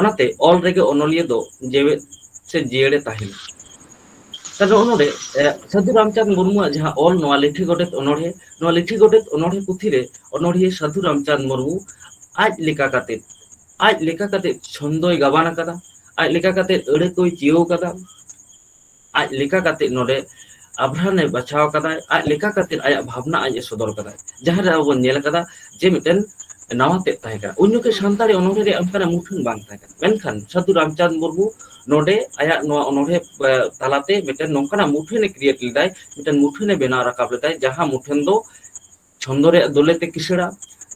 ᱚᱱᱟᱛᱮ ᱚᱞ ᱨᱮᱜᱮ ᱚᱱᱚᱞᱤᱭᱟᱹ ᱫᱚ ᱡᱮᱣᱮᱫ ᱥᱮ ᱡᱤᱭᱟᱹᱲᱮ ᱛᱟᱦᱮᱱᱟ ᱛᱟᱦᱞᱮ ᱱᱚᱜᱼᱚ ᱱᱚᱰᱮ ᱥᱟᱹᱫᱷᱩ ᱨᱟᱢᱪᱟᱸᱫᱽ ᱢᱩᱨᱢᱩᱣᱟᱜ ᱡᱟᱦᱟᱸ ᱚᱞ ᱱᱚᱣᱟ ᱞᱤᱴᱷᱤ ᱜᱚᱰᱮᱛ ᱚᱱᱚᱲᱦᱮ ᱱᱚᱣᱟ ᱞᱤᱴᱷᱤ ᱜᱚᱰᱮᱛ ᱚᱱᱚᱲᱦᱮ ᱯᱩᱛᱷᱤ ᱨᱮ ᱚᱱᱚᱲᱦᱤᱭᱟᱹ ᱥᱟᱹᱫᱷᱩ ᱨᱟᱢᱪᱟᱸᱫᱽ ᱢᱩᱨᱢᱩ ᱟᱡ ᱞᱮᱠᱟ ᱠᱟᱛᱮᱫ ᱟᱡ ᱞᱮᱠᱟ ᱠᱟᱛᱮᱫ ᱪᱷᱚᱱᱫᱚᱭ ᱜᱟᱵᱟᱱ ᱟᱠᱟᱫᱟ ᱟᱡ ᱞᱮᱠᱟ ᱠᱟᱛᱮᱜ ᱟᱹᱲᱟᱹ ᱠᱚᱭ ᱪᱤᱭᱟᱹᱣ ᱟᱠᱟᱫᱟ ᱟᱡ ᱞᱮᱠᱟ ᱠᱟᱛᱮᱜ ᱱᱚᱰᱮ ᱟᱵᱷᱨᱟᱱᱮ ᱵᱟᱪᱷᱟᱣ ᱟᱠᱟᱫᱟᱭ ᱟᱡ ᱞᱮᱠᱟ ᱠᱟᱛᱮᱜ ᱟᱭᱟᱜ ᱵᱷᱟᱵᱽᱱᱟ ᱟᱡ ᱮ ᱥᱚᱫᱚᱨ ᱠᱟᱫᱟᱭ ᱡᱟᱦᱟᱸ ᱨᱮ ᱟᱵᱚ ᱵᱚᱱ ᱧᱮᱞ ᱠᱟᱫᱟ ᱡᱮ ᱢᱤᱫᱴᱮᱱ ᱱᱟᱣᱟ ᱛᱮᱫ ᱛᱟᱦᱮᱸ ᱠᱟᱱᱟ ᱩᱱ ᱡᱚᱠᱷᱮᱡ ᱦᱩᱸ ᱥᱟᱱᱛᱟᱲᱤ ᱚᱱᱚᱲᱦᱮ ᱨᱮᱭᱟᱜ ᱚᱱᱠᱟᱱᱟᱜ ᱢᱩᱴᱷᱟᱹᱱ ᱵᱟᱝ ᱛᱟᱦᱮᱸ ᱠᱟᱱᱟ ᱢᱮᱱᱠᱷᱟᱱ ᱥᱟᱹᱫᱷᱩ ᱨᱟᱢᱪᱟᱸᱫᱽ ᱢᱩᱨᱢᱩ ᱱᱚᱰᱮ ᱟᱭᱟᱜ ᱱᱚᱣᱟ ᱚᱱᱚᱲᱦᱮ ᱛᱟᱞᱟᱛᱮ ᱢᱤᱫᱴᱮᱱ ᱱᱚᱝᱠᱟᱱᱟᱜ ᱢᱩᱴᱷᱟᱹᱱᱮ ᱠᱨᱤᱭᱮᱴ ᱞᱮᱫᱟᱭ ᱢᱤᱫᱴᱮᱱ ᱢᱩᱴᱷᱟᱹᱱᱮ ᱵᱮᱱᱟᱣ ᱨᱟᱠᱟᱵ ᱞᱮᱫᱟᱭ ᱡᱟᱦᱟᱸ ᱢᱩᱴᱷᱟᱹᱱ ᱫᱚ ᱪᱷᱚᱱᱫᱚ ᱨᱮᱭᱟᱜ ᱫᱳᱞᱮ ᱛᱮ ᱠᱤᱥᱟᱹᱬᱟ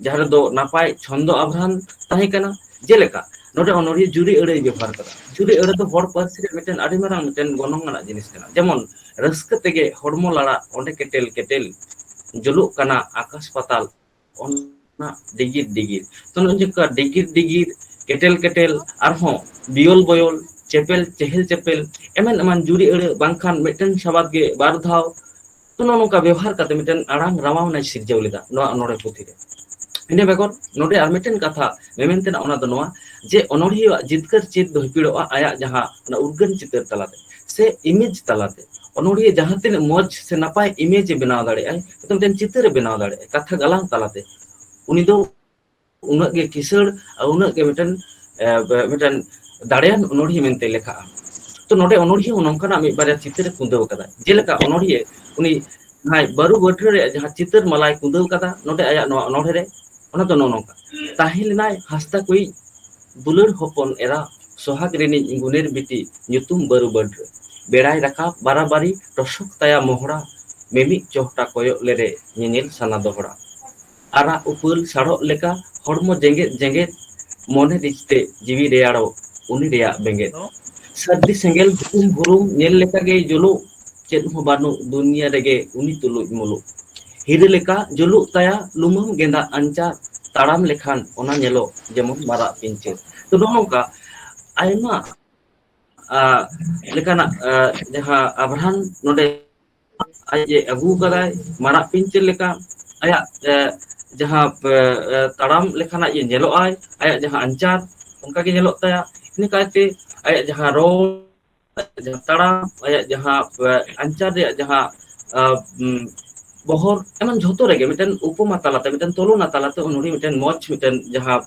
ᱡᱟᱦᱟᱸ ᱨᱮᱫᱚ ᱱᱟᱯᱟᱭ ᱪᱷᱚᱱᱫᱚ ᱟᱵᱷᱨᱟᱱ ᱛᱟᱦᱮᱸ ᱠᱟᱱᱟ ᱡᱮᱞᱮᱠᱟ ᱱᱚᱰᱮ ᱚᱱᱚᱲᱦᱤᱭᱟᱹ ᱡᱩᱨᱤ ᱟᱹᱲᱟᱹᱭ ᱵᱮᱵᱚᱦᱟᱨ ᱠᱟᱫᱟ ᱡᱩᱨᱤ ᱟᱹᱲᱟᱹ ᱫᱚ ᱦᱚᱲ ᱯᱟᱹᱨᱥᱤ ᱨᱮ ᱢᱤᱫᱴᱮᱱ ᱟᱹᱰᱤ ᱢᱟᱨᱟᱝ ᱢᱤᱫᱴᱮᱱ ᱜᱚᱱᱚᱝ ᱟᱱᱟᱜ ᱡᱤᱱᱤᱥ ᱠᱟᱱᱟ ᱡᱮᱢᱚᱱ ᱨᱟᱹᱥᱠᱟᱹ ᱛᱮᱜᱮ ᱦᱚᱲᱢᱚ ᱞᱟᱲᱟᱜ ᱚᱸᱰᱮ ᱠᱮᱴᱮᱞ ᱠᱮᱴᱮᱞ ᱡᱩᱞᱩᱜ ᱠᱟᱱᱟ ᱟᱠᱟᱥ ᱯᱟᱛᱟᱞ ᱚᱱᱟ ᱰᱤᱜᱤᱨ ᱰᱤᱜᱤᱨ ᱛᱚ ᱱᱚᱜᱼᱚᱭ ᱡᱮ ᱱᱚᱝᱠᱟ ᱰᱤᱜᱤᱨ ᱰᱤᱜᱤᱨ ᱠᱮᱴᱮᱞ ᱠᱮᱴᱮᱞ ᱟᱨᱦᱚᱸ ᱵᱤᱭᱚᱞ ᱵᱚᱭᱚᱞ ᱪᱮᱯᱮᱞ ᱪᱮᱦᱮᱞ ᱪᱮᱯᱮᱞ ᱮᱢᱟᱱ ᱮᱢᱟᱱ ᱡᱩᱨᱤ ᱟᱹᱲᱟᱹ ᱵᱟᱝᱠᱷᱟᱱ ᱢᱤᱫᱴᱮᱱ ᱥᱟᱵᱟᱫ ᱜᱮ ᱵᱟᱨ ᱫᱷᱟᱣ ᱛᱚ ᱱᱚᱜᱼᱚ ᱱᱚᱝᱠᱟ ᱵᱮᱵᱚᱦᱟᱨ ᱠᱟᱛᱮ ᱢᱤᱫᱴᱮᱱ ᱟᱲᱟᱝ ᱨᱟᱣᱟᱞᱱᱟᱭ ᱥᱤᱨᱡᱟᱹᱣ ᱞᱮᱫᱟ ᱱᱚᱣᱟ ᱚᱱᱚᱲᱦᱮ ᱯᱩᱛᱷᱤ ᱨᱮ ᱤᱱᱟᱹ ᱵᱮᱜᱚᱨ ᱱᱚᱰᱮ ᱟᱨ ᱢᱤᱫᱴᱮᱱ ᱠᱟᱛᱷᱟ ᱢᱮᱢᱮᱱ ᱛᱮᱱᱟᱜ ᱚᱱᱟ ᱫᱚ ᱱᱚᱣᱟ ᱡᱮ ᱚᱱᱚᱲᱦᱤᱭᱟᱹ ᱟᱜ ᱡᱤᱛᱠᱟᱹᱨ ᱪᱮᱫ ᱫᱚ ᱦᱤᱯᱤᱲᱚᱜᱼᱟ ᱟᱭᱟᱜ ᱡᱟᱦᱟᱸ ᱚᱱᱟ ᱩᱨᱜᱟᱹᱱ ᱪᱤᱛᱟᱹᱨ ᱛᱟᱞᱟᱛᱮ ᱥᱮ ᱤᱢᱮᱡᱽ ᱛᱟᱞᱟᱛᱮ ᱚᱱᱚᱲᱦᱤᱭᱟᱹ ᱡᱟᱦᱟᱸ ᱛᱤᱱᱟᱹᱜ ᱢᱚᱸᱡᱽ ᱥᱮ ᱱᱟᱯᱟᱭ ᱤᱢᱮᱡᱽ ᱮ ᱵᱮᱱᱟᱣ ᱫᱟᱲᱮᱭᱟᱜᱼᱟᱭ ᱢᱤᱫᱴᱮᱱ ᱪᱤᱛᱟᱹᱨ ᱮ ᱵᱮᱱᱟᱣ ᱫᱟᱲᱮᱭᱟᱜᱼᱟ ᱠᱟᱛᱷᱟ ᱜᱟᱞᱟᱝ ᱛᱟᱞᱟᱛᱮ ᱩᱱᱤ ᱫᱚ ᱩᱱᱟᱹᱜ ᱜᱮ ᱠᱤᱥᱟᱹᱬ ᱟᱨ ᱩᱱᱟᱹᱜ ᱜᱮ ᱢᱤᱫᱴᱮᱱ ᱢᱤᱫᱴᱮᱱ ᱫᱟᱲᱮᱭᱟᱱ ᱚᱱᱚᱲᱦᱤ ᱢᱮᱱᱛᱮ ᱞᱮᱠᱷᱟᱜᱼᱟ ᱛᱚ ᱱᱚᱰᱮ ᱚᱱᱚᱲᱦᱤ ᱦᱚᱸ ᱱᱚᱝᱠᱟᱱᱟᱜ ᱢᱤᱫ ᱵᱟᱨᱭᱟ ᱪᱤᱛᱟᱹᱨ ᱮ ᱠᱩᱸᱫᱟᱹᱣ ᱟᱠᱟᱫᱟ ᱡᱮᱞᱮᱠᱟ ᱚᱱᱚᱲᱦᱤᱭᱟᱹ ᱩᱱᱤ ᱡᱟᱦᱟᱸᱭ ᱵᱟᱹᱨᱩ ᱵᱟᱹᱴᱷᱟᱹ ᱨᱮᱭᱟᱜ ᱡᱟᱦᱟᱸ ᱪᱤᱛᱟᱹᱨ ᱢᱟᱞᱟᱭ ᱠᱩᱫᱟᱹᱣ ᱠᱟᱫᱟ ᱱᱚᱰᱮ ᱟᱭᱟᱜ ᱱᱚᱣᱟ ᱚᱱᱚᱲᱦᱮ ᱨᱮ ᱚᱱᱟ ᱫᱚ ᱱᱚᱜᱼᱚ ᱱᱚᱝᱠᱟ ᱛᱟᱦᱮᱸ ᱞᱮᱱᱟᱭ ᱦᱟᱸᱥᱫᱟ ᱠᱚᱭᱤᱡ ᱫᱩᱞᱟᱹᱲ ᱦᱚᱯᱚᱱ ᱮᱨᱟ ᱥᱚᱦᱟᱜᱽ ᱨᱤᱱᱤᱡ ᱜᱩᱱᱮᱨ ᱵᱤᱴᱤ ᱧᱩᱛᱩᱢ ᱵᱟᱹᱨᱩ ᱵᱟᱹᱰᱨᱟᱹ ᱵᱮᱲᱟᱭ ᱨᱟᱠᱟᱵ ᱵᱟᱨᱟᱵᱟᱹᱨᱤ ᱴᱚᱥᱚᱠ ᱛᱟᱭᱟ ᱢᱚᱦᱚᱲᱟ ᱢᱤᱢᱤᱫ ᱪᱚᱦᱴᱟ ᱠᱚᱭᱚᱜ ᱞᱮᱨᱮ ᱧᱮᱧᱮᱞ ᱥᱟᱱᱟ ᱫᱚᱦᱚᱲᱟ ᱟᱨᱟᱜ ᱩᱯᱟᱹᱞ ᱥᱟᱲᱚᱜ ᱞᱮᱠᱟ ᱦᱚᱲᱢᱚ ᱡᱮᱸᱜᱮᱫ ᱡᱮᱸᱜᱮᱫ ᱢᱚᱱᱮ ᱨᱤᱡ ᱛᱮ ᱡᱤᱣᱤ ᱨᱮᱭᱟᱲᱚᱜ ᱩᱱᱤ ᱨᱮᱭᱟᱜ ᱵᱮᱸᱜᱮᱫ ᱥᱟᱹᱨᱫᱤ ᱥᱮᱸᱜᱮᱞ ᱦᱩᱯᱩᱢ ᱵᱩᱨᱩᱢ ᱧᱮᱞ ᱞᱮᱠᱟ ᱜᱮᱭ ᱡᱩᱞᱩᱜ ᱪᱮᱫ ᱦᱚᱸ ᱵᱟᱹᱱᱩᱜ ᱫᱩᱱᱤᱭᱟᱹ ᱨᱮᱜᱮ ᱩᱱᱤ ᱛᱩᱞᱩᱡ ᱢᱩᱞᱩᱜ ᱦᱤᱨᱟᱹ ᱞᱮᱠᱟ ᱡᱩᱞᱩᱜ ᱛᱟᱭᱟ ᱞᱩᱢᱟᱹᱝ ᱜᱮᱸᱫᱟᱜ ᱟᱧᱪᱟᱨ ᱛᱟᱲᱟᱢ ᱞᱮᱠᱷᱟᱱ ᱚᱱᱟ ᱧᱮᱞᱚᱜ ᱡᱮᱢᱚᱱ ᱢᱟᱨᱟᱜ ᱯᱤᱧᱪᱟᱹᱨ ᱛᱚ ᱱᱚᱜᱼᱚ ᱱᱚᱝᱠᱟ ᱟᱭᱢᱟ ᱟᱜ ᱞᱮᱠᱟᱱᱟᱜ ᱡᱟᱦᱟᱸ ᱟᱵᱷᱨᱟᱱ ᱱᱚᱰᱮ ᱟᱡ ᱮ ᱟᱹᱜᱩ ᱟᱠᱟᱫᱟᱭ ᱢᱟᱨᱟᱜ ᱯᱤᱧᱪᱟᱹᱨ ᱞᱮᱠᱟ ᱟᱭᱟᱜ ᱮ ᱡᱟᱦᱟᱸ ᱛᱟᱲᱟᱢ ᱞᱮᱠᱷᱟᱱ ᱟᱡ ᱮ ᱧᱮᱞᱚᱜ ᱟᱭ ᱟᱭᱟᱜ ᱡᱟᱦᱟᱸ ᱟᱧᱪᱟᱨ ᱚᱱᱠᱟ ᱜᱮ ᱧᱮᱞᱚᱜ ᱛᱟᱭᱟ ᱤᱱᱟᱹ ᱠᱟᱭᱛᱮ ᱟᱭᱟᱜ ᱡᱟᱦᱟᱸ ᱨᱚᱲ ᱡᱟᱦᱟᱸ ᱛᱟᱲᱟᱢ ᱟᱭᱟᱜ ᱡᱟᱦᱟᱸ ᱟᱧᱪᱟᱨ ᱨᱮᱭᱟᱜ ᱡᱟᱦᱟᱸ ᱵᱚᱦᱚᱨ ᱮᱢᱚᱱ ᱡᱷᱚᱛᱚ ᱨᱮᱜᱮ ᱢᱤᱫᱴᱮᱱ ᱩᱯᱚᱢᱟ ᱛᱟᱞᱟᱛᱮ ᱢᱤᱫᱴᱮᱱ ᱛᱩᱞᱚᱱᱟ ᱛᱟᱞᱟᱛᱮ ᱩᱱᱤ ᱢᱤᱫᱴᱮᱱ ᱢᱚᱡᱽ ᱢᱤᱫᱴᱮᱱ ᱡᱟᱦᱟᱸ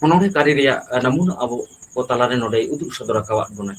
ᱚᱱᱚᱲᱦᱮ ᱠᱟᱹᱨᱤ ᱨᱮᱭᱟᱜ ᱱᱟᱢᱩᱱᱟ ᱟᱵᱚ ᱠᱚ ᱛᱟᱞᱟᱨᱮ ᱱᱚᱰᱮ ᱩᱫᱩᱜ ᱥᱚᱫᱚᱨ ᱟᱠᱟᱫ ᱵᱚᱱᱟᱭ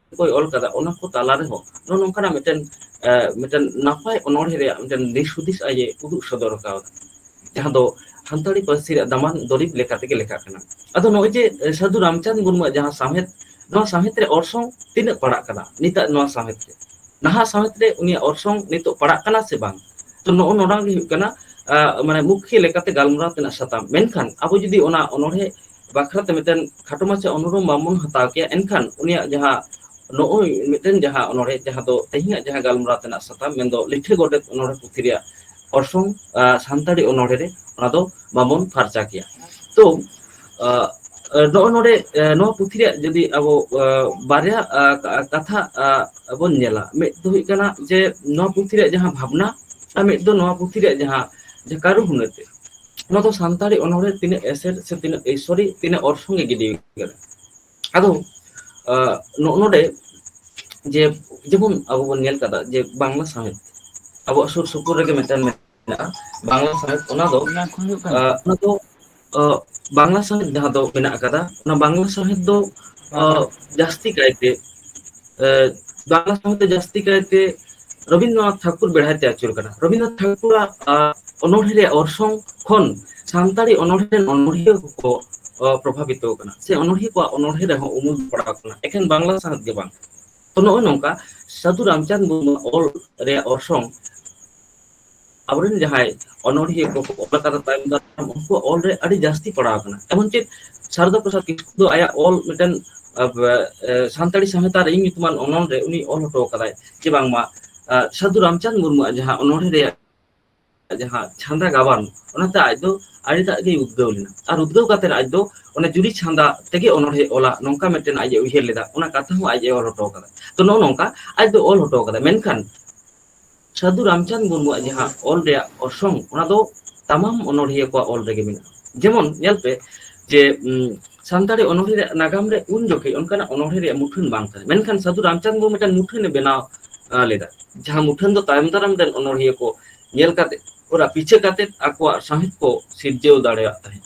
ᱠᱚᱭ ᱚᱞ ᱠᱟᱫᱟ ᱚᱱᱟ ᱠᱚ ᱛᱟᱞᱟ ᱨᱮᱦᱚᱸ ᱱᱚᱜᱼᱚ ᱱᱚᱝᱠᱟᱱᱟᱜ ᱢᱤᱫᱴᱮᱱ ᱢᱤᱫᱴᱮᱱ ᱱᱟᱯᱟᱭ ᱚᱱᱚᱬᱦᱮᱸ ᱨᱮᱭᱟᱜ ᱢᱤᱫᱴᱮᱱ ᱫᱤᱥ ᱦᱩᱫᱤᱥ ᱟᱡ ᱮ ᱩᱫᱩᱜ ᱥᱚᱫᱚᱨ ᱠᱟᱣᱫᱟ ᱡᱟᱦᱟᱸ ᱫᱚ ᱥᱟᱱᱛᱟᱲᱤ ᱯᱟᱹᱨᱥᱤ ᱨᱮᱭᱟᱜ ᱫᱟᱢᱟᱱ ᱫᱩᱨᱤᱵᱽ ᱞᱮᱠᱟ ᱛᱮᱜᱮ ᱞᱮᱠᱷᱟᱜ ᱠᱟᱱᱟ ᱟᱫᱚ ᱱᱚᱜᱼᱚᱭ ᱡᱮ ᱥᱟᱹᱫᱷᱩ ᱨᱟᱢᱪᱟᱸᱫᱽ ᱢᱩᱨᱢᱩᱣᱟᱜ ᱡᱟᱦᱟᱸ ᱥᱟᱶᱦᱮᱫ ᱱᱚᱣᱟ ᱥᱟᱶᱦᱮᱫ ᱨᱮ ᱚᱨᱥᱚᱝ ᱛᱤᱱᱟᱹᱜ ᱯᱟᱲᱟᱜ ᱠᱟᱱᱟ ᱱᱤᱛᱟᱜ ᱱᱚᱣᱟ ᱥᱟᱶᱦᱮᱫ ᱨᱮ ᱱᱟᱦᱟᱜ ᱥᱟᱶᱦᱮᱫ ᱨᱮ ᱩᱱᱤᱭᱟᱜ ᱚᱨᱥᱚᱝ ᱱᱤᱛᱚᱜ ᱯᱟᱲᱟᱜ ᱠᱟᱱᱟ ᱥᱮ ᱵᱟᱝ ᱛᱚ ᱱᱚᱜᱼᱚ ᱱᱚᱣᱟ ᱜᱮ ᱦᱩᱭᱩᱜ ᱠᱟᱱᱟ ᱢᱟᱱᱮ ᱢᱩᱠᱷᱤᱭᱟᱹ ᱞᱮᱠᱟᱛᱮ ᱜᱟᱞᱢᱟᱨᱟᱣ ᱛᱮᱱᱟᱜ ᱥᱟᱛᱟᱢ ᱢᱮᱱᱠᱷᱟᱱ ᱟᱵᱚ ᱡᱩᱫᱤ ᱚᱱᱟ ᱚᱱᱚᱬᱦᱮᱸ ᱵᱟᱠᱷᱨᱟ ᱛᱮ ᱢᱤᱫᱴᱮᱱ ᱠᱷᱟᱴᱚ ᱢᱟᱪᱷᱟ ᱚᱱᱩᱨᱳᱢ ᱵᱟᱝ ᱵᱚᱱ ᱦᱟᱛᱟᱣ ᱠᱮᱭᱟ ᱮᱱᱠᱷᱟᱱ ᱩᱱᱤᱭᱟᱜ ᱡᱟᱦᱟᱸ ᱱᱚᱜᱼᱚᱭ ᱢᱤᱫᱴᱮᱱ ᱡᱟᱦᱟᱸ ᱚᱱᱚᱲᱦᱮᱸ ᱡᱟᱦᱟᱸ ᱫᱚ ᱛᱮᱦᱮᱧᱟᱜ ᱡᱟᱦᱟᱸ ᱜᱟᱞᱢᱟᱨᱟᱣ ᱛᱮᱱᱟᱜ ᱥᱟᱛᱟᱢ ᱢᱮᱱ ᱫᱚ ᱞᱤᱴᱷᱟᱹ ᱜᱚᱰᱮᱛ ᱚᱱᱚᱲᱦᱮᱸ ᱯᱩᱛᱷᱤ ᱨᱮᱭᱟᱜ ᱚᱨᱥᱚᱝ ᱥᱟᱱᱛᱟᱲᱤ ᱚᱱᱚᱲᱦᱮᱸ ᱨᱮ ᱚᱱᱟ ᱫᱚ ᱵᱟᱵᱚᱱ ᱯᱷᱟᱨᱪᱟ ᱠᱮᱭᱟ ᱛᱚ ᱱᱚᱜᱼᱚᱭ ᱱᱚᱰᱮ ᱱᱚᱣᱟ ᱯᱩᱛᱷᱤ ᱨᱮᱭᱟᱜ ᱡᱩᱫᱤ ᱟᱵᱚ ᱵᱟᱨᱭᱟ ᱠᱟᱛᱷᱟ ᱵᱚᱱ ᱧᱮᱞᱟ ᱢᱤᱫ ᱫᱚ ᱦᱩᱭᱩᱜ ᱠᱟᱱᱟ ᱡᱮ ᱱᱚᱣᱟ ᱯᱩᱛᱷᱤ ᱨᱮᱭᱟᱜ ᱡᱟᱦᱟᱸ ᱵᱷᱟᱵᱽᱱᱟ ᱟᱨ ᱢᱤᱫ ᱫᱚ ᱱᱚᱣᱟ ᱯᱩᱛᱷᱤ ᱨᱮᱭᱟᱜ ᱡᱟᱦᱟᱸ ᱠᱟᱹᱨᱩ ᱦᱩᱱᱟᱹᱨ ᱛᱮ ᱱᱚᱣᱟ ᱫᱚ ᱥᱟᱱᱛᱟᱲᱤ ᱚᱱᱚᱲᱦᱮ ᱛᱤᱱᱟᱹᱜ ᱮᱥᱮᱫ ᱥᱮ ᱛᱤᱱᱟᱹᱜ ᱟᱹᱭᱥᱚᱨᱤ ᱛᱤᱱᱟᱹᱜ ᱚᱨᱥᱚᱝ ᱮ ᱜᱤᱰᱤ ᱠᱟᱫᱟ ᱟᱫᱚ ᱱᱚᱜᱼᱚ ᱱᱚᱰᱮ ᱡᱮ ᱡᱮᱢᱚᱱ ᱟᱵᱚ ᱵᱚᱱ ᱧᱮᱞ ᱠᱟᱫᱟ ᱡᱮ ᱵᱟᱝᱞᱟ ᱥᱟᱶᱦᱮᱫ ᱟᱵᱚᱣᱟᱜ ᱥᱩᱨ ᱥᱩᱯᱩᱨ ᱨᱮᱜᱮ ᱢᱤᱫᱴᱮᱱ ᱢᱮᱱᱟᱜᱼᱟ ᱵᱟᱝᱞᱟ ᱥᱟᱶᱦᱮᱫ ᱚᱱᱟ ᱫᱚ ᱚᱱᱟ ᱠᱚ ᱦᱩᱭᱩᱜ ᱠᱟᱱᱟ ᱚᱱᱟ ᱫᱚ ᱵᱟᱝᱞᱟ ᱥᱟᱶᱦᱮᱫ ᱡᱟᱦᱟᱸ ᱫᱚ ᱢᱮᱱᱟᱜ ᱟᱠᱟᱫᱟ ᱚᱱᱟ ᱵᱟᱝᱞᱟ ᱥᱟᱶᱦᱮᱫ ᱫᱚ ᱵᱟᱝᱞᱟ ᱡᱟᱹᱥᱛᱤ ᱠᱟᱭᱛᱮ ᱵᱟᱝᱞᱟ ᱥᱟᱶᱛᱮ ᱡᱟᱹᱥᱛᱤ ᱠᱟᱭᱛᱮ ᱨᱚᱵᱤᱱᱫᱨᱚᱱᱟᱛᱷ ᱴᱷᱟᱠᱩᱨ ᱵᱮᱲᱦᱟᱭ ᱛᱮ ᱟᱹᱪᱩᱨ ᱠᱟᱱᱟ ᱨᱚᱵᱤᱱᱫᱨᱚᱱᱟᱛᱷ ᱴᱷᱟᱠᱩᱨᱟᱜ ᱚᱱᱚᱲᱦᱮᱸ ᱨᱮᱭᱟᱜ ᱚᱨᱥᱚᱝ ᱠᱷᱚᱱ ᱥᱟᱱᱛᱟᱲᱤ ᱚᱱᱚᱲᱦᱮᱸ ᱨᱮᱱ ᱚᱱᱚᱲᱦᱤᱭᱟᱹ ᱠᱚᱠᱚ ᱯᱨᱚᱵᱷᱟᱵᱤᱛᱚ ᱟᱠᱟᱱᱟ ᱥᱮ ᱚᱱᱚᱲᱦᱤᱭᱟᱹ ᱠᱚᱣᱟᱜ ᱚᱱᱚᱲᱦᱮᱸ ᱨᱮᱦᱚᱸ ᱩᱢᱩᱞ ᱯᱟᱲᱟᱣ ᱟᱠᱟᱱᱟ ᱮᱠᱷᱮᱱ ᱵᱟᱝᱞᱟ ᱥᱟᱶᱦᱮᱫ ᱜᱮ ᱵᱟᱝ ᱛᱚ ᱱᱚᱜᱼᱚᱭ ᱱᱚᱝᱠᱟ ᱥᱟᱹᱫᱷᱩ ᱨᱟᱢᱪᱟᱸᱫᱽ ᱢᱩᱨᱢᱩ ᱚᱞ ᱨᱮᱭᱟᱜ ᱚᱨᱥᱚᱝ ᱟᱵᱚᱨᱮᱱ ᱡᱟᱦᱟᱸᱭ ᱚᱱᱚᱲᱦᱤᱭᱟᱹ ᱠᱚ ᱚᱞ ᱟᱠᱟᱫᱟ ᱛᱟᱭᱚᱢ ᱫᱟᱨᱟᱢ ᱩᱱᱠᱩᱣᱟᱜ ᱚᱞᱨᱮ ᱟᱹᱰᱤ ᱡᱟᱹᱥᱛᱤ ᱯᱟᱲᱟᱣ ᱟᱠᱟᱱᱟ ᱮᱢᱚᱱ ᱪᱮᱫ ᱥᱟᱨᱚᱫᱟ ᱯᱨᱚᱥᱟᱫᱽ ᱠᱤᱥᱠᱩ ᱫᱚ ᱟᱭᱟᱜ ᱚᱞ ᱢᱤᱫᱴᱮᱱ ᱥᱟᱱᱛᱟᱲᱤ ᱥᱟᱶᱦᱮᱛ ᱟᱨ ᱤᱧ ᱧᱩᱛᱩᱢᱟᱱ ᱚᱱᱚᱞ ᱨᱮ ᱩᱱᱤ ᱚᱞ ᱦᱚᱴᱚ ᱟᱠᱟᱫᱟᱭ ᱡᱮ ᱵᱟᱝᱢᱟ ᱥᱟᱹᱫᱷᱩ ᱨᱟᱢᱪᱟᱸᱫᱽ ᱢᱩᱨᱢᱩᱣᱟᱜ ᱡᱟᱦᱟᱸ ᱚᱱᱚᱲᱦᱮ ᱨᱮᱭᱟᱜ ᱡᱟᱦᱟᱸ ᱪᱷᱟᱸᱫᱟ ᱜᱟᱵᱟᱱ ᱚᱱᱟᱛᱮ ᱟᱡ ᱫᱚ ᱟᱹᱰᱤᱴᱟᱜ ᱜᱮᱭ ᱩᱫᱽᱜᱟᱹᱣ ᱞᱮᱱᱟ ᱟᱨ ᱩᱫᱽᱜᱟᱹᱣ ᱠᱟᱛᱮᱫ ᱟᱡ ᱫᱚ ᱚᱱᱮ ᱡᱩᱨᱤ ᱪᱷᱟᱸᱫᱟ ᱛᱮᱜᱮ ᱚᱱᱚᱲᱦᱮ ᱚᱞᱟ ᱱᱚᱝᱠᱟ ᱢᱤᱫᱴᱮᱱ ᱟᱡ ᱮ ᱩᱭᱦᱟᱹᱨ ᱞᱮᱫᱟ ᱚᱱᱟ ᱠᱟᱛᱷᱟ ᱦᱚᱸ ᱟᱡ ᱮ ᱚᱞ ᱦᱚᱴᱚ ᱟᱠᱟᱫᱟ ᱛᱚ ᱱᱚᱜᱼᱚ ᱱᱚᱝᱠᱟ ᱟᱡ ᱫᱚ ᱚᱞ ᱦᱚᱴᱚ ᱠᱟᱫᱟᱭ ᱢᱮᱱᱠᱷᱟᱱ ᱥᱟᱹᱫᱷᱩ ᱨᱟᱢᱪᱟᱸᱫᱽ ᱢᱩᱨᱢᱩᱣᱟᱜ ᱡᱟᱦᱟᱸ ᱚᱞ ᱨᱮᱭᱟᱜ ᱚᱨᱥᱚᱝ ᱚᱱᱟ ᱫᱚ ᱛᱟᱢᱟᱢ ᱚᱱᱚᱲᱦᱤᱭᱟᱹ ᱠᱚᱣᱟᱜ ᱚᱞ ᱨᱮᱜᱮ ᱢᱮᱱᱟᱜᱼᱟ ᱡᱮᱢᱚᱱ ᱧᱮᱞ ᱯᱮ ᱡᱮ ᱥᱟᱱᱛᱟᱲᱤ ᱚᱱᱚᱲᱦᱮᱸ ᱨᱮᱭᱟᱜ ᱱᱟᱜᱟᱢ ᱨᱮ ᱩᱱ ᱡᱚᱠᱷᱮᱡ ᱚᱱᱠᱟᱱᱟᱜ ᱚᱱᱚᱲᱦᱮᱸ ᱨᱮᱭᱟᱜ ᱢᱩᱴᱷᱟᱹᱱ ᱵᱟᱝ ᱛᱟᱦᱮᱸ ᱢᱮᱱᱠᱷᱟᱱ ᱥᱟᱹᱫᱷᱩ ᱨᱟᱢᱪᱟᱸᱫᱽ ᱢᱩᱨᱢᱩ ᱢᱤᱫᱴᱟᱝ ᱢᱩᱴᱷᱟᱹᱱ ᱮ ᱵᱮᱱᱟᱣ ᱞᱮᱫᱟ ᱡᱟᱦᱟᱸ ᱢᱩᱴᱷᱟᱹᱱ ᱫᱚ ᱛᱟᱭᱚᱢ ᱫᱟᱨᱟᱢ ᱨᱮᱱ ᱚᱱᱚᱲᱦᱤᱭᱟᱹ ᱠᱚ ᱧᱮᱞ ᱠᱟᱛᱮ ᱚᱱᱟ ᱯᱤᱪᱷᱟᱹ ᱠᱟᱛᱮᱫ ᱟᱠᱚᱣᱟᱜ ᱥᱟᱶᱦᱮᱫ ᱠᱚ ᱥᱤᱨᱡᱟᱹᱣ ᱫᱟᱲᱮᱭᱟᱜ ᱛᱟᱦᱮᱸᱫ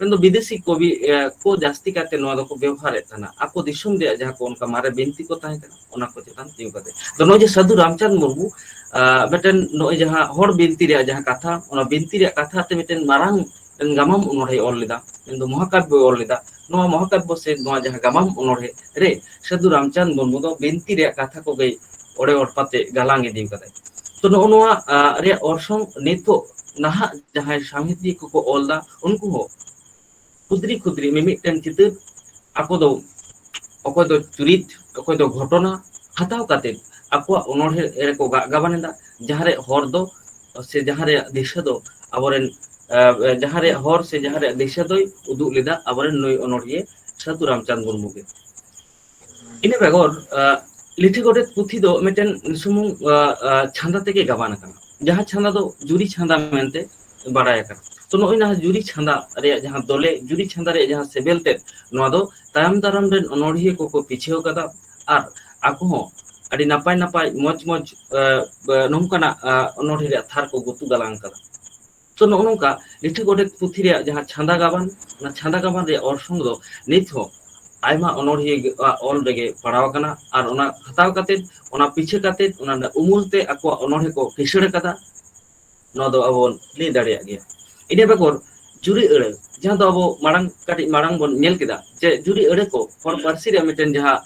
ᱢᱮᱱᱫᱚ ᱵᱤᱫᱮᱥᱤ ᱠᱚᱵᱤ ᱠᱚ ᱡᱟᱹᱥᱛᱤ ᱠᱟᱭᱛᱮ ᱱᱚᱣᱟ ᱫᱚᱠᱚ ᱵᱮᱵᱚᱦᱟᱨᱮᱫ ᱛᱟᱦᱮᱱᱟ ᱟᱠᱚ ᱫᱤᱥᱚᱢ ᱨᱮᱭᱟᱜ ᱡᱟᱦᱟᱸ ᱠᱚ ᱚᱱᱠᱟ ᱢᱟᱨᱮ ᱵᱤᱱᱛᱤ ᱠᱚ ᱛᱟᱦᱮᱸ ᱠᱟᱱᱟ ᱚᱱᱟ ᱠᱚ ᱪᱮᱛᱟᱱ ᱛᱤᱸᱜᱩ ᱠᱟᱛᱮ ᱟᱫᱚ ᱱᱚᱜᱼᱚᱭ ᱡᱮ ᱥᱟᱹᱫᱷᱩ ᱨᱟᱢᱪᱟᱸᱫᱽ ᱢᱩᱨᱢᱩ ᱢᱤᱫᱴᱮᱱ ᱱᱚᱜᱼᱚᱭ ᱡᱟᱦᱟᱸ ᱦᱚᱲ ᱵᱤᱱᱛᱤ ᱨᱮᱭᱟᱜ ᱡᱟᱦᱟᱸ ᱠᱟᱛᱷᱟ ᱚᱱᱟ ᱵᱤᱱᱛᱤ ᱨᱮᱭᱟᱜ ᱠᱟᱛᱷᱟ ᱛᱮ ᱢᱤᱫᱴᱮᱱ ᱢᱟᱨᱟᱝ ᱜᱟᱢᱟᱢ ᱚᱱᱚᱬᱦᱮᱸ ᱚᱞ ᱞᱮᱫᱟ ᱢᱮᱱᱫᱚ ᱢᱚᱦᱟᱠᱟᱵᱭᱚᱭ ᱚᱞ ᱞᱮᱫᱟ ᱱᱚᱣᱟ ᱢᱚᱦᱟᱠᱟᱵᱭᱚ ᱥᱮ ᱱᱚᱣᱟ ᱡᱟᱦᱟᱸ ᱜᱟᱢᱟᱢ ᱚᱱᱚᱬᱦᱮᱸ ᱨᱮ ᱥᱟᱹᱫᱷᱩ ᱨᱟᱢᱪᱟᱸᱫᱽ ᱢᱩᱨᱢᱩ ᱫᱚ ᱵᱤᱱᱛᱤ ᱨᱮᱭᱟᱜ ᱠᱟᱛᱷᱟ ᱠᱚᱜᱮᱭ ᱚᱲᱮ ᱚᱲᱯᱟᱛᱮ ᱜᱟᱞᱟᱝ ᱤᱫᱤ ᱠᱟᱫᱟᱭ ᱛᱚ ᱱᱚᱜᱼᱚ ᱱᱚᱣᱟ ᱨᱮᱭᱟᱜ ᱚᱨᱥᱚᱝ ᱱᱤᱛᱚᱜ ᱱᱟᱦᱟᱜ ᱡᱟᱦᱟᱸᱭ ᱥᱟᱶᱦᱮᱫᱤᱭᱟᱹ ᱠᱚᱠᱚ ᱚᱞ ᱫᱟ ᱩᱱᱠᱩ ᱦᱚᱸ ᱠᱷᱩᱫᱽᱨᱤ ᱠᱷᱩᱫᱽᱨᱤ ᱢᱤᱢᱤᱫᱴᱮᱱ ᱪᱤᱛᱟᱹᱨ ᱟᱠᱚ ᱫᱚ ᱚᱠᱚᱭ ᱫᱚ ᱪᱩᱨᱤᱛ ᱚᱠᱚᱭ ᱫᱚ ᱜᱷᱚᱴᱚᱱᱟ ᱦᱟᱛᱟᱣ ᱠᱟᱛᱮᱫ ᱟᱠᱚᱣᱟᱜ ᱚᱱᱚᱲᱦᱮᱸ ᱨᱮᱠᱚ ᱜᱟᱜ ᱜᱟᱵᱟᱱ ᱮᱫᱟ ᱡᱟᱦᱟᱸᱨᱮ ᱦᱚᱨ ᱫᱚ ᱥᱮ ᱡᱟᱦᱟᱸ ᱨᱮᱭᱟᱜ ᱫᱤᱥᱟᱹ ᱫᱚ ᱟᱵᱚᱨᱮᱱ ᱡᱟᱦᱟᱸ ᱨᱮᱭᱟᱜ ᱦᱚᱨ ᱥᱮ ᱡᱟᱦᱟᱸ ᱨᱮᱭᱟᱜ ᱫᱤᱥᱟᱹ ᱫᱚᱭ ᱩᱫᱩᱜ ᱞᱮᱫᱟ ᱟᱵᱚᱨᱮᱱ ᱱᱩᱭ ᱚᱱᱚᱲᱦᱤᱭᱟᱹ ᱥᱟᱹᱫᱷᱩ ᱨᱟᱢᱪᱟᱸᱫᱽ ᱢᱩᱨᱢᱩ ᱜᱮ ᱤᱱᱟᱹ ᱵᱮᱜᱚᱨ ᱞᱤᱴᱷᱤ ᱜᱚᱰᱮᱛ ᱯᱩᱛᱷᱤ ᱫᱚ ᱢᱤᱫᱴᱮᱱ ᱥᱩᱢᱩᱝ ᱪᱷᱟᱸᱫᱟ ᱛᱮᱜᱮ ᱜᱟᱵᱟᱱ ᱟᱠᱟᱱᱟ ᱡᱟᱦᱟᱸ ᱪᱷᱟᱸᱫᱟ ᱫᱚ ᱡᱩᱨᱤ ᱪᱷᱟᱸᱫᱟ ᱢᱮᱱᱛᱮ ᱵᱟᱲᱟᱭ ᱟᱠᱟᱱᱟ ᱛᱚ ᱱᱚᱜᱼᱚᱭ ᱱᱚᱣᱟ ᱡᱩᱨᱤ ᱪᱷᱟᱸᱫᱟ ᱨᱮᱭᱟᱜ ᱡᱟᱦᱟᱸ ᱫᱚᱞᱮ ᱡᱩᱨᱤ ᱪᱷᱟᱸᱫᱟ ᱨᱮᱭᱟᱜ ᱡᱟᱦᱟᱸ ᱥᱮᱵᱮᱞ ᱛᱮᱫ ᱱᱚᱣᱟ ᱫᱚ ᱛᱟᱭᱚᱢ ᱫᱟᱨᱟᱢ ᱨᱮᱱ ᱚᱱᱚᱲᱦᱤᱭᱟᱹ ᱠᱚᱠᱚ ᱯᱤᱪᱷᱟᱹᱣ ᱠᱟᱫᱟ ᱟᱨ ᱟᱠᱚ ᱦᱚᱸ ᱟᱹᱰᱤ ᱱᱟᱯᱟᱭ ᱱᱟᱯᱟᱭ ᱢᱚᱸᱡᱽ ᱢᱚᱸᱡᱽ ᱱᱚᱝᱠᱟᱱᱟᱜ ᱚᱱᱚᱲᱦᱮᱸ ᱨᱮᱭᱟᱜ ᱛᱷᱟᱨ ᱠᱚ ᱜᱩᱛᱩ ᱜᱟᱞᱟᱝ ᱟᱠᱟᱫᱟ ᱛᱚ ᱱᱚᱜᱼᱚ ᱱᱚᱝᱠᱟ ᱞᱤᱴᱷᱟᱹ ᱜᱚᱰᱮᱛ ᱯᱩᱛᱷᱤ ᱨᱮᱭᱟᱜ ᱡᱟᱦᱟᱸ ᱪᱷᱟᱸᱫᱟ ᱜᱟᱵᱟᱱ ᱚᱱᱟ ᱪᱷᱟᱸᱫᱟ ᱜᱟᱵᱟᱱ ᱨᱮᱭᱟᱜ ᱚᱨᱥᱚᱝ ᱫᱚ ᱱᱤᱛ ᱦᱚᱸ ᱟᱭᱢᱟ ᱚᱱᱚᱲᱦᱤᱭᱟᱹ ᱟᱜ ᱚᱞ ᱨᱮᱜᱮ ᱯᱟᱲᱟᱣ ᱟᱠᱟᱱᱟ ᱟᱨ ᱚᱱᱟ ᱦᱟᱛᱟᱣ ᱠᱟᱛᱮ ᱚᱱᱟ ᱯᱤᱪᱷᱟᱹ ᱠᱟᱛᱮ ᱚᱱᱟ ᱨᱮᱱᱟᱜ ᱩᱢᱩᱞ ᱛᱮ ᱟᱠᱚᱣᱟᱜ ᱚᱱᱚᱲᱦᱮ ᱠᱚ ᱠᱤᱥᱟᱹᱬ ᱟᱠᱟᱫᱟ ᱱᱚᱣᱟ ᱫᱚ ᱟᱵᱚ ᱵᱚᱱ ᱞᱟᱹᱭ ᱫᱟᱲᱮᱭᱟᱜ ᱜᱮᱭᱟ ᱤᱱᱟᱹ ᱵᱮᱜᱚᱨ ᱡᱩᱨᱤ ᱟᱹᱲᱟᱹ ᱡᱟᱦᱟᱸ ᱫᱚ ᱟᱵᱚ ᱢᱟᱲᱟᱝ ᱠᱟᱹᱴᱤᱡ ᱢᱟᱲᱟᱝ ᱵᱚᱱ ᱧᱮᱞ ᱠᱮᱫᱟ ᱡᱮ ᱡᱩᱨᱤ ᱟᱹᱲᱟᱹ ᱠᱚ ᱦᱚᱲ ᱯᱟᱹᱨᱥᱤ ᱨᱮᱭᱟᱜ ᱢᱤᱫᱴᱮᱱ ᱡᱟᱦᱟᱸ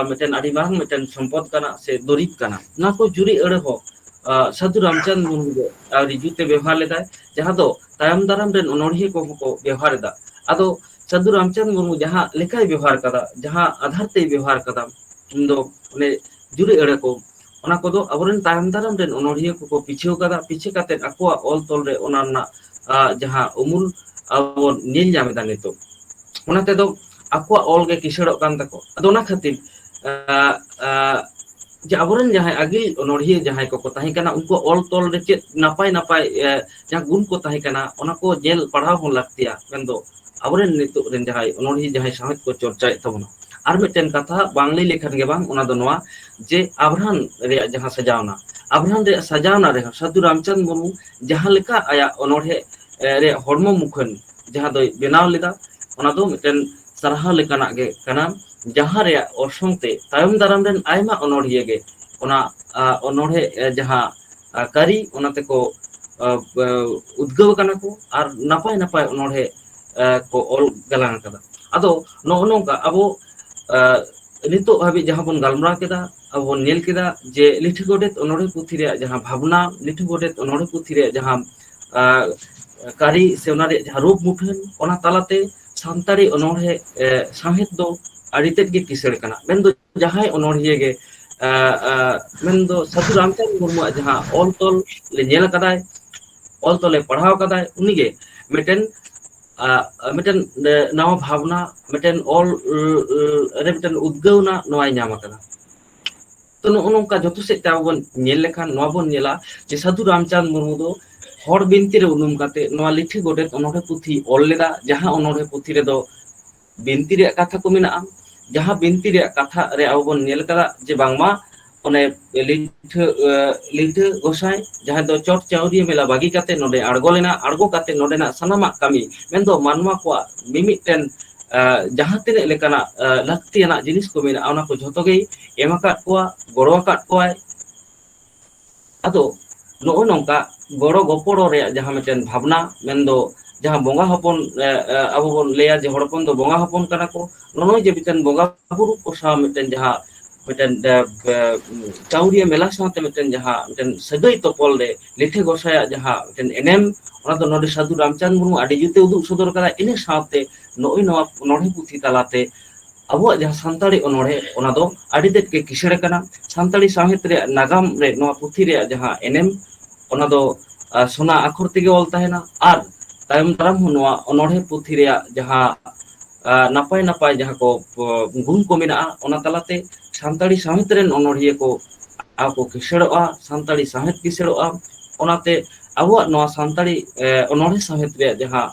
ᱢᱤᱫᱴᱮᱱ ᱟᱹᱰᱤ ᱢᱟᱨᱟᱝ ᱢᱤᱫᱴᱮᱱ ᱥᱚᱢᱯᱚᱫ ᱠᱟᱱᱟ ᱥᱮ ᱫᱩᱨᱤᱵᱽ ᱠᱟᱱᱟ ᱱᱚᱣᱟ ᱠᱚ ᱡᱩᱨᱤ ᱟᱹᱲᱟᱹ ᱦᱚᱸ ᱥᱟᱫᱷᱩ ᱨᱟᱢᱪᱟᱸᱫᱽ ᱢᱩᱨᱢᱩ ᱫᱚ ᱟᱹᱣᱨᱤ ᱡᱩᱛ ᱮ ᱵᱮᱵᱚᱦᱟᱨ ᱞᱮᱫᱟᱭ ᱡᱟᱦᱟᱸ ᱫᱚ ᱛᱟᱭᱚᱢ ᱫᱟᱨᱟᱢ ᱨᱮᱱ ᱚᱱᱚᱲᱦᱤᱭᱟᱹ ᱠᱚᱦᱚᱸ ᱠᱚ ᱵᱮᱣᱦᱟᱨ ᱮᱫᱟ ᱟᱫᱚ ᱥᱟᱹᱫᱷᱩ ᱨᱟᱢᱪᱟᱸᱫᱽ ᱢᱩᱨᱢᱩ ᱡᱟᱦᱟᱸ ᱞᱮᱠᱟᱭ ᱵᱮᱵᱚᱦᱟᱨ ᱠᱟᱫᱟ ᱡᱟᱦᱟᱸ ᱟᱫᱷᱟᱨ ᱛᱮᱭ ᱵᱮᱵᱚᱦᱟᱨ ᱠᱟᱫᱟ ᱩᱱ ᱫᱚ ᱚᱱᱮ ᱡᱩᱨᱤ ᱟᱹᱲᱟᱹ ᱠᱚ ᱚᱱᱟ ᱠᱚᱫᱚ ᱟᱵᱚᱨᱮᱱ ᱛᱟᱭᱚᱢ ᱫᱟᱨᱟᱢ ᱨᱮᱱ ᱚᱱᱚᱲᱦᱤᱭᱟᱹ ᱠᱚᱠᱚ ᱯᱤᱪᱷᱟᱹᱣ ᱠᱟᱫᱟ ᱯᱤᱪᱷᱟᱹ ᱠᱟᱛᱮᱫ ᱟᱠᱚᱣᱟᱜ ᱚᱞ ᱛᱚᱞ ᱨᱮ ᱚᱱᱟ ᱨᱮᱱᱟᱜ ᱡᱟᱦᱟᱸ ᱩᱢᱩᱞ ᱟᱵᱚ ᱵᱚᱱ ᱧᱮᱞ ᱧᱟᱢ ᱮᱫᱟ ᱱᱤᱛᱚᱜ ᱚᱱᱟ ᱛᱮᱫᱚ ᱟᱠᱚᱣᱟᱜ ᱚᱞᱜᱮ ᱠᱤᱥᱟᱹᱲᱚᱜ ᱠᱟᱱ ᱛᱟᱠᱚᱣᱟ ᱟᱫᱚ ᱚᱱᱟ ᱠᱷᱟᱹᱛᱤᱨ ᱮ ᱮ ᱡᱮ ᱟᱵᱚᱨᱮᱱ ᱡᱟᱦᱟᱸᱭ ᱟᱹᱜᱤᱞ ᱚᱱᱚᱲᱦᱤᱭᱟᱹ ᱡᱟᱦᱟᱸᱭ ᱠᱚᱠᱚ ᱛᱟᱦᱮᱸ ᱠᱟᱱᱟ ᱩᱱᱠᱩ ᱚᱞ ᱛᱚᱞ ᱨᱮ ᱪᱮᱫ ᱱᱟᱯᱟᱭ ᱱᱟᱯᱟᱭ ᱮ ᱡᱟᱦᱟᱸ ᱜᱩᱱ ᱠᱚ ᱛᱟᱦᱮᱸ ᱠᱟᱱᱟ ᱚᱱᱟ ᱠᱚ ᱧᱮᱞ ᱯᱟᱲᱦᱟᱣ ᱦᱚᱸ ᱞᱟᱹᱠᱛᱤᱭᱟ ᱢᱮᱱᱫᱚ ᱟᱵᱚᱨᱮᱱ ᱱᱤᱛᱚᱜ ᱨᱮᱱ ᱡᱟᱦᱟᱸᱭ ᱚᱱᱚᱲᱦᱤᱭᱟᱹ ᱡᱟᱦᱟᱸᱭ ᱥᱟᱶᱦᱮᱫ ᱠᱚ ᱪᱚᱨᱪᱟᱭᱮᱫ ᱛᱟᱵᱚᱱᱟ ᱟᱨ ᱢᱤᱫᱴᱮᱱ ᱠᱟᱛᱷᱟ ᱵᱟᱝ ᱞᱟᱹᱭ ᱞᱮᱠᱷᱟᱱ ᱜᱮ ᱵᱟᱝ ᱚᱱᱟ ᱫᱚ ᱱᱚᱣᱟ ᱡᱮ ᱟᱵᱨᱟᱦᱟᱱ ᱨᱮᱭᱟᱜ ᱡᱟᱦᱟᱸ ᱥᱟᱡᱟᱣᱱᱟ ᱟᱵᱨᱟᱦᱟᱱ ᱨᱮᱭᱟᱜ ᱥᱟᱡᱟᱣᱱᱟ ᱨᱮᱦᱚᱸ ᱥᱟᱹᱫᱷᱩ ᱨᱟᱢᱪᱟᱸᱫᱽ ᱢᱩᱨᱢᱩ ᱡᱟᱦᱟᱸ ᱞᱮᱠᱟ ᱟᱭᱟᱜ ᱚᱱᱚᱲᱦᱮᱸ ᱨᱮᱭᱟᱜ ᱦᱚᱲᱢᱚ ᱢᱩᱠᱷᱟᱹᱱ ᱡᱟᱦᱟᱸ ᱫᱚᱭ ᱵᱮᱱᱟᱣ ᱞᱮᱫᱟ ᱚᱱᱟ ᱫᱚ ᱢᱤᱫᱴᱮᱱ ᱥᱟᱨᱦᱟᱣ ᱞᱮᱠᱟᱱᱟᱜ ᱜᱮ ᱠᱟᱱᱟ ᱡᱟᱦᱟᱸ ᱨᱮᱭᱟᱜ ᱚᱨᱥᱚᱝ ᱛᱮ ᱛᱟᱭᱚᱢ ᱫᱟᱨᱟᱢ ᱨᱮᱱ ᱟᱭᱢᱟ ᱚᱱᱚᱲᱦᱤᱭᱟᱹ ᱜᱮ ᱚᱱᱟ ᱚᱱᱚᱲᱦᱮ ᱡᱟᱦᱟᱸ ᱠᱟᱹᱨᱤ ᱚᱱᱟ ᱛᱮᱠᱚ ᱩᱫᱽᱜᱟᱹᱣ ᱟᱠᱟᱱᱟ ᱠᱚ ᱟᱨ ᱱᱟᱯᱟᱭ ᱱᱟᱯᱟᱭ ᱚᱱᱚᱲᱦᱮ ᱠᱚ ᱚᱞ ᱜᱟᱞᱟᱝ ᱟᱠᱟᱫᱟ ᱟᱫᱚ ᱱᱚᱜᱼᱚ ᱱᱚᱝᱠᱟ ᱟᱵᱚ ᱱᱤᱛᱚᱜ ᱦᱟᱹᱵᱤᱡ ᱡᱟᱦᱟᱸ ᱵᱚᱱ ᱜᱟᱞᱢᱟᱨᱟᱣ ᱠᱮᱫᱟ ᱟᱵᱚ ᱵᱚᱱ ᱧᱮᱞ ᱠᱮᱫᱟ ᱡᱮ ᱞᱤᱴᱷᱤ ᱜᱚᱰᱮᱛ ᱚᱱᱚᱲᱦᱮ ᱯᱩᱛᱷᱤ ᱨᱮᱭᱟᱜ ᱡᱟᱦᱟᱸ ᱵᱷᱟᱵᱽᱱᱟ ᱞᱤᱴᱷᱤ ᱜᱚᱰᱮᱛ ᱚᱱᱚᱲᱦᱮ ᱯᱩᱛᱷᱤ ᱨᱮᱭᱟᱜ ᱡᱟᱦᱟᱸ ᱟᱨ ᱠᱟᱹᱨᱤ ᱥᱮ ᱚᱱᱟ ᱨᱮᱭᱟᱜ ᱡᱟᱦᱟᱸ ᱨᱩᱯ ᱢᱩᱴᱷᱟᱹᱱ ᱚᱱᱟ ᱛᱟᱞᱟᱛᱮ ᱥᱟᱱᱛᱟᱲᱤ ᱚᱱᱚᱬᱦᱮ ᱥᱟᱶᱦᱮᱫ ᱫᱚ ᱟᱹᱰᱤ ᱛᱮᱫ ᱜᱮ ᱠᱤᱥᱟᱹᱬ ᱠᱟᱱᱟ ᱢᱮᱱᱫᱚ ᱡᱟᱦᱟᱸᱭ ᱚᱱᱚᱬᱦᱤᱭᱟᱹ ᱜᱮ ᱢᱮᱱᱫᱚ ᱥᱟᱹᱫᱷᱩ ᱨᱟᱢᱪᱟᱸᱫᱽ ᱢᱩᱨᱢᱩᱣᱟᱜ ᱡᱟᱦᱟᱸ ᱚᱞ ᱛᱚᱞ ᱧᱮᱞ ᱟᱠᱟᱫᱟᱭ ᱚᱞ ᱛᱚᱞᱮ ᱯᱟᱲᱦᱟᱣ ᱟᱠᱟᱫᱟᱭ ᱩᱱᱤᱜᱮ ᱢᱤᱫᱴᱮᱱ ᱢᱤᱫᱴᱮᱱ ᱱᱟᱣᱟ ᱵᱷᱟᱵᱽᱱᱟ ᱢᱤᱫᱴᱮᱱ ᱚᱞ ᱨᱮ ᱢᱤᱫᱴᱮᱱ ᱩᱫᱽᱜᱟᱹᱣᱱᱟ ᱱᱚᱣᱟᱭ ᱧᱟᱢ ᱟᱠᱟᱫᱟ ᱛᱚ ᱱᱚᱜᱼᱚ ᱱᱚᱝᱠᱟ ᱡᱚᱛᱚ ᱥᱮᱫ ᱛᱮ ᱟᱵᱚ ᱵᱚᱱ ᱧᱮᱞ ᱞᱮᱠᱷᱟᱱ ᱱᱚᱣᱟ ᱵᱚᱱ ᱧᱮᱞᱟ ᱡᱮ ᱥᱟᱹᱫᱷᱩ ᱨᱟᱢᱪᱟᱸᱫᱽ ᱢᱩᱨᱢᱩ ᱫᱚ ᱦᱚᱲ ᱵᱤᱱᱛᱤ ᱨᱮ ᱩᱱᱩᱢ ᱠᱟᱛᱮᱫ ᱱᱚᱣᱟ ᱞᱤᱴᱷᱤ ᱜᱚᱰᱮᱛ ᱚᱱᱚᱬᱦᱮ ᱯᱩᱛᱷᱤᱭ ᱚᱞ ᱞᱮᱫᱟ ᱡᱟᱦᱟᱸ ᱚᱱᱚᱬᱦᱮ ᱯᱩᱛᱷᱤ ᱨᱮᱫᱚ ᱵᱤᱱᱛᱤ ᱨᱮᱭᱟᱜ ᱠᱟᱛᱷᱟ ᱠᱚ ᱢᱮᱱᱟᱜᱼᱟ ᱡᱟᱦᱟᱸ ᱵᱤᱱᱛᱤ ᱨᱮᱭᱟᱜ ᱠᱟᱛᱷᱟ ᱨᱮ ᱟᱵᱚ ᱵᱚᱱ ᱧᱮᱞ ᱠᱟᱫᱟ ᱡᱮ ᱵᱟᱝᱢᱟ ᱚᱱᱮ ᱞᱤᱴᱷᱟᱹ ᱞᱤᱴᱷᱟᱹ ᱜᱚᱸᱥᱟᱭ ᱡᱟᱦᱟᱸᱭ ᱫᱚ ᱪᱚᱴ ᱪᱟᱹᱣᱨᱤᱭᱟᱹ ᱢᱮᱞᱟ ᱵᱟᱹᱜᱤ ᱠᱟᱛᱮ ᱛᱮ ᱱᱚᱰᱮ ᱟᱬᱜᱚ ᱞᱮᱱᱟ ᱟᱬᱜᱚ ᱠᱟᱛᱮ ᱱᱚᱰᱮᱱᱟᱜ ᱥᱟᱱᱟᱢᱟᱜ ᱠᱟᱹᱢᱤ ᱢᱮᱱᱫᱚ ᱢᱟᱱᱣᱟ ᱠᱚᱣᱟᱜ ᱢᱤᱢᱤᱫᱴᱮᱱ ᱡᱟᱦᱟᱸ ᱛᱤᱱᱟᱹᱜ ᱞᱮᱠᱟᱱᱟᱜ ᱞᱟᱹᱠᱛᱤᱭᱟᱱᱟᱜ ᱡᱤᱱᱤᱥ ᱠᱚ ᱢᱮᱱᱟᱜᱼᱟ ᱚᱱᱟ ᱠᱚ ᱡᱷᱚᱛᱚ ᱜᱮ ᱮᱢ ᱟᱠᱟᱫ ᱠᱚᱣᱟ ᱜᱚᱲᱚ ᱟᱠᱟᱫ ᱠᱚᱣᱟᱭ ᱟᱫᱚ ᱱᱚᱜᱼᱚ ᱱᱚᱝᱠᱟ ᱜᱚᱲᱚ ᱜᱚᱯᱚᱲᱚ ᱨᱮᱭᱟᱜ ᱡᱟᱦᱟᱸ ᱢᱤᱫᱴᱮᱱ ᱵᱷᱟᱵᱽᱱᱟ ᱢᱮᱱᱫᱚ ᱡᱟᱦᱟᱸ ᱵᱚᱸᱜᱟ ᱦᱚᱯᱚᱱ ᱟᱵᱚ ᱵᱚᱱ ᱞᱟᱹᱭᱟ ᱡᱮ ᱦᱚᱲ ᱦᱚᱯᱚᱱ ᱫᱚ ᱵᱚᱸᱜᱟ ᱦᱚᱯᱚᱱ ᱠᱟᱱᱟ ᱠᱚ ᱱᱚᱜᱼᱚᱭ ᱡᱮ ᱢᱤᱫᱴᱮᱱ ᱵᱚᱸᱜᱟ ᱵᱩᱨᱩ ᱠᱚ ᱥᱟᱶ ᱢᱤᱫᱴᱮᱱ ᱡᱟᱦᱟᱸ ᱢᱤᱫᱴᱮᱱ ᱪᱟᱹᱣᱨᱤᱭᱟᱹ ᱢᱮᱞᱟ ᱥᱟᱶᱛᱮ ᱢᱤᱫᱴᱮᱱ ᱡᱟᱦᱟᱸ ᱢᱤᱫᱴᱮᱱ ᱥᱟᱹᱜᱟᱹᱭ ᱛᱚᱯᱚᱞ ᱨᱮ ᱞᱤᱴᱷᱤ ᱜᱚᱸᱥᱟᱭᱟᱜ ᱡᱟᱦᱟᱸ ᱢᱤᱫᱴᱮᱱ ᱮᱱᱮᱢ ᱚᱱᱟ ᱫᱚ ᱱᱚᱰᱮ ᱥᱟᱹᱫᱷᱩ ᱨᱟᱢᱪᱟᱸᱫᱽ ᱢᱩᱨᱢᱩ ᱟᱹᱰᱤ ᱡᱩᱛ ᱮ ᱩᱫᱩᱜ ᱥᱚᱫᱚᱨ ᱠᱟᱫᱟ ᱤᱱᱟᱹ ᱥᱟᱶᱛᱮ ᱱᱚᱜᱼᱚᱭ ᱱᱚᱣᱟ ᱚᱱᱚᱬᱦᱮ ᱯᱩᱛᱷᱤ ᱛᱟᱞᱟᱛᱮ ᱟᱵᱚᱣᱟᱜ ᱡᱟᱦᱟᱸ ᱥᱟᱱᱛᱟᱲᱤ ᱚᱱᱚᱬᱦᱮ ᱚᱱᱟ ᱫᱚ ᱟᱹᱰᱤ ᱛᱮᱫ ᱜᱮ ᱠᱤᱥᱟᱹᱬ ᱟᱠᱟᱱᱟ ᱥᱟᱱᱛᱟᱲᱤ ᱥᱟᱶᱦᱮᱫ ᱨᱮᱭᱟᱜ ᱱᱟᱜᱟᱢ ᱨᱮ ᱱᱚᱣᱟ ᱯᱩᱛᱷᱤ ᱨᱮᱭᱟᱜ ᱡᱟᱦᱟᱸ ᱮᱱᱮᱢ ᱚᱱᱟ ᱫᱚ ᱥᱚᱱᱟ ᱟᱠᱷᱚᱨ ᱛᱮᱜᱮ ᱚᱞ ᱛᱟᱦᱮᱱᱟ ᱟᱨ ᱛᱟᱭᱚᱢ ᱫᱟᱨᱟᱢ ᱦᱚᱸ ᱱᱚᱣᱟ ᱚᱱᱚᱬᱦᱮ ᱯᱩᱛᱷᱤ ᱨᱮᱭᱟᱜ ᱡᱟᱦᱟᱸ ᱱᱟᱯᱟᱭ ᱱᱟᱯᱟᱭ ᱡᱟᱦᱟᱸ ᱠᱚ ᱜᱩᱱ ᱠᱚ ᱢᱮᱱᱟᱜᱼᱟ ᱚᱱᱟ ᱛᱟᱞᱟᱛᱮ ᱥᱟᱱᱛᱟᱲᱤ ᱥᱟᱶᱦᱮᱫ ᱨᱮᱱ ᱚᱱᱚᱲᱦᱤᱭᱟᱹ ᱠᱚ ᱟᱨ ᱠᱚ ᱠᱤᱥᱟᱹᱬᱚᱜᱼᱟ ᱥᱟᱱᱛᱟᱲᱤ ᱥᱟᱶᱦᱮᱫ ᱠᱤᱥᱟᱹᱬᱚᱜᱼᱟ ᱚᱱᱟᱛᱮ ᱟᱵᱚᱣᱟᱜ ᱱᱚᱣᱟ ᱥᱟᱱᱛᱟᱲᱤ ᱚᱱᱚᱬᱦᱮ ᱥᱟᱶᱦᱮᱫ ᱨᱮᱭᱟᱜ ᱡᱟᱦᱟᱸ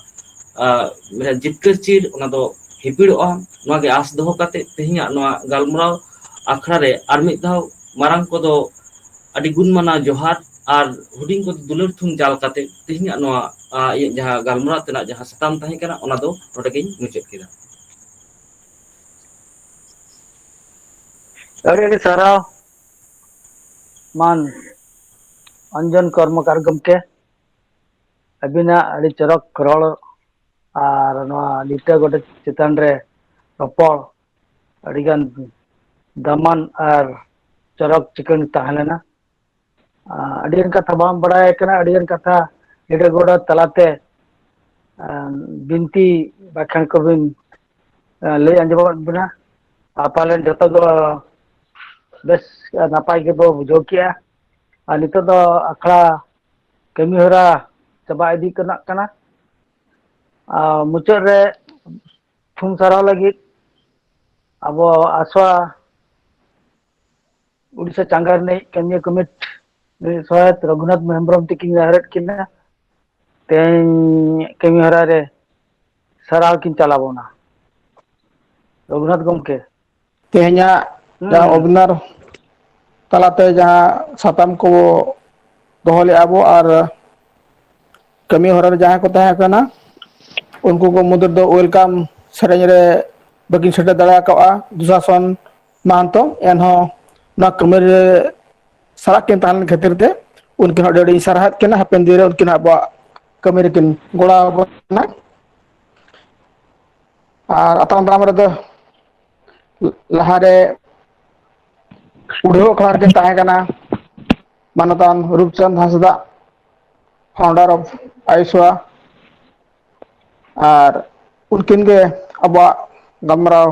ᱡᱤᱛᱠᱟᱹᱨ ᱪᱤᱨ ᱚᱱᱟ ᱫᱚ ᱦᱤᱯᱤᱲᱚᱜᱼᱟ ᱱᱚᱣᱟ ᱜᱮ ᱟᱸᱥ ᱫᱚᱦᱚ ᱠᱟᱛᱮᱫ ᱛᱮᱦᱮᱧᱟᱜ ᱱᱚᱣᱟ ᱜᱟᱞᱢᱟᱨᱟᱣ ᱟᱠᱷᱲᱟ ᱨᱮ ᱟᱨ ᱢᱤᱫ ᱫᱷᱟᱣ ᱢᱟᱨᱟᱝ ᱠᱚᱫᱚ ᱟᱹᱰᱤ ᱜᱩᱱ ᱢᱟᱱᱟᱣ ᱡᱚᱦᱟᱨ ᱟᱨ ᱦᱩᱰᱤᱧ ᱠᱚ ᱫᱩᱞᱟᱹᱲ ᱛᱷᱩᱢ ᱪᱟᱞ ᱠᱟᱛᱮ ᱛᱮᱦᱮᱧᱟᱜ ᱱᱚᱣᱟ ᱤᱧᱟᱹᱜ ᱡᱟᱦᱟᱸ ᱜᱟᱞᱢᱟᱨᱟᱣ ᱛᱮᱱᱟᱜ ᱡᱟᱦᱟᱸ ᱥᱟᱛᱟᱢ ᱛᱟᱦᱮᱸ ᱠᱟᱱᱟ ᱚᱱᱟ ᱫᱚ ᱱᱚᱰᱮ ᱜᱤᱧ ᱢᱩᱪᱟᱹᱫ ᱠᱮᱫᱟ ᱟᱹᱰᱤ ᱟᱹᱰᱤ ᱥᱟᱨᱦᱟᱣ ᱢᱟᱱ ᱚᱧᱡᱚᱱ ᱠᱚᱨᱢᱚᱠᱟᱨ ᱜᱚᱢᱠᱮ ᱟᱹᱵᱤᱱᱟᱜ ᱟᱹᱰᱤ ᱪᱚᱨᱚᱠ ᱨᱚᱲ ᱟᱨ ᱱᱚᱣᱟ ᱞᱤᱴᱟᱹ ᱜᱚᱰᱮᱛ ᱪᱮᱛᱟᱱ ᱨᱮ ᱨᱚᱯᱚᱲ ᱟᱹᱰᱤᱜᱟᱱ ᱫᱟᱢᱟᱱ ᱟᱨ ᱪᱚᱨᱚᱠ ᱪᱤᱠᱟᱹᱲ ᱛᱟᱦᱮᱸ ᱞᱮᱱᱟ ᱟᱹᱰᱤᱜᱟᱱ ᱠᱟᱛᱷᱟ ᱵᱟᱝ ᱵᱟᱲᱟᱭ ᱠᱟᱱᱟ ᱟᱹᱰᱤᱜᱟᱱ ᱠᱟᱛᱷᱟ ᱞᱤᱴᱟᱹ ᱜᱚᱰᱮᱛ ᱛᱟᱞᱟᱛᱮ ᱵᱤᱱᱛᱤ ᱵᱟᱠᱷᱟᱱ ᱠᱚᱵᱤᱱ ᱞᱟᱹᱭ ᱟᱸᱡᱚᱢᱟᱫ ᱵᱚᱱᱟ ᱟᱨ ᱯᱟᱞᱮᱱ ᱡᱚᱛᱚ ᱫᱚ ᱵᱮᱥ ᱱᱟᱯᱟᱭ ᱜᱮᱵᱚ ᱵᱩᱡᱷᱟᱹᱣ ᱠᱮᱜᱼᱟ ᱟᱨ ᱱᱤᱛᱚᱜ ᱫᱚ ᱟᱠᱷᱲᱟ ᱠᱟᱹᱢᱤ ᱦᱚᱨᱟ ᱪᱟᱵᱟ ᱤᱫᱤ ᱠᱟᱱᱟᱜ ᱠᱟᱱᱟ ᱟᱨ ᱢᱩᱪᱟᱹᱫ ᱨᱮ ᱛᱷᱩᱢ ᱥᱟᱨᱦᱟᱣ ᱞᱟᱹᱜᱤᱫ ᱟᱵᱚ ᱟᱥᱚᱜ ᱟ ᱩᱰᱤᱥᱟ ᱪᱟᱸᱜᱟ ᱨᱤᱱᱤᱡ ᱠᱟᱹᱢᱤᱭᱟᱹ ᱠᱚᱢᱤᱴ ᱥᱚᱦᱟᱛ ᱨᱚᱜᱷᱩᱱᱟᱛᱷ ᱦᱮᱢᱵᱨᱚᱢ ᱛᱤᱠᱤᱱ ᱱᱮᱦᱚᱨᱮᱫ ᱠᱤᱱᱟ ᱛᱮᱦᱮᱧ ᱠᱟᱹᱢᱤ ᱦᱚᱨᱟ ᱨᱮ ᱥᱟᱨᱦᱟᱣ ᱠᱤᱱ ᱪᱟᱞ ᱟᱵᱚᱱᱟ ᱨᱚᱜᱷᱩᱱᱟᱛᱷ ᱜᱚᱢᱠᱮ ᱛᱮᱦᱮᱧᱟᱜ ᱡᱟᱦᱟᱸ ᱦᱩᱸ ᱚᱵᱤᱱᱟᱨ ᱛᱟᱞᱟᱛᱮ ᱡᱟᱦᱟᱸ ᱥᱟᱛᱟᱢ ᱠᱚ ᱫᱚᱦᱚ ᱞᱮᱜᱼᱟ ᱵᱚ ᱟᱨ ᱠᱟᱹᱢᱤ ᱦᱚᱨᱟ ᱨᱮ ᱡᱟᱦᱟᱸᱭ ᱠᱚ ᱛᱟᱦᱮᱸ ᱠᱟᱱᱟ ᱩᱱᱠᱩ ᱠᱚ ᱢᱩᱫᱽ ᱨᱮᱫᱚ ᱳᱭᱮᱞᱠᱟᱢ ᱥᱮᱨᱮᱧ ᱨᱮ ᱵᱟᱹᱠᱤᱱ ᱥᱮᱴᱮᱨ ᱫᱟᱲᱮ ᱠᱟᱣᱜᱼᱟ ᱫᱩᱥᱟᱥᱚᱱ ᱢᱟᱦᱟᱱᱛᱚ ᱮᱱᱦᱚᱸ ᱱᱚᱣᱟ ᱠᱟᱹᱢᱤ ᱨᱮ ᱥᱟᱞᱟᱜ ᱠᱤᱱ ᱛᱟᱦᱮᱸ ᱞᱮᱱ ᱠᱷᱟᱹᱛᱤᱨ ᱛᱮ ᱩᱱᱠᱤᱱ ᱦᱚᱸ ᱟᱹᱰᱤ ᱟᱹᱰᱤᱧ ᱥᱟᱨᱦᱟᱣᱮᱫ ᱠᱤᱱᱟ ᱦᱟᱯᱮᱱ ᱫᱤᱱ ᱨᱮ ᱩᱱᱠᱤᱱ ᱟᱵᱚᱣᱟᱜ ᱠᱟᱹᱢᱤ ᱨᱮᱠᱤᱱ ᱜᱚᱲᱚ ᱟᱵᱚᱱ ᱢᱟ ᱟᱨ ᱟᱛᱟᱝ ᱫᱟᱨᱟᱢ ᱨᱮᱫᱚ ᱞᱟᱦᱟ ᱨᱮ ᱩᱰᱷᱟᱹᱣ ᱟᱠᱷᱲᱟ ᱨᱮᱠᱤᱱ ᱛᱟᱦᱮᱸ ᱠᱟᱱᱟ ᱢᱟᱱᱚᱛᱟᱱ ᱨᱩᱯᱪᱟᱸᱫᱽ ᱦᱟᱸᱥᱫᱟᱜ ᱯᱷᱟᱣᱩᱱᱰᱟᱨ ᱚᱯᱷ ᱟᱭᱤᱥᱣᱟ ᱟᱨ ᱩᱱᱠᱤᱱ ᱜᱮ ᱟᱵᱚᱣᱟᱜ ᱜᱟᱞᱢᱟᱨᱟᱣ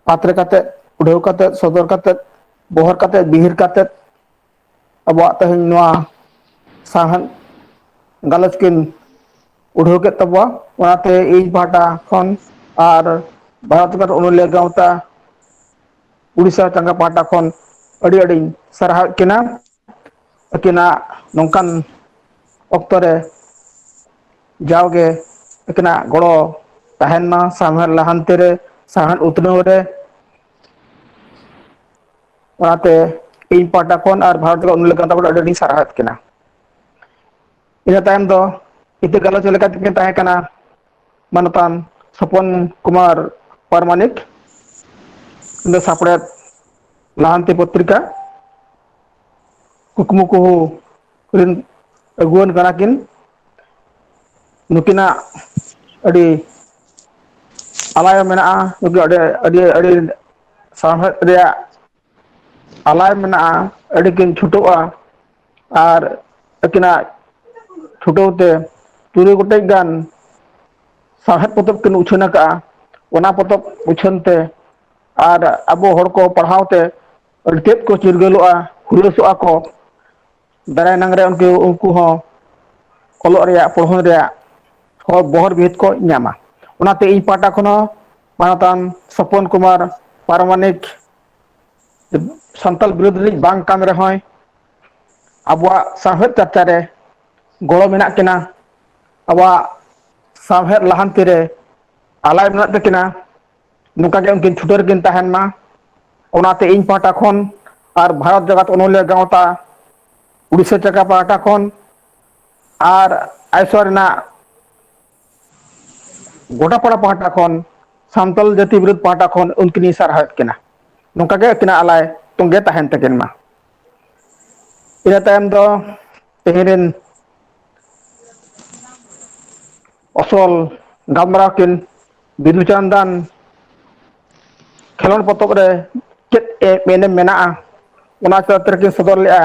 ᱯᱟᱛᱨᱮ ᱠᱟᱛᱮᱫ ᱩᱰᱷᱟᱹᱣ ᱠᱟᱛᱮᱫ ᱥᱚᱫᱚᱨ ᱠᱟᱛᱮᱫ ᱵᱚᱦᱚᱨ ᱠᱟᱛᱮᱫ ᱵᱤᱦᱤᱨ ᱠᱟᱛᱮᱫ ᱟᱵᱚᱣᱟᱜ ᱛᱮᱦᱮᱧ ᱱᱚᱣᱟ ᱥᱟᱶᱦᱮᱫ ᱜᱟᱞᱚᱪ ᱠᱤᱱ ᱩᱰᱷᱟᱹᱣ ᱠᱮᱫ ᱛᱟᱵᱚᱣᱟ ᱚᱱᱟᱛᱮ ᱤᱧ ᱯᱟᱦᱴᱟ ᱠᱷᱚᱱ ᱟᱨ ᱵᱷᱟᱨᱚᱛ ᱵᱷᱟᱭᱟᱥ ᱚᱱᱚᱞᱤᱭᱟᱹ ᱜᱟᱶᱛᱟ ᱩᱲᱤᱥᱥᱟ ᱪᱟᱸᱜᱟ ᱯᱟᱦᱴᱟ ᱠᱷᱚᱱ ᱟᱹᱰᱤ ᱟᱹᱰᱤᱧ ᱥᱟᱨᱦᱟᱣᱮᱫ ᱠᱤᱱᱟ ᱟᱹᱠᱤᱱᱟᱜ ᱱᱚᱝᱠᱟᱱ ᱚᱠᱛᱚ ᱨᱮ ᱡᱟᱣᱜᱮ ᱟᱹᱠᱤᱱᱟᱜ ᱜᱚᱲᱚ ᱛᱟᱦᱮᱱ ᱢᱟ ᱥᱟᱶᱦᱮᱫ ᱞᱟᱦᱟᱱᱛᱤ ᱨᱮ ᱥᱟᱶᱦᱮᱫ ᱩᱛᱱᱟᱹᱣ ᱨᱮ ᱚᱱᱟᱛᱮ ᱤᱧ ᱯᱟᱦᱴᱟ ᱠᱷᱚᱱ ᱟᱨ ᱵᱷᱟᱨᱚᱛ ᱨᱮ ᱩᱱ ᱞᱮᱠᱟ ᱟᱹᱰᱤ ᱟᱹᱰᱤᱧ ᱥᱟᱨᱦᱟᱣᱮᱫ ᱠᱤᱱᱟ ᱤᱱᱟᱹ ᱛᱟᱭᱚᱢ ᱫᱚ ᱤᱛᱟᱹ ᱜᱟᱞᱚᱪ ᱞᱮᱠᱟ ᱛᱮᱠᱤᱱ ᱛᱟᱦᱮᱸ ᱠᱟᱱᱟ ᱢᱟᱱᱚᱛᱟᱱ ᱥᱚᱯᱚᱱ ᱠᱩᱢᱟᱨ ᱯᱟᱨᱢᱟᱱᱤᱠ ᱫᱚ ᱥᱟᱯᱲᱮᱫ ᱞᱟᱦᱟᱱᱛᱤ ᱯᱚᱛᱨᱤᱠᱟ ᱠᱩᱠᱢᱩ ᱠᱩᱦᱚ ᱨᱤᱱ ᱟᱹᱜᱩᱣᱟᱹᱱ ᱠᱟᱱᱟ ᱠᱤᱱ ᱱᱩᱠᱤᱱᱟᱜ ᱟᱹᱰᱤ ᱟᱞᱟᱭᱚᱱ ᱢᱮᱱᱟᱜᱼᱟ ᱱᱩᱠᱩ ᱟᱹᱰᱤ ᱟᱹᱰᱤ ᱟᱹᱰᱤ ᱥᱟᱶᱦᱮᱫ ᱨᱮᱭᱟᱜ ᱟᱞᱟᱭ ᱢᱮᱱᱟᱜᱼᱟ ᱟᱹᱰᱤ ᱠᱤᱱ ᱪᱷᱩᱴᱟᱹᱜᱼᱟ ᱟᱨ ᱟᱹᱠᱤᱱᱟᱜ ᱪᱷᱩᱴᱟᱹᱣ ᱛᱮ ᱛᱩᱨᱩᱭ ᱜᱚᱴᱮᱡ ᱜᱟᱱ ᱥᱟᱶᱦᱮᱫ ᱯᱚᱛᱚᱵ ᱠᱤᱱ ᱩᱪᱷᱟᱹᱱ ᱟᱠᱟᱫᱼᱟ ᱚᱱᱟ ᱯᱚᱛᱚᱵ ᱩᱪᱷᱟᱹᱱ ᱛᱮ ᱟᱨ ᱟᱵᱚ ᱦᱚᱲ ᱠᱚ ᱯᱟᱲᱦᱟᱣ ᱛᱮ ᱟᱹᱰᱤ ᱛᱮᱫ ᱠᱚ ᱪᱤᱨᱜᱟᱹᱞᱚᱜᱼᱟ ᱦᱩᱞᱟᱹᱥᱚᱜᱼᱟ ᱠᱚ ᱫᱟᱨᱟᱭ ᱮᱱᱟᱝ ᱨᱮ ᱩᱱᱠᱩ ᱩᱱᱠᱩ ᱦᱚᱸ ᱚᱞᱚᱜ ᱨᱮᱭᱟᱜ ᱯᱚᱲᱦᱚᱱ ᱨᱮᱭᱟᱜ ᱦᱚ ᱵᱚᱦᱚᱨ ᱵᱤᱦᱤᱛ ᱠᱚ ᱧᱟᱢᱟ ᱚᱱᱟᱛᱮ ᱤᱧ ᱯᱟᱦᱴᱟ ᱠᱷᱚᱱ ᱦᱚᱸ ᱢᱟᱱᱚᱛᱟᱱ ᱥᱚᱯᱚᱱ ᱠᱩᱢᱟᱨ ᱯᱟᱨᱟᱢᱟᱱᱤᱠ ᱥᱟᱱᱛᱟᱞ ᱵᱤᱨᱩᱫᱽ ᱨᱤᱱᱤᱡ ᱵᱟᱝ ᱠᱟᱱ ᱨᱮᱦᱚᱸᱭ ᱟᱵᱚᱣᱟᱜ ᱥᱟᱶᱦᱮᱫ ᱪᱟᱨᱪᱟ ᱨᱮ ᱜᱚᱲᱚ ᱢᱮᱱᱟᱜ ᱠᱤᱱᱟ ᱟᱵᱚᱣᱟᱜ ᱥᱟᱶᱦᱮᱫ ᱞᱟᱦᱟᱱᱛᱤ ᱨᱮ ᱟᱞᱟᱭ ᱢᱮᱱᱟᱜ ᱛᱟᱹᱠᱤᱱᱟ ᱱᱚᱝᱠᱟ ᱜᱮ ᱩᱱᱠᱤᱱ ᱪᱷᱩᱴᱟᱹᱨ ᱨᱮ ᱠᱤᱱ ᱛᱟᱦᱮᱱ ᱢᱟ ᱚᱱᱟᱛᱮ ᱤᱧ ᱯᱟᱦᱴᱟ ᱠᱷᱚᱱ ᱟᱨ ᱵᱷᱟᱨᱚᱛ ᱡᱟᱠᱟᱛ ᱚᱱᱚᱞᱤᱭᱟᱹ ᱜᱟᱶᱛᱟ ᱩᱲᱤᱥᱥᱟ ᱪᱟᱸᱜᱟ ᱯᱟᱦᱴᱟ ᱠᱷᱚᱱ ᱟᱨ ᱟᱭᱥᱳ ᱨᱮᱱᱟᱜ ᱜᱚᱰᱟ ᱯᱟᱲᱟ ᱯᱟᱦᱴᱟ ᱠᱷᱚᱱ ᱥᱟᱱᱛᱟᱞ ᱡᱟᱹᱛᱤ ᱵᱤᱨᱩᱫᱽ ᱯᱟᱦᱴᱟ ᱠᱷᱚᱱ ᱩᱱᱠᱤᱱ ᱤᱧ ᱥᱟᱨᱦᱟᱣᱮᱫ ᱠᱤᱱᱟ ᱱᱚᱝᱠᱟ ᱜᱮ ᱟᱹᱠᱤᱱᱟᱜ ᱟᱞᱟᱭ ᱛᱚᱸᱜᱮ ᱛᱟᱦᱮᱱ ᱛᱟᱹᱠᱤᱱ ᱢᱟ ᱤᱱᱟᱹ ᱛᱟᱭᱚᱢ ᱫᱚ ᱛᱮᱦᱮᱧ ᱨᱮᱱ ᱚᱥᱚᱞ ᱜᱟᱢᱲᱟ ᱠᱤᱱ ᱵᱤᱫᱩ ᱪᱟᱸᱫᱟᱱ ᱠᱷᱮᱞᱳᱰ ᱯᱚᱛᱚᱵ ᱨᱮ ᱪᱮᱫ ᱮ ᱮᱱᱮᱢ ᱢᱮᱱᱟᱜᱼᱟ ᱚᱱᱟ ᱪᱟᱨᱤᱛ ᱨᱮᱠᱤᱱ ᱥᱚᱫᱚᱨ ᱞᱮᱫᱼᱟ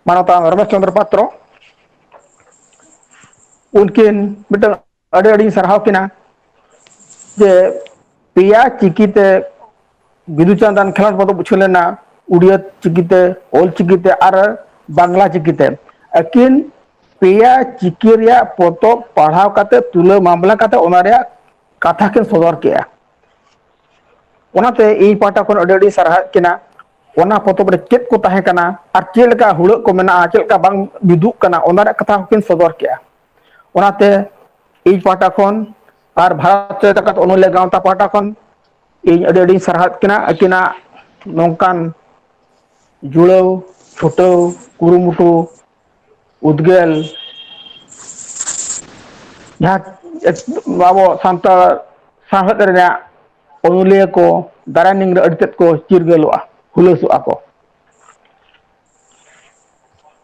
ᱢᱟᱱᱚᱛ ᱨᱚᱢᱮᱥ ᱪᱚᱱᱫᱨ ᱯᱟᱛᱨᱚ ᱩᱱᱠᱤᱱ ᱢᱤᱫᱴᱟᱝ ᱟᱹᱰᱤ ᱟᱹᱰᱤᱧ ᱥᱟᱨᱦᱟᱣ ᱠᱤᱱᱟ ᱡᱮ ᱯᱮᱭᱟ ᱪᱤᱠᱤᱛᱮ ᱵᱤᱫᱩ ᱪᱟᱸᱫᱟᱱ ᱠᱷᱮᱞᱳᱰ ᱵᱚᱱ ᱵᱩᱡᱷᱟᱹᱣ ᱞᱮᱱᱟ ᱩᱲᱤᱭᱟ ᱪᱤᱠᱤᱛᱮ ᱚᱞ ᱪᱤᱠᱤᱛᱮ ᱟᱨ ᱵᱟᱝᱞᱟ ᱪᱤᱠᱤᱛᱮ ᱟᱹᱠᱤᱱ ᱯᱮᱭᱟ ᱪᱤᱠᱤ ᱨᱮᱭᱟᱜ ᱯᱚᱛᱚᱵ ᱯᱟᱲᱦᱟᱣ ᱠᱟᱛᱮ ᱛᱩᱞᱟᱹ ᱢᱟᱢᱞᱟ ᱠᱟᱛᱮ ᱚᱱᱟ ᱨᱮᱭᱟᱜ ᱠᱟᱛᱷᱟ ᱠᱤᱱ ᱥᱚᱫᱚᱨ ᱠᱮᱜᱼᱟ ᱚᱱᱟᱛᱮ ᱤᱧ ᱯᱟᱦᱴᱟ ᱠᱷᱚᱱ ᱟᱹᱰᱤ ᱟᱹᱰᱤ ᱥᱟᱨᱦᱟᱣᱮᱫ ᱠᱤᱱᱟ ᱚᱱᱟ ᱯᱚᱛᱚᱵ ᱨᱮ ᱪᱮᱫ ᱠᱚ ᱛᱟᱦᱮᱸ ᱠᱟᱱᱟ ᱟᱨ ᱪᱮᱫ ᱞᱮᱠᱟ ᱦᱩᱲᱟᱹᱜ ᱠᱚ ᱢᱮᱱᱟᱜᱼᱟ ᱪᱮᱫ ᱞᱮᱠᱟ ᱵᱟᱝ ᱢᱤᱫᱩᱜ ᱠᱟᱱᱟ ᱚᱱᱟ ᱨᱮᱭᱟᱜ ᱠᱟᱛᱷᱟ ᱦᱚᱸᱠᱤᱱ ᱥᱚᱫᱚᱨ ᱠᱮᱜᱼᱟ ᱚᱱᱟᱛᱮ ᱤᱧ ᱯᱟᱦᱴᱟ ᱠᱷᱚᱱ ᱟᱨ ᱵᱷᱟᱨᱚᱛ ᱡᱟᱠᱟᱛ ᱚᱱᱚᱞᱤᱭᱟᱹ ᱜᱟᱶᱛᱟ ᱯᱟᱦᱴᱟ ᱠᱷᱚᱱ ᱤᱧ ᱟᱹᱰᱤ ᱟᱹᱰᱤᱧ ᱥᱟᱨᱦᱟᱣᱮᱫ ᱠᱤᱱᱟ ᱟᱹᱠᱤᱱᱟᱜ ᱱᱚᱝᱠᱟᱱ ᱡᱩᱲᱟᱹᱣ ᱪᱷᱩᱴᱟᱹᱣ ᱠᱩᱨᱩᱢᱩᱴᱩ ᱩᱫᱽᱜᱟᱹᱞ ᱡᱟᱦᱟᱸ ᱟᱵᱚ ᱥᱟᱱᱛᱟᱲ ᱥᱟᱶᱦᱮᱫ ᱨᱮᱭᱟᱜ ᱚᱱᱚᱞᱤᱭᱟᱹ ᱠᱚ ᱫᱟᱨᱟᱭ ᱱᱤᱝ ᱨᱮ ᱟᱹᱰᱤ ᱛᱮᱫ ᱠᱚ ᱪᱤᱨᱜᱟᱹᱞᱚᱜᱼᱟ ᱦᱩᱞᱟᱹᱥᱚᱜᱼᱟ ᱠᱚ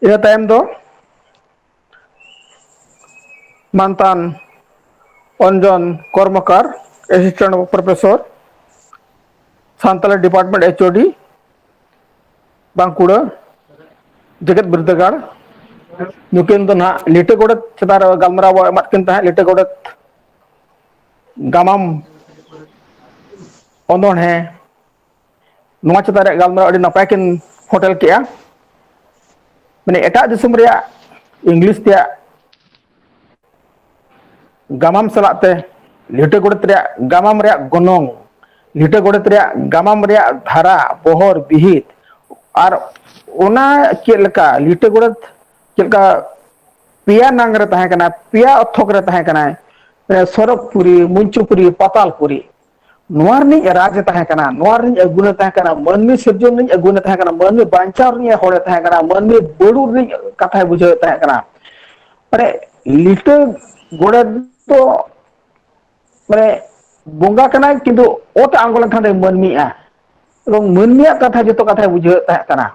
ᱤᱱᱟᱹ ᱛᱟᱭᱚᱢ ᱫᱚ ᱢᱟᱱᱛᱟᱱ ᱚᱱᱡᱚᱱ Karmakar assistant of professor Santali department H O D Bankura ᱡᱮᱜᱮᱛ ᱵᱤᱨᱫᱟᱹᱜᱟᱲ ᱧᱩᱛᱩᱢ ᱫᱚ ᱱᱟᱦᱟᱜ ᱞᱤᱴᱟᱹ ᱜᱚᱰᱮᱛ ᱪᱮᱛᱟᱱ ᱨᱮ ᱜᱟᱞᱢᱟᱨᱟᱣ ᱵᱚ ᱮᱢᱟᱫ ᱠᱤᱱ ᱛᱟᱦᱮᱸᱫ ᱞᱤᱴᱟᱹ ᱜᱚᱰᱮᱛ ᱜᱟᱢᱟᱢ ᱚᱱᱚᱬᱦᱮᱸ ᱱᱚᱣᱟ ᱪᱮᱛᱟᱱ ᱨᱮᱭᱟᱜ ᱜᱟᱞᱢᱟᱨᱟᱣ ᱟᱹᱰᱤ ᱱᱟᱯᱟᱭ ᱠᱤᱱ ᱯᱷᱚᱴᱮᱞ ᱠᱮᱜᱼᱟ ᱢᱟᱱᱮ ᱮᱴᱟᱜ ᱫᱤᱥᱚᱢ ᱨᱮᱭᱟᱜ ᱤᱝᱞᱤᱥ ᱛᱮᱭᱟᱜ ᱜᱟᱢᱟᱢ ᱥᱟᱞᱟᱜ ᱛᱮ ᱞᱤᱴᱟᱹ ᱜᱚᱰᱮᱛ ᱨᱮᱭᱟᱜ ᱜᱟᱢᱟᱢ ᱨᱮᱭᱟᱜ ᱜᱚᱱᱚᱝ ᱞᱤᱴᱟᱹ ᱜᱚᱰᱮᱛ ᱨᱮᱭᱟᱜ ᱜᱟᱢᱟᱢ ᱨᱮᱭᱟᱜ ᱫᱷᱟᱨᱟ ᱵᱚᱦᱚᱨ ᱵᱤᱦᱤᱛ ᱟᱨ ᱚᱱᱟ ᱪᱮᱫ ᱞᱮᱠᱟ ᱞᱤᱴᱟᱹ ᱜᱚᱰᱮᱛ ᱪᱮᱫ ᱞᱮᱠᱟ ᱯᱮᱭᱟ ᱱᱟᱝ ᱨᱮ ᱛᱟᱦᱮᱸ ᱠᱟᱱᱟ ᱯᱮᱭᱟ ᱚᱠᱛᱷᱚᱠ ᱨᱮ ᱛᱟᱦᱮᱸ ᱠᱟᱱᱟᱭ ᱥᱚᱨᱚᱜᱽᱯᱩᱨᱤ ᱢᱚᱧᱪᱩᱯᱩᱨᱤ ᱯᱟᱛᱟᱞᱯᱩᱨᱤ ᱱᱚᱣᱟ ᱨᱤᱱᱤᱡ ᱨᱟᱡᱽ ᱮ ᱛᱟᱦᱮᱸ ᱠᱟᱱᱟ ᱱᱚᱣᱟ ᱨᱤᱱᱤᱡ ᱟᱹᱜᱩᱱ ᱮ ᱛᱟᱦᱮᱸ ᱠᱟᱱᱟ ᱢᱟᱹᱱᱢᱤ ᱥᱤᱨᱡᱚᱱ ᱨᱤᱱᱤᱡ ᱟᱹᱜᱩᱱ ᱮ ᱛᱟᱦᱮᱸ ᱠᱟᱱᱟ ᱢᱟᱹᱱᱢᱤ ᱵᱟᱧᱪᱟᱣ ᱨᱤᱱᱤᱡ ᱦᱚᱲ ᱮ ᱛᱟᱦᱮᱸ ᱠᱟᱱᱟ ᱢᱟᱹᱱᱢᱤ ᱵᱟᱹᱲᱩ ᱨᱤᱱᱤᱡ ᱠᱟᱛᱷᱟᱭ ᱵᱩᱡᱷᱟᱹᱣᱮᱫ ᱛᱟᱦᱮᱸ ᱠᱟᱱᱟ ᱢᱟᱱᱮ ᱞᱤᱴᱟᱹ ᱜᱚᱰᱮᱛ ᱫᱚ ᱢᱟᱱᱮ ᱵᱚᱸᱜᱟ ᱠᱟᱱᱟᱭ ᱠᱤᱱᱛᱩ ᱚᱛ ᱟᱬᱜᱚ ᱞᱮᱱᱠᱷᱟᱱ ᱫᱚᱭ ᱢᱟᱹᱱᱢᱤᱜᱼᱟ ᱮᱵᱚᱝ ᱢᱟᱹᱱᱢᱤᱭᱟᱜ ᱠᱟᱛᱷᱟ ᱡᱚᱛᱚ ᱠᱟᱛᱷᱟᱭ ᱵᱩᱡᱷᱟᱹᱣᱮᱫ ᱛᱟᱦᱮᱸ ᱠᱟᱱᱟ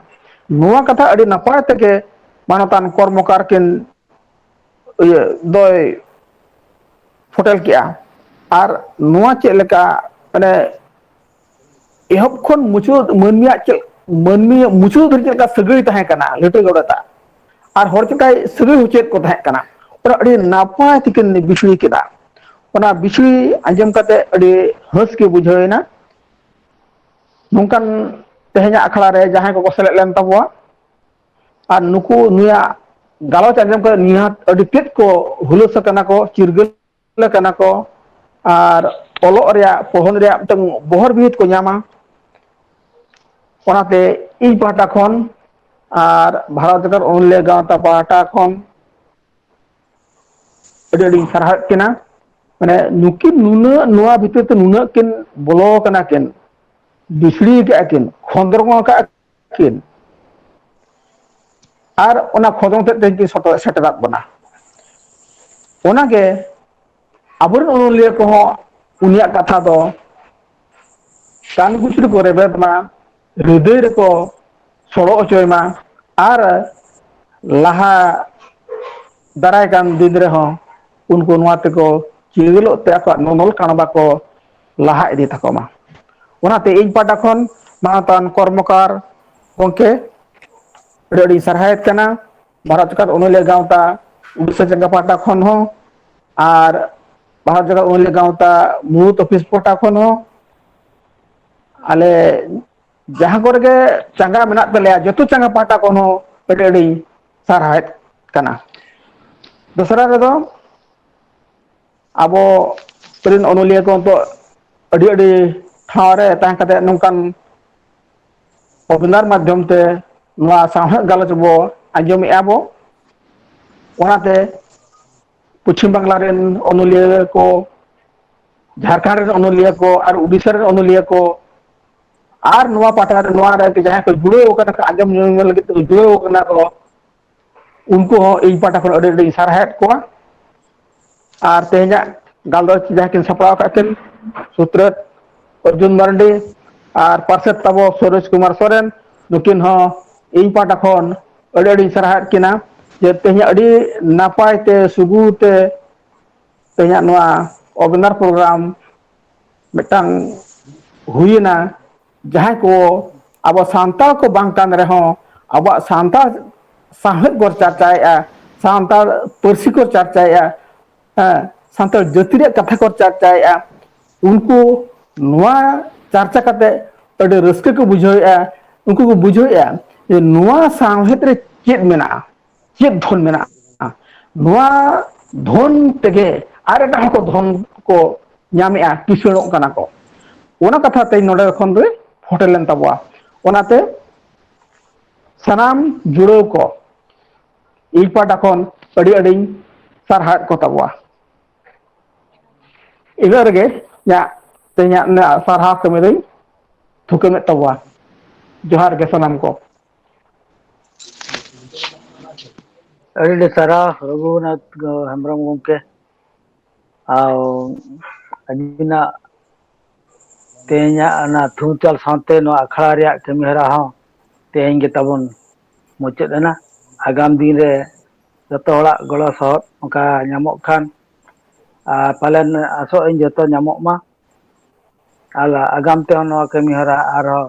ᱱᱚᱣᱟ ᱠᱟᱛᱷᱟ ᱟᱹᱰᱤ ᱱᱟᱯᱟᱭ ᱛᱮᱜᱮ ᱢᱟᱱᱚᱛᱟᱱ ᱠᱚᱨᱢᱚᱠᱟᱨ ᱠᱤᱱ ᱤᱭᱟᱹ ᱫᱚᱭ ᱯᱷᱚᱴᱮᱞ ᱠᱮᱜᱼᱟ ᱟᱨ ᱱᱚᱣᱟ ᱪᱮᱫ ᱞᱮᱠᱟ ᱢᱟᱱᱮ ᱮᱦᱚᱵ ᱠᱷᱚᱱ ᱢᱩᱪᱟᱹᱫ ᱢᱟᱹᱱᱢᱤᱭᱟᱜ ᱪᱮᱫ ᱢᱟᱹᱱᱢᱤᱭᱟᱜ ᱢᱩᱪᱟᱹᱫ ᱫᱷᱟᱹᱨᱤᱡ ᱪᱮᱫ ᱞᱮᱠᱟ ᱥᱟᱹᱜᱟᱹᱭ ᱛᱟᱦᱮᱸ ᱠᱟᱱᱟ ᱞᱤᱴᱟᱹ ᱜᱚᱰᱮᱛ ᱟᱜ ᱟᱨ ᱦᱚᱲ ᱪᱤᱠᱟᱭ ᱥᱟᱹᱜᱟᱹᱭ ᱦᱚᱪᱚᱭᱮᱫ ᱠᱚ ᱛᱟᱦᱮᱸ ᱠᱟᱱᱟ ᱚᱱᱟ ᱟᱹᱰᱤ ᱱᱟᱯᱟᱭ ᱛᱮᱠᱤᱱ ᱵᱤᱥᱲᱤ ᱠᱮᱫᱟ ᱚᱱᱟ ᱵᱤᱥᱲᱤ ᱟᱸᱡᱚᱢ ᱠᱟᱛᱮ ᱟᱹᱰᱤ ᱦᱟᱹᱥ ᱜᱮ ᱵᱩᱡᱷᱟᱹᱣ ᱮᱱᱟ ᱱᱚᱝᱠᱟᱱ ᱛᱮᱦᱮᱧᱟᱜ ᱟᱠᱷᱲᱟ ᱨᱮ ᱡᱟᱦᱟᱸᱭ ᱠᱚᱠᱚ ᱥᱮᱞᱮᱫ ᱞᱮᱱ ᱛᱟᱵᱚᱣᱟ ᱟᱨ ᱱᱩᱠᱩ ᱱᱩᱭᱟᱜ ᱜᱟᱞᱚᱪ ᱟᱸᱡᱚᱢ ᱠᱟᱛᱮ ᱱᱤᱦᱟᱹᱛ ᱟᱹᱰᱤ ᱛᱮᱫ ᱠᱚ ᱦᱩᱞᱟᱹᱥ ᱟᱠᱟᱱᱟ ᱠᱚ ᱪᱤᱨᱜᱟᱹᱞ ᱟᱠᱟᱱᱟ ᱠᱚ ᱟᱨ ᱚᱞᱚᱜ ᱨᱮᱭᱟᱜ ᱯᱚᱲᱦᱚᱱ ᱨᱮᱭᱟᱜ ᱢᱤᱫᱴᱟᱝ ᱵᱚᱦᱚᱨ ᱵᱤᱦᱤᱫ ᱠᱚ ᱧᱟᱢᱟ ᱚᱱᱟᱛᱮ ᱤᱧ ᱯᱟᱦᱴᱟ ᱠᱷᱚᱱ ᱟᱨ ᱵᱷᱟᱨᱚᱛ ᱡᱟᱠᱟᱛ ᱚᱱᱚᱞᱤᱭᱟᱹ ᱜᱟᱶᱛᱟ ᱯᱟᱦᱴᱟ ᱠᱷᱚᱱ ᱟᱹᱰᱤ ᱟᱹᱰᱤᱧ ᱥᱟᱨᱦᱟᱣᱮᱫ ᱠᱤᱱᱟ ᱢᱟᱱᱮ ᱱᱩᱠᱤᱱ ᱱᱩᱱᱟᱹᱜ ᱱᱚᱣᱟ ᱵᱷᱤᱛᱤᱨ ᱛᱮ ᱱᱩᱱᱟᱹᱜ ᱠᱤᱱ ᱵᱚᱞᱚ ᱟᱠᱟᱱᱟ ᱠᱤᱱ ᱵᱤᱥᱲᱤ ᱠᱟᱜᱼᱟ ᱠᱤᱱ ᱠᱷᱚᱸᱫᱽᱨᱚᱝ ᱠᱟᱜᱼᱟ ᱠᱤᱱ ᱟᱨ ᱚᱱᱟ ᱠᱷᱚᱸᱫᱽᱨᱚᱸᱫᱽ ᱛᱮᱫ ᱛᱮᱜᱮ ᱠᱤᱱ ᱥᱚᱴᱚᱜ ᱥᱮᱴᱮᱨᱟᱫ ᱵᱚᱱᱟ ᱚᱱᱟᱜᱮ ᱟᱵᱚᱨᱮᱱ ᱚᱱᱚᱞᱤᱭᱟᱹ ᱠᱚᱦᱚᱸ ᱩᱱᱤᱭᱟᱜ ᱠᱟᱛᱷᱟ ᱫᱚ ᱠᱟᱱ ᱜᱩᱥᱩ ᱨᱮᱠᱚ ᱨᱮᱵᱮᱫ ᱢᱟ ᱦᱤᱫᱤᱭ ᱨᱮᱠᱚ ᱥᱚᱲᱚ ᱚᱪᱚᱭ ᱢᱟ ᱟᱨ ᱞᱟᱦᱟ ᱫᱟᱨᱟᱭ ᱠᱟᱱ ᱫᱤᱱ ᱨᱮᱦᱚᱸ ᱩᱱᱠᱩ ᱱᱚᱣᱟ ᱛᱮᱠᱚ ᱪᱤᱨᱜᱟᱹᱞᱚᱜ ᱛᱮ ᱟᱠᱚᱣᱟᱜ ᱱᱚᱱᱚᱞ ᱠᱟᱬᱵᱟ ᱠᱚ ᱞᱟᱦᱟ ᱤᱫᱤ ᱛᱟᱠᱚ ᱢᱟ ᱚᱱᱟᱛᱮ ᱤᱧ ᱯᱟᱦᱴᱟ ᱠᱷᱚᱱ ᱢᱟᱱᱚᱛᱟᱱ ᱠᱚᱨᱢᱚᱠᱟᱨ ᱜᱚᱢᱠᱮ ᱟᱹᱰᱤ ᱟᱹᱰᱤᱧ ᱥᱟᱨᱦᱟᱣᱮᱫ ᱠᱟᱱᱟ ᱵᱷᱟᱨᱚᱛ ᱡᱟᱠᱟᱛ ᱚᱱᱚᱞᱤᱭᱟᱹ ᱜᱟᱶᱛᱟ ᱩᱰᱤᱥᱟ ᱡᱟᱸᱜᱟ ᱯᱟᱦᱴᱟ ᱠᱷᱚᱱ ᱦᱚᱸ ᱟᱨ ᱵᱷᱟᱨᱚᱛ ᱡᱟᱠᱟᱛ ᱚᱱᱚᱞᱤᱭᱟᱹ ᱜᱟᱶᱛᱟ ᱢᱩᱬᱩᱛ ᱚᱯᱷᱤᱥ ᱯᱟᱦᱴᱟ ᱠᱷᱚᱱ ᱦᱚᱸ ᱟᱞᱮ ᱡᱟᱦᱟᱸ ᱠᱚᱨᱮ ᱜᱮ ᱪᱟᱸᱜᱟ ᱢᱮᱱᱟᱜ ᱛᱟᱞᱮᱭᱟ ᱡᱚᱛᱚ ᱪᱟᱸᱜᱟ ᱯᱟᱦᱴᱟ ᱠᱷᱚᱱ ᱦᱚᱸ ᱟᱹᱰᱤ ᱟᱹᱰᱤ ᱥᱟᱨᱦᱟᱣᱮᱫ ᱠᱟᱱᱟ ᱫᱚᱥᱨᱟ ᱨᱮᱫᱚ ᱟᱵᱚ ᱨᱮᱱ ᱚᱱᱚᱞᱤᱭᱟᱹ ᱠᱚ ᱱᱤᱛᱚᱜ ᱟᱹᱰᱤ ᱟᱹᱰᱤ ᱴᱷᱟᱶ ᱨᱮ ᱛᱟᱦᱮᱸ ᱠᱟᱛᱮᱫ ᱱᱚᱝᱠᱟᱱ ᱚᱵᱤᱱᱟᱨ ᱢᱟᱫᱽᱫᱷᱚᱢ ᱛᱮ ᱱᱚᱣᱟ ᱥᱟᱶᱦᱮᱫ ᱜᱟᱞᱚᱪ ᱵᱚ ᱟᱸᱡᱚᱢᱮᱫᱼᱟ ᱵᱚ ᱚᱱᱟᱛᱮ ᱯᱚᱪᱷᱤᱢ ᱵᱟᱝᱞᱟ ᱨᱮᱱ ᱚᱱᱚᱞᱤᱭᱟᱹ ᱠᱚ ᱡᱷᱟᱲᱠᱷᱚᱸᱰ ᱨᱮᱱ ᱚᱱᱚᱞᱤᱭᱟᱹ ᱠᱚ ᱟᱨ ᱩᱰᱤᱥᱟ ᱨᱮᱱ ᱚᱱᱚᱞᱤᱭᱟᱹ ᱠᱚ ᱟᱨ ᱱᱚᱣᱟ ᱯᱟᱦᱴᱟ ᱨᱮ ᱱᱚᱣᱟ ᱨᱮ ᱡᱟᱦᱟᱸᱭ ᱠᱚ ᱡᱩᱲᱟᱹᱣ ᱟᱠᱟᱱᱟ ᱠᱚ ᱟᱸᱡᱚᱢ ᱞᱟᱹᱜᱤᱫ ᱛᱮᱠᱚ ᱡᱩᱲᱟᱹᱣ ᱟᱠᱟᱱᱟ ᱠᱚ ᱩᱱᱠᱩ ᱦᱚᱸ ᱤᱧ ᱯᱟᱦᱴᱟ ᱠᱷᱚᱱ ᱟᱹᱰᱤ ᱟᱹᱰᱤᱧ ᱥᱟᱨᱦᱟᱣᱮᱫ ᱠᱚᱣᱟ ᱟᱨ ᱛᱮᱦᱮᱧᱟᱜ ᱜᱟᱞᱚᱪ ᱡᱟᱦᱟᱸ ᱠᱤᱱ ᱥᱟᱯᱲᱟᱣ ᱠᱟᱜ ᱠᱤᱱ ᱥᱩᱛᱨᱮᱫ ᱚᱨᱡᱩᱱ ᱢᱟᱨᱰᱤ ᱟᱨ ᱯᱟᱨᱥᱮᱛ ᱛᱟᱵᱚ ᱥᱩᱨᱚᱡᱽ ᱠᱩᱢᱟᱨ ᱥᱚᱨᱮᱱ ᱱᱩᱠᱤᱱ ᱦᱚᱸ ᱤᱧ ᱯᱟᱦᱴᱟ ᱠᱷᱚᱱ ᱟᱹᱰᱤ ᱟᱹᱰᱤᱧ ᱥᱟᱨᱦᱟᱣᱮᱫ ᱠᱤᱱᱟ ᱡᱮ ᱛᱮᱦᱮᱧᱟᱜ ᱟᱹᱰᱤ ᱱᱟᱯᱟᱭ ᱛᱮ ᱥᱩᱜᱩᱲ ᱛᱮ ᱛᱮᱦᱮᱧᱟᱜ ᱱᱚᱣᱟ ᱚᱜᱽᱱᱟᱨ ᱯᱨᱳᱜᱨᱟᱢ ᱢᱤᱫᱴᱟᱝ ᱦᱩᱭᱮᱱᱟ ᱡᱟᱦᱟᱸᱭ ᱠᱚ ᱟᱵᱚ ᱥᱟᱱᱛᱟᱲ ᱠᱚ ᱵᱟᱝ ᱠᱟᱱ ᱨᱮᱦᱚᱸ ᱟᱵᱚᱣᱟᱜ ᱥᱟᱱᱛᱟᱲ ᱥᱟᱶᱦᱮᱫ ᱵᱚᱱ ᱪᱟᱨᱪᱟᱭᱮᱫᱼᱟ ᱥᱟᱱᱛᱟᱲ ᱯᱟᱹᱨᱥᱤ ᱠᱚ ᱪᱟᱨᱪᱟᱭᱮᱫᱼᱟ ᱦᱮᱸ ᱥᱟᱱᱛᱟᱲ ᱡᱟᱹᱛᱤ ᱨᱮᱭᱟᱜ ᱠᱟᱛᱷᱟ ᱠᱚ ᱪᱟᱨᱪᱟᱭᱮᱫᱼᱟ ᱩᱱᱠᱩ ᱱᱚᱣᱟ ᱪᱟᱨᱪᱟ ᱠᱟᱛᱮ ᱟᱹᱰᱤ ᱨᱟᱹᱥᱠᱟᱹ ᱠᱚ ᱵᱩᱡᱷᱟᱹᱣᱮᱫᱼᱟ ᱩᱱᱠᱩ ᱠᱚ ᱵᱩᱡᱷᱟᱹᱣᱮᱫᱼᱟ ᱡᱮ ᱱᱚᱣᱟ ᱥᱟᱶᱦᱮᱫ ᱨᱮ ᱪᱮᱫ ᱢᱮᱱᱟᱜᱼᱟ ᱪᱮᱫ ᱫᱷᱚᱱ ᱢᱮᱱᱟᱜᱼᱟ ᱱᱚᱣᱟ ᱫᱷᱚᱱ ᱛᱮᱜᱮ ᱟᱨ ᱮᱴᱟᱜ ᱦᱚᱸᱠᱚ ᱫᱷᱚᱱ ᱠᱚ ᱧᱟᱢᱮᱜᱼᱟ ᱠᱤᱥᱟᱹᱬᱚᱜ ᱠᱟᱱᱟ ᱠᱚ ᱚᱱᱟ ᱠᱟᱛᱷᱟ ᱛᱮᱧ ᱱᱚᱰᱮ ᱠᱷᱚᱱ ᱫᱚᱭ ᱯᱷᱚᱴᱮᱞ ᱞᱮᱱ ᱛᱟᱵᱚᱣᱟ ᱚᱱᱟᱛᱮ ᱥᱟᱱᱟᱢ ᱡᱩᱲᱟᱹᱣ ᱠᱚ ᱤᱧ ᱯᱟᱦᱴᱟ ᱠᱷᱚᱱ ᱟᱹᱰᱤ ᱟᱹᱰᱤᱧ ᱥᱟᱨᱦᱟᱣᱮᱫ ᱠᱚ ᱛᱟᱵᱚᱣᱟ ᱤᱱᱟᱹᱜ ᱨᱮᱜᱮ ᱤᱧᱟᱹᱜ ᱛᱮᱦᱮᱧᱟᱜ ᱥᱟᱨᱦᱟᱣ ᱠᱟᱹᱢᱤ ᱫᱚᱧ ᱛᱷᱩᱠᱟᱹᱢᱮᱫ ᱛᱟᱵᱚᱣᱟ ᱡᱚᱦᱟᱨ ᱜᱮ ᱥᱟᱱᱟᱢ ᱠᱚ ᱟᱹᱰᱤ ᱟᱹᱰᱤ ᱥᱟᱨᱦᱟᱣ ᱨᱚᱜᱷᱩᱱᱟᱛᱷ ᱦᱮᱢᱵᱨᱚᱢ ᱜᱚᱢᱠᱮ ᱟᱨ ᱟᱹᱵᱤᱱᱟᱜ ᱛᱮᱦᱮᱧᱟᱜ ᱚᱱᱟ ᱛᱷᱩᱢᱪᱟᱞ ᱥᱟᱶᱛᱮ ᱱᱚᱣᱟ ᱟᱠᱷᱲᱟ ᱨᱮᱭᱟᱜ ᱠᱟᱹᱢᱤ ᱦᱚᱨᱟ ᱦᱚᱸ ᱛᱮᱦᱮᱧ ᱜᱮ ᱛᱟᱵᱚᱱ ᱢᱩᱪᱟᱹᱫ ᱮᱱᱟ ᱟᱜᱟᱢ ᱫᱤᱱ ᱨᱮ ᱡᱚᱛᱚ ᱦᱚᱲᱟᱜ ᱜᱚᱲᱚ ᱥᱚᱦᱚᱫ ᱚᱱᱠᱟ ᱧᱟᱢᱚᱜ ᱠᱷᱟᱱ ᱟᱨ ᱯᱟᱞᱮᱱ ᱟᱥᱚᱜ ᱟᱹᱧ ᱡᱚᱛᱚ ᱧᱟᱢᱚᱜ ᱢᱟ ᱟᱨ ᱟᱜᱟᱢ ᱛᱮᱦᱚᱸ ᱱᱚᱣᱟ ᱠᱟᱹᱢᱤ ᱦᱚᱨᱟ ᱟᱨᱦᱚᱸ